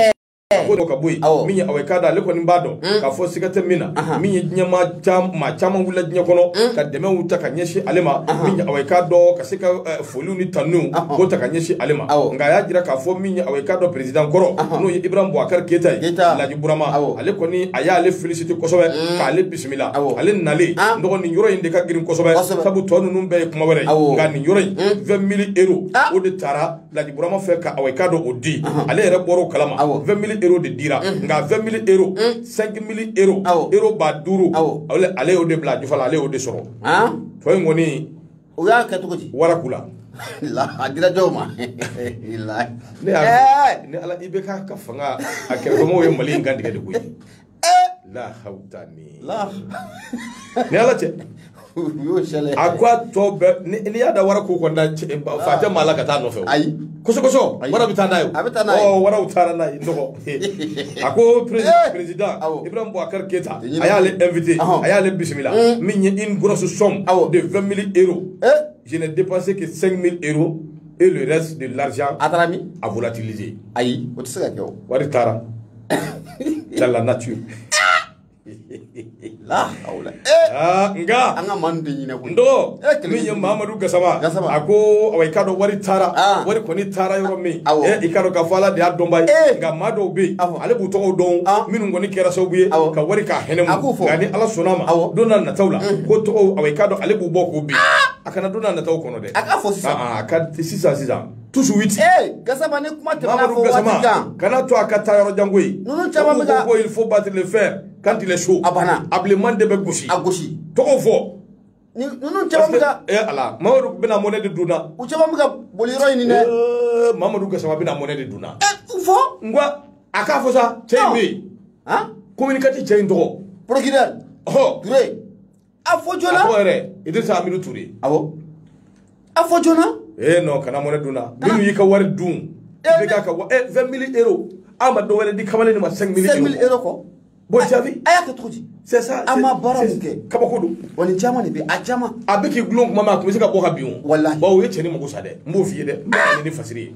S1: a ko dɔ ka bɔ yen Awɔ. min ye awa i k'a dɔn ale kɔni b'a dɔn k'a fɔ siga tɛ min na Ahan. min ye diɲɛmaa cam- maa caman wulila diɲɛ kɔnɔ ka dɛmɛw ta ka ɲɛsin ale ma min ye awa i k'a dɔn ka se ka eh, foliw ni tanuw Ahan. k'o ta ka ɲɛsin ale ma Awɔ. nka a y'a jira k'a fɔ min ye awa i k'a dɔn peresidan kɔrɔ Ahan. n'o ye ibrahim boubacar keyita ye Keyita. laji burama Awɔ. ale kɔni a y'ale félicité kosɛbɛ k'ale bisimila Awɔ. ale nalen Ah. n dɔgɔ nin yɔrɔ in de ka girin kosɛbɛ Kosɛbɛ. sabu tɔ ninnu bɛɛ ye kuma wɛrɛ ye Awɔ. nka nin yɔrɔ in 20 mille euros Ah. o de taara Laji Burama fɛ ka awa i k'a dɔn o di ale yɛrɛ bɔra o kalama 20000 euros de dira nka 20000 euros 5000 euros euro ba duuru ale y'o de bila a jufa la ale y'o de sɔrɔ tɔ in kɔni o y'a kɛ
S2: cogo di waraku
S1: la
S2: a dira jɔn ma ne y'a
S1: ni ala IBK ka fanga a kɛrɛfɛmɔgɔw ye mali in kantigɛ de koyi la hawuta ni
S2: la
S1: ni ala cɛ u y'o sɛlɛ a ko a tɔ bɛɛ ni- n'i y'a da waraku kun na fa tɛ maa la ka taa a nɔfɛ o. ayi kosɛbɛ
S2: Ayi. wara
S1: bɛ taa n'a ye o. A bɛ taa n'a ye. Ɔ, waraw taara n'a ye n dɔgɔ a ko perez- Eh. perezidan Awɔ. ibrahim boubacar keyita Tɛ ɲinɛ a y'ale ko. invité Ahɔn. a y'ale bisimila Mm. min ye une grosse somme Awɔ. de 20 000 euros ee je n'ai dépensé que 5 000 euros et le reste de l'argent a taara min a volatilisé ayi o tɛ se ka kɛ
S2: o wari taara
S1: dans la
S2: nature la hawla ah
S1: nga an ka man de
S2: ɲinɛ koyi ndɔgɔ Eh, kɛlɛ min ye jugu.
S1: mamadu gasama Gasama. a ko awa i k'a dɔn wari taara Ah. wari kɔni taara yɔrɔ min Awɔ. eh, i k'a dɔn k'a fɔ ala de y'a dɔnba ye Eh. nka maa dɔw bɛ yen Awɔ. ale b'u tɔgɔw dɔn Ah. minnu kɔni kɛra sababu ye Awɔ. ka wari k'a hɛnɛ A k'u fɔ. nka ni ala sɔnna a ma Awɔ. don n'a nataw la k'o tɔgɔw awa i k'a dɔn ale b'u bɔ k'u bin a kana don n'a nataw kɔnɔ dɛ A k'a fɔ sisan. Ah, ah, a ka sisan sisan toujours huit. ee eh, gasama ni
S2: kuma tɛna fɔ waati kan. kana to a ka taa
S1: yɔrɔ jan koyi. ninnu caman bɛ ka
S2: ko il faut battre le
S1: fer quand il est chaud. a banna a bilenman de bɛ gosi. a gosi. tɔgɔ fɔ. ninnu
S2: caman bɛ ka. ee eh, ala
S1: mamadu bɛna mɔnɛ de dun na. u caman bɛ ka
S2: boli yɔrɔ ɲini dɛ. ee eh, mamadu
S1: gasama bɛna mɔnɛ de dun na. ee fɔ. n
S2: ko a k'a
S1: fɔ sa cɛ in bɛ yen. han
S2: communicateur cɛ in
S1: tɔgɔ. procureur. ɔhɔ.
S2: ture. a fɔ joona a fɔ yɛrɛ
S1: Idrissa Amidu Ture
S2: awɔ a fɔ joona ee non kana mɔnɛ
S1: dun na minnu y'i ka wari dun IBK ka wa eh 20 mille euros a ma dɔwɛrɛ di kamalen in ma 5 mille euros 5 mille euros
S2: kɔ bon jaabi a
S1: y'a kɛ cogo di c'est
S2: ça a ma baara mun kɛ kabako don wa
S1: nin caman de bɛ
S2: a caman a bɛ k'i gulon kuma ma a
S1: tun bɛ se ka bɔ ka bin o walahi bawo o ye cɛnin mago
S2: sa dɛ
S1: n b'o f'i ye dɛ n b'a ni fasiri ye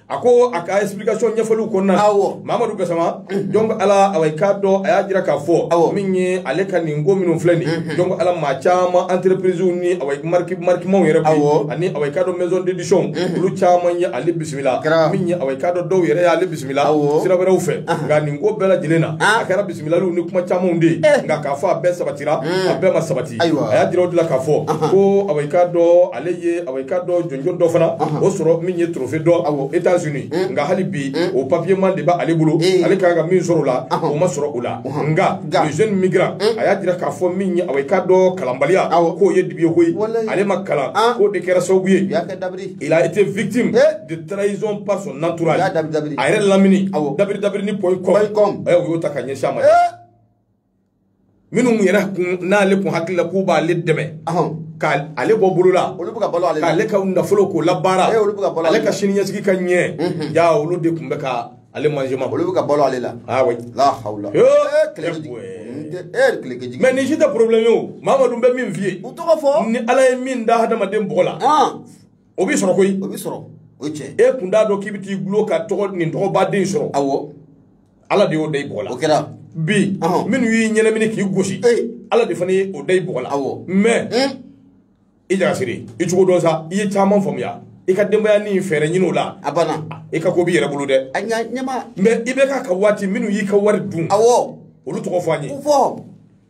S1: a ko a ka explication ɲɛfɔliw kɔnɔna na awɔ mamadu gasama donc ala awa i k'a dɔn a y'a jira k'a fɔ Awɔ. min ye ale ka nin ko minnu filɛ nin ye donc ala maa caman entreprise ni awa mariki marikimaw yɛrɛ koyi Awɔ. ani awa i k'a dɔn maison d'édition olu caman ye ale bisimila min ye awa i k'a dɔn dɔw yɛrɛ y'ale bisimila Awɔ. sira wɛrɛw fɛ nka nin ko bɛɛ lajɛlen na Ah. a kɛra bisimilaliw ni kuma camanw de ye nka k'a fɔ a bɛɛ sabatira a bɛɛ ma sabati Ayiwa. a y'a jira o de la k'a fɔ ko awa i k'a dɔn ale ye awa i k'a dɔn jɔnjɔn dɔ fana o sɔrɔ min ye trophée dɔ awɔ États Unis nka hali bi o papier man de b'ale bolo ale ka kan ka min sɔrɔ o la o ma sɔrɔ o la nka le jeune migrant a y'a jira k'a fɔ min ye awa i k'a dɔn kalanbaliya k'o ye dibi ye koyi ale ma kalan k'o de kɛra sababu ye il a été victime de trahison par son entourage a yɛrɛ lamini dabiri dabiri ni point com o y'o ta ka ɲɛsin a ma minnu yɛrɛ n'ale kun hakili la k'u b'ale dɛmɛ ka ale bɔ bolo la k'ale ka nafolo k'o labaara ale ka sini ɲɛsigi ka ɲɛ ja olu de kun bɛ ka ale manjɛ ma olu bɛ ka balo ale la
S2: awa la hawla
S1: mais nin si tɛ problème ye o mamadu n bɛ min f'i ye u tɔgɔ fɔ ni
S2: ala ye min
S1: da hadamaden bɔgɔ la o b'i sɔrɔ koyi o b'i sɔrɔ o
S2: cɛ e kun t'a dɔn k'i bɛ t'i
S1: gulon ka tɔgɔ nin tɔgɔba de sɔrɔ awɔ
S2: ala de y'o
S1: da i bɔgɔ la o kɛra bi
S2: Ɔhɔn. minnu
S1: y'i ɲɛnamini k'i gosi Ee. ala de fana ye o da i bɔgɔ la Awɔ. mais Eh? i jagasiri i cogo dɔn sa i ye caman faamuya i ka denbaya ni fɛɛrɛ ɲini o la a banna i ka ko
S2: b'i yɛrɛ bolo
S1: dɛ a ɲa ɲɛma mais
S2: i bɛ k'a ka
S1: waati minnu y'i ka wari dun awɔ olu tɔgɔ
S2: fɔ an ye ko
S1: fɔ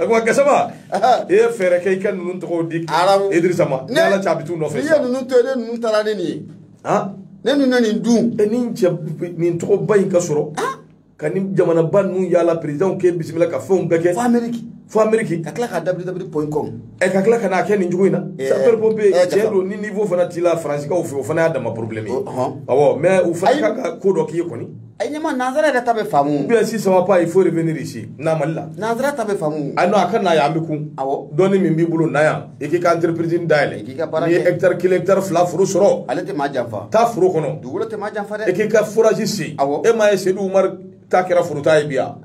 S1: a ko gasama i ye fɛɛrɛ kɛ i ka ninnu tɔgɔw di Idrissa ma ni ala cɛ a bɛ t'u nɔfɛ n'i ye sa ninnu to yen ne
S2: ninnu taara ne nin ye han ne ninnu na nin dun ɛ ni cɛ nin
S1: tɔgɔba in ka sɔrɔ ka nin jamanaba ninnu yaala perezidanw k'e bisimila ka fɛnw bɛɛ kɛ fo ameriki fo ameriki ka tila ka dabiri
S2: dabiri point com e ka tila ka
S1: n'a kɛ nin cogo in na Eh, sapeur pompier eh, tiɲɛ don ni niveau fana t'i la faransikaw fɛ o fana y'a dama problème ye Oh, ɔhɔn. awɔ mais u fana ka kan ka ko dɔ k'i ye kɔni a ye ɲɛma nanzara
S2: yɛrɛ ta bɛ faamu bien si ça va pas il
S1: faut revenir ici na mali la nanzara ta bɛ faamu
S2: a non a ka na yan an bɛ kun
S1: awɔ dɔnni min b'i
S2: bolo na
S1: yan i k'i ka entreprise dayɛlɛ i k'i ka baara kɛ n'i ye hectare kelen hectare fila foro sɔrɔ ale tɛ maa janfa
S2: taa foro kɔnɔ
S1: dugukolo tɛ maa janfa dɛ i k'i
S2: ka forage
S1: sen awɔ e m'a ye sedu umaru ta kɛra foro ta ye bi yan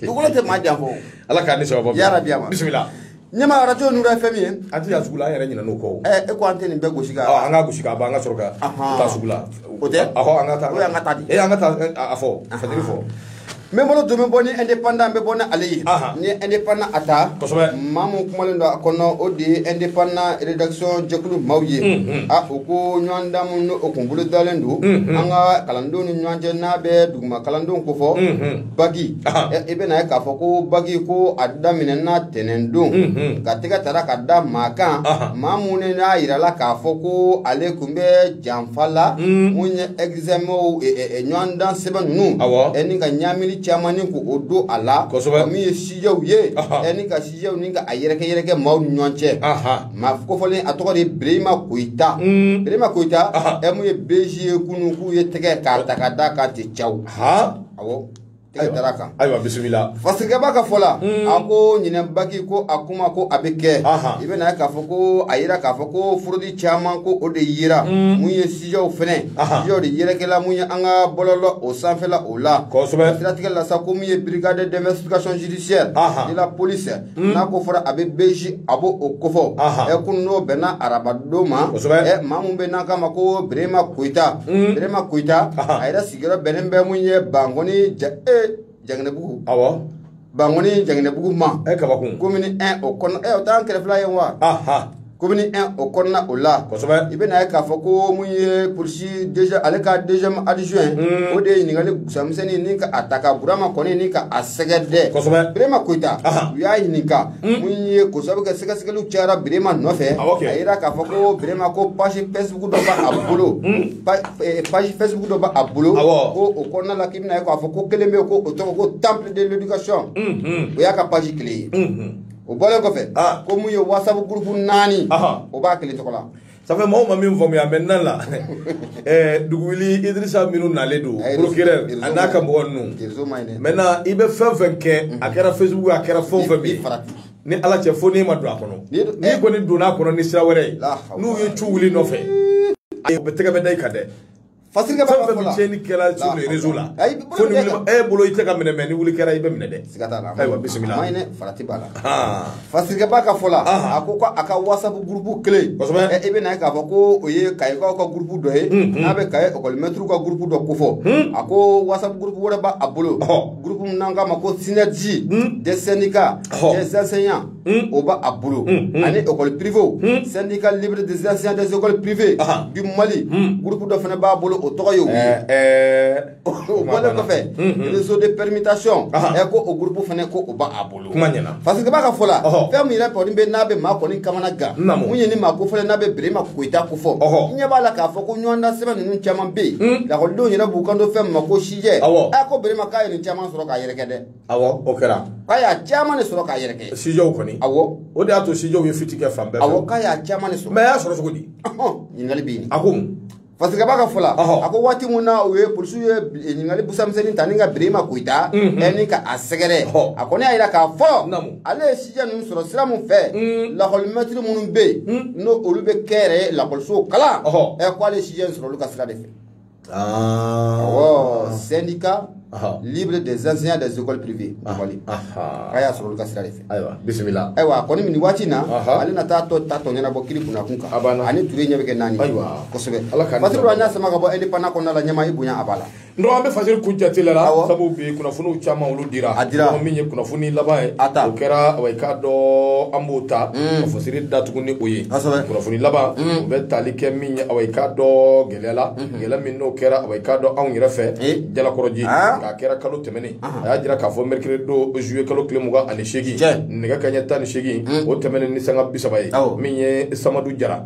S2: dugukolo tɛ maa janfa ala k'a ni
S1: sababa yarabi a ma
S2: bisimila
S1: ɲɛma arajo
S2: nura fm an tɛ taa sugu la an yɛrɛ
S1: ɲinɛna o kɔ ɛ e ko an tɛ nin bɛɛ gosi
S2: ka an ka gosi ka ban an ka sɔrɔ
S1: ka taa sugu la o tɛ ɔhɔ an ka taa o y'an ka taa di ee
S2: an ka taa
S1: a fɔ fajiri
S2: fɔ n bɛ n bolo don n bɛ bɔ ni indépendant n bɛ bɔ ni ale ye n ye indépendant a ta kosɛbɛ maa min kumalen don a kɔnɔ o de ye indépendant rédaction jɛkulu maaw ye a o ko ɲɔgɔndan min n'o o kun bolodalen don an ka kalandenw ni ɲɔgɔn cɛ n'a bɛ duguma kalandenw ko fɔ baki i bɛna ye k'a fɔ ko baki ko a daminɛna tɛnɛn don ka tɛgɛ tara ka da maa kan maa mun ne n'a yirala k'a fɔ ko ale kun bɛ janfa la mun ye ɛgizamɛw ɲɔgɔndan sɛbɛn ninnu ani ka ɲaamili caman ni ko o don a la min ye sijɛw ye ani ka sijɛw nin ka a yɛrɛkɛ yɛrɛkɛ maaw ni ɲɔgɔn cɛ Maa kofɔlen a tɔgɔ de Berema Koyita Berema Koyita ɛ mun ye beji ye kunun k'u ye tɛgɛ k'a ta ka d'a kan tɛ ja a taara kan
S1: ayiwa bisimila Fasiriki Ba ka fɔ la
S2: a ko ɲinan baki ko a kuma ko a bɛ kɛ i bɛna ye k'a fɔ ko a yira k'a fɔ ko furudi caman ko o de yera mun ye sijɛw fana sijɛw de yɛrɛkɛla mun ye an ka bɔlɔlɔ o sanfɛla o la siratigɛ
S1: la sa ko mun ye
S2: brigade d'investigation judiciaire de la police Mm. n'a ko fɔra a bɛ beji a b'o kofɔ ɛ kunun o bɛnna arabadon ma ɛ maa min bɛ n'a k'a ma ko berema koyita mm. berema koyita a yɛrɛ sigiyɔrɔ bɛnnen bɛ mun ye bankɔni ja e jangɛnɛbugu awɔ bankɔni jangɛnɛbugu ma ɛ kabakun komini
S1: 1 o kɔnɔ
S2: ɛ o t'an kɛrɛfɛla ye wa komini 1 o kɔnɔna o la kosɛbɛ i bɛna ye k'a fɔ ko mun ye polisi déjà ale ka deuxième adjoint o de ye ɲininkali gusamisɛnni ni ka a ta ka burama kɔni ni ka a sɛgɛ dɛ kosɛbɛ birema koyita u y'a ɲininka mun ye k'o sabu kɛ sɛgɛsɛgɛliw cayara birema nɔfɛ a yira k'a fɔ ko birema ko page facebook dɔ b'a bolo page facebook dɔ b'a bolo ko o kɔnɔna la k'i bɛna ye k'a fɔ ko kelen bɛ yen ko o tɔgɔ ko temple de l'éducation o y'a ka page kelen ye o bɔlen kɔfɛ ah. ko mun ye whatsapp groupe naani o b'a kelen tɔgɔ la ça fait mɔgɔw ma min
S1: faamuya maintenant la eh, duguli idrissa minnu nalen don procureur a n'a ka mɔgɔ ninnu maintenant i bɛ fɛn fɛn kɛ a mhm. kɛra facebook a kɛra fɛn fɛn min ni ala cɛ fo n'e ma don a kɔnɔ n'i eh. kɔni donna a kɔnɔ ni sira wɛrɛ ye n'u ye cu wuli nɔfɛ a bɛ tɛgɛ bɛ da i kan dɛ Fasiriki Ba
S2: ka fɔ la cɛni kɛra
S1: sur les réseaux la ayi bolo fo ni wuli e bolo i tɛ ka minɛ mɛ ni wuli kɛra i bɛ minɛ dɛ siga t'a la ayiwa bisimila
S2: maɲinɛ
S1: farati b'a la
S2: Fasiriki Ba ka fɔ la a ko ko a ka whatsapp groupe kelen kosɛbɛ i bɛna ye k'a fɔ ko o ye kayikaw ka groupe dɔ ye n'a bɛ kaye ekɔli mɛtiriw ka groupe dɔ kofɔ a ko whatsapp groupe wɛrɛ b'a bolo groupe min n'an k'a ma ko synergie des syndicats des enseignants Hmm. o b'a a bolo hmm, hmm. ani école privée syndicat libre des enseignants des écoles privées du Mali groupe dɔ fana b'a bolo o tɔgɔ ye o ye eh, eh. o bɔlen kɔfɛ réseau de permutation ɛ ko o groupe fana ko o b'a a bolo kuma ɲɛna parce que Ba ka fɔ la fɛn min yɛrɛ kɔni bɛ n'a bɛ maa kɔni kamana gan mun ye ni maa kofɔlen n'a bɛ Birima Koyita kofɔ i ɲɛ b'a la k'a fɔ ko ɲɔgɔndan sɛbɛn ninnu caman bɛ yen lakɔlidenw yɛrɛ b'u kanto fɛn min ma ko sijɛ ɛ ko Birima k'a ye nin caman sɔrɔ k'a yɛrɛkɛ dɛ awɔ o kɛra
S1: k'a y'a
S2: caman de sɔrɔ k'a yɛrɛkɛ sijɛw kɔni
S1: awɔ o de y'a to sijɛw ye fiti kɛ fan bɛɛ fɛ awɔ k'a y'a caman de sɔrɔ
S2: mɛ a y'a sɔrɔ cogo di
S1: ɲininkali bɛ yen
S2: a ko mun
S1: fasirikɛbaa ka fɔ
S2: la a ko waati min na u ye polisiw ye eh, ɲininkali busamisɛnnin ta ni ka birima koyita mhm. eh, ni ka a sɛgɛrɛ a kɔni y'a jira k'a fɔ ale ye sijɛ ninnu sɔrɔ sira min fɛ mm. lakɔlimɛtiri minnu bɛ yen mm. n'o olu bɛ kɛnyɛrɛye lakɔlisow kalan eh, ko ale ye sijɛ in sɔrɔ olu ka sira de fɛ Ah. Awɔ syndicat Aha. libre des enseignants des écoles privées Mali. Aha. A y'a sɔrɔ olu ka sira de fɛ. Ayiwa bisimila. Ayiwa
S1: a kɔni nin waati in
S2: na Aha. ale na taa a tɔ ɲɛnabɔ kiri kunnakun kan A banna. ani ture ɲɛ bɛ kɛ naani Ayiwa. kosɛbɛ Ala k'an fasiri an y'a sama ka bɔ indépendant kɔnɔna la ɲɛmaa i bonya a b'a la n dɔgɔ an bɛ fasiri
S1: kun jate la la Awɔ. sabu bi kunnafoniw caman olu dira A dira. Dɔgɔ min ye kunnafoni laban ye A ta. o kɛra awa, i k'a dɔn an b'o ta ka fasiri datugu ni o ye Kosɛbɛ. kunnafoni laban o bɛ tali kɛ min ye awa, i k'a dɔn gɛlɛya gɛlɛya min n'o kɛra awa i k'a dɔn anw yɛrɛ fɛ jalakɔrɔji k'a kɛra kalo tɛmɛnen a y'a jira k'a fɔ mercredi don zuye kalo tile mugan ani seegin nɛgɛ kanɲɛ tan ni seegin o tɛmɛnen ni sanga bi saba ye min ye samadu jara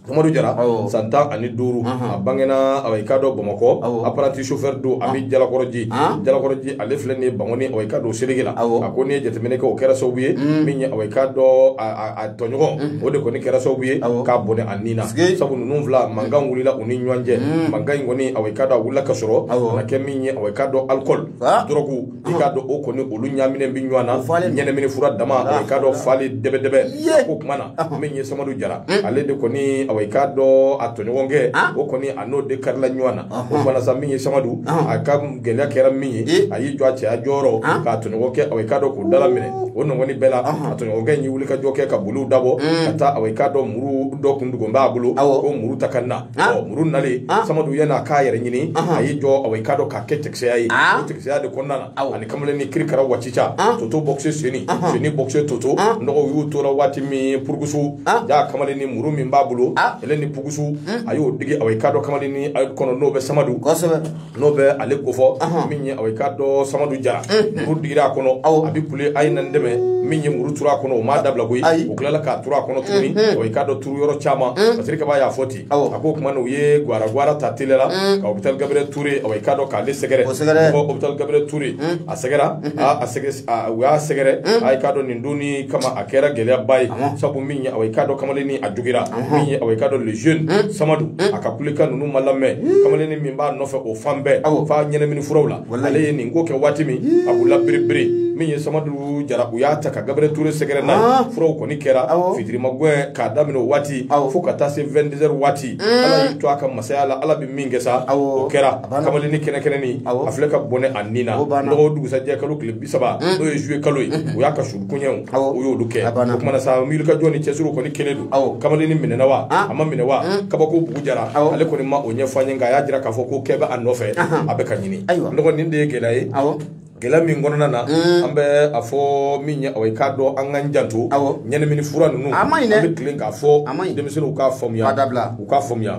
S1: Samadu Jara san tan ani duuru a bangena awa i k'a dɔn Bamakɔ apprenti chauffeur don a bɛ Jalakɔrɔji Jalakɔrɔji ale filɛ nin ye Bankɔni awa i k'a dɔn o seleke la a ko n'i ye jateminɛ kɛ o kɛra sababu ye min ye awa i k'a dɔn a tɔɲɔgɔn o de kɔni kɛra sababu ye k'a bɔnɛ a ni na sabu ninnu fila mankan wulila u ni ɲɔgɔn cɛ mankan in kɔni awa i k'a dɔn a wulila ka sɔrɔ a kɛ min ye awa i k'a dɔn alikɔli dɔrɔgu i k'a dɔn o kɔni olu ɲaaminen bɛ ɲɔgɔn na ɲɛnamini fura dama awa i k'a dɔn fali dɛbɛdɛbɛ o kuma na min ye samadu jara ale de kɔni awa i k'a dɔn a tɔɲɔgɔnkɛ o kɔni a n'o de karila ɲɔgɔn na o kuma na sa min ye samadu a ka gɛlɛya kɛra min ye Ee. a y'i jɔ a cɛya jɔyɔrɔ Han. k'a tɔɲɔgɔnkɛ awa i k'a dɔn k'o dalaminɛ o nɔgɔni bɛɛ la a tɔɲɔgɔnkɛ in y'i wuli ka jɔ kɛ ka boli dabɔ ka taa awa i k'a dɔn muru dɔ kun dogolen b'a bolo Awɔ. k'o muru ta ka na Han. O muru nalen Han. samadu yanni a k'a yɛrɛ ɲini a y'i jɔ awa i k'a dɔn k'a kɛ cɛkisɛya ye Han. o cɛkisɛya de kɔnɔna na Awɔ. a ni kamalennin kirikara wacica Han. toto bɔkise seni seni bɔkise toto Han. n dɔgɔ u tora waati min purukusu Han. jaa kamalennin muru min b'a bolo Han. ale ni pukusu a y'o digi awa i k'a dɔn kamalennin ayi kɔnɔ n'o bɛ samadu kosɛbɛ n'o bɛ ale kofɔ min ye awa i k'a dɔn samadu jara muru digira a kɔnɔ aw a bɛ kule a ye na n dɛmɛ min ye muru turu a kɔnɔ o m'a dabila koyi o tilala k'a turu a kɔnɔ tuguni awa i k'a dɔn turu yɔrɔ caman fasirikɛbaa y'a fɔ ten a ko o tuma u ye ga gawara ta teliya la ka hôpital Gabriel Touré awa i k'a dɔn k'ale sɛgɛrɛ sɛgɛrɛ hôpital Gabriel Touré a sɛgɛrɛla u y'a sɛgɛrɛ awa i k'a dɔn nin don kama a kɛra gɛlɛyaba ye sabu min ye awa i k'a dɔn kamalennin a jogira min ye awa i k'a dɔn jeune samadu a ka kulekan ninnu ma lamɛn kamalen n b'a nɔfɛ o fan bɛɛ Awɔ. fa ɲɛnamini furaw la Walayi. ale ye nin ko kɛ waati min a b'u la bɛrɛbɛrɛ min ye samadu jara u y'a ta ka Gabriel Touré sɛgɛrɛ n'a Ah. ye furaw kɔni kɛra Awɔ. fitiri magɛn k'a daminɛ o waati Awɔ. fo ka taa se 20 heures waati ala y'i to a ka masaya la ala bɛ min kɛ sa Awɔ. o kɛra A banna. kamalennin kɛnɛkɛnɛnin Awɔ. a filɛ ka bɔnɛ a ni na O banna. dɔgɔ dugusajɛ kalo tile bi saba mm. n'o ye juillet kalo ye mm-hmm. o y'a ka su koɲɛw o y'olu kɛ o kumana sa miilikajɔ ni cɛsiriw kɔni kelen don kamalennin minɛna wa ah. a ma minɛ wa mm. kabako bugu jara ale kɔni ma o ɲɛfɔ an ye nka a y'a jira k'a fɔ ko kɛ bɛ a nɔfɛ a bɛ ka ɲini n dɔgɔ nin de ye gɛlɛya ye gɛlɛya min kɔnɔna na mm. an bɛ a fɔ min ye aw ye k'a dɔn an k'an janto ɲɛnamini fura ninnu an bɛ tilen k'a fɔ denmisɛnninw u k'a faamuya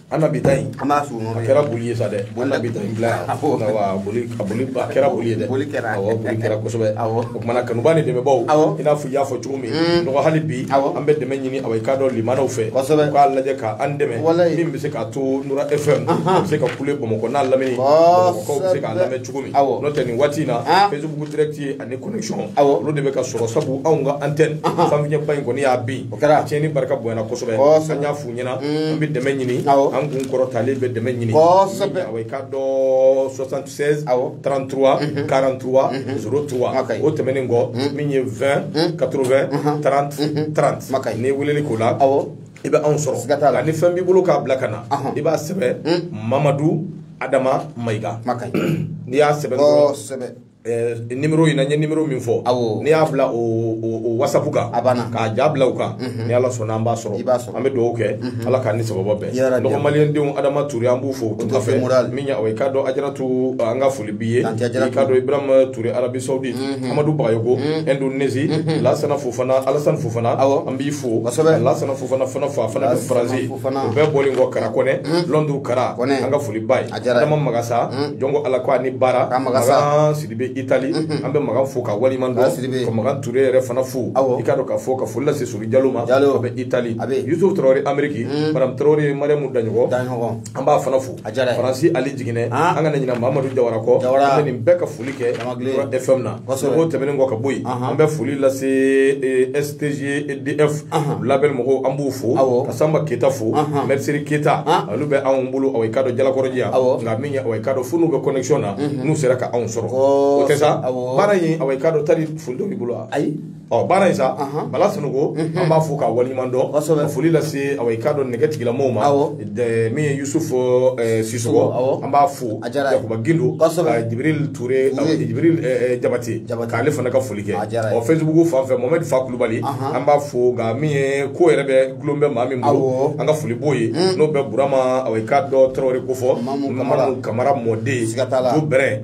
S1: an na bi ta in an ma sunɔgɔ a
S2: kɛra boli ye sa dɛ
S1: an na bi ta in bila yan a boli a boli a kɛra boli ye dɛ boli kɛra awɔ boli kɛra kosɛbɛ awɔ o kumana kanubaa ni dɛmɛbaaw awɔ i n'a fɔ i y'a fɔ cogo min mm. n dɔgɔ hali bi awɔ an bɛ dɛmɛ ɲini awɔ i k'a dɔn limanaw fɛ kosɛbɛ u k'a lajɛ ka an dɛmɛ min bɛ se k'a to nura fm a bɛ se ka kule bamakɔ n'a lamini bamakɔkaw bɛ se k'a lamɛn cogo min awɔ n'o tɛ nin waati in na facebook direct ye ani connexion awɔ olu de bɛ ka sɔrɔ sabu anw ka antenne sanfiɲɛba in kɔni y'a bin a tiɲɛni barika bonyana kosɛbɛ an y'a f'u ɲɛna an bɛ dɛmɛ ɲini an kun kɔrɔtalen bɛ dɛmɛ ɲini kosɛbɛ awɔ i k'a dɔn 76 awɔ 33 43 03 o tɛmɛnen kɔ min ye 20 80 30 30 n'i weleli k'o la awɔ i bɛ anw sɔrɔ siga t'a la ni fɛn b'i bolo k'a bila ka na i b'a sɛbɛn mamadu adama mayiga n'i y'a sɛbɛn dɔrɔn Eh, numéro in na n ye numéro min fɔ n'i y'a bila o whatsapp kan k'a ja bila u kan mhm. ni ala sɔnna an b'a sɔrɔ an bɛ dugawu kɛ mhm. ala k'an ni sababu bɛn n dɔgɔ maliyɛndenw adama ture an b'u fo tunga fɛ min o ye k'a dɔn ajaratu eh, an ka foli b'i ye i k'a dɔn ibrahima ture arabi saudi mhm. amadu bagayoko indonésie lasana fofana alasani fofana an b'i fo lasana fofana fana fo a fana bɛ faransi o bɛɛ bɔlen kɔ kara kɔnɛ lɔnduru kara an ka foli b'a ye adama magasa hmm. jɔnko ala ko a ni baara magan sidibe itali hmm, hmm. an bɛ magan fo k'a waleɲuman dɔn ka magan ture yɛrɛ fana fo i k'a dɔn ka fɔ ka foli lase sori jalo ma a bɛ itali yusuf tarawele ameriki madame tarawele mariamu daɲɔgɔ an b'a fana fo faransi ali jiginɛ an kana ɲina mamadu jawara kɔ an bɛ nin bɛɛ ka foli kɛ fm na o tɛmɛnen kɔ ka bɔ yen an bɛ foli lase e, stg df label mɔgɔw an b'u fo ka sanba keyita fo mɛrisiri keyita olu bɛ anw bolo awa i k'a dɔn jalakɔrɔji yan nka min ye awa i k'a dɔn fo n'u bɛ connection na n'u sera ka anw sɔrɔ o tɛ sa baara in awa i k'a dɔn tali foli dɔ b'i bolo wa ayi ɔ baara in sa bala sunuko mhm. an b'a fo k'a waleɲuman dɔn ka foli lase awa i k'a dɔn nɛgɛtigɛla mɔgɔw ma min ye yusufu eh, sisɔgɔ an b'a fo yakuba gindo ka jibril ture jibril eh, eh, jabate k'ale fana ka foli kɛ ɔ facebook fan fɛ mohamɛdi fa kulubali an b'a fo nka min ye ko yɛrɛ bɛ gulon bɛ maa min bolo an ka foli b'o ye mm. n'o bɛ burama awa i k'a dɔn tarawele k'o fo mamadu kamara mɔden ko bɛrɛ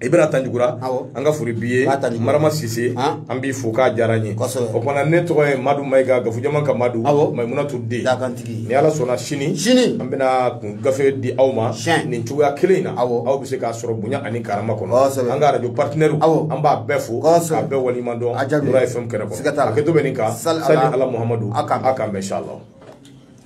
S1: ibra tanjugura an ka foli b'i ye marama sise an b'i fo k'a diyara n ye o kumana ne tɔgɔ ye madu mayiga gafujama ka madu maimuna ture den ni ala sɔnna sini sini an bɛna gafe di aw ma nin cogoya kelen in na aw bɛ se k'a sɔrɔ bonya ani karama kɔnɔ an ka radio partenaire an b'a bɛɛ fo k'a bɛɛ waliɲuman dɔn a jaabi FM kɛnɛ kɔnɔ a kɛ to bɛ nin kan sali ala muhamadu a k'an bɛn inshallah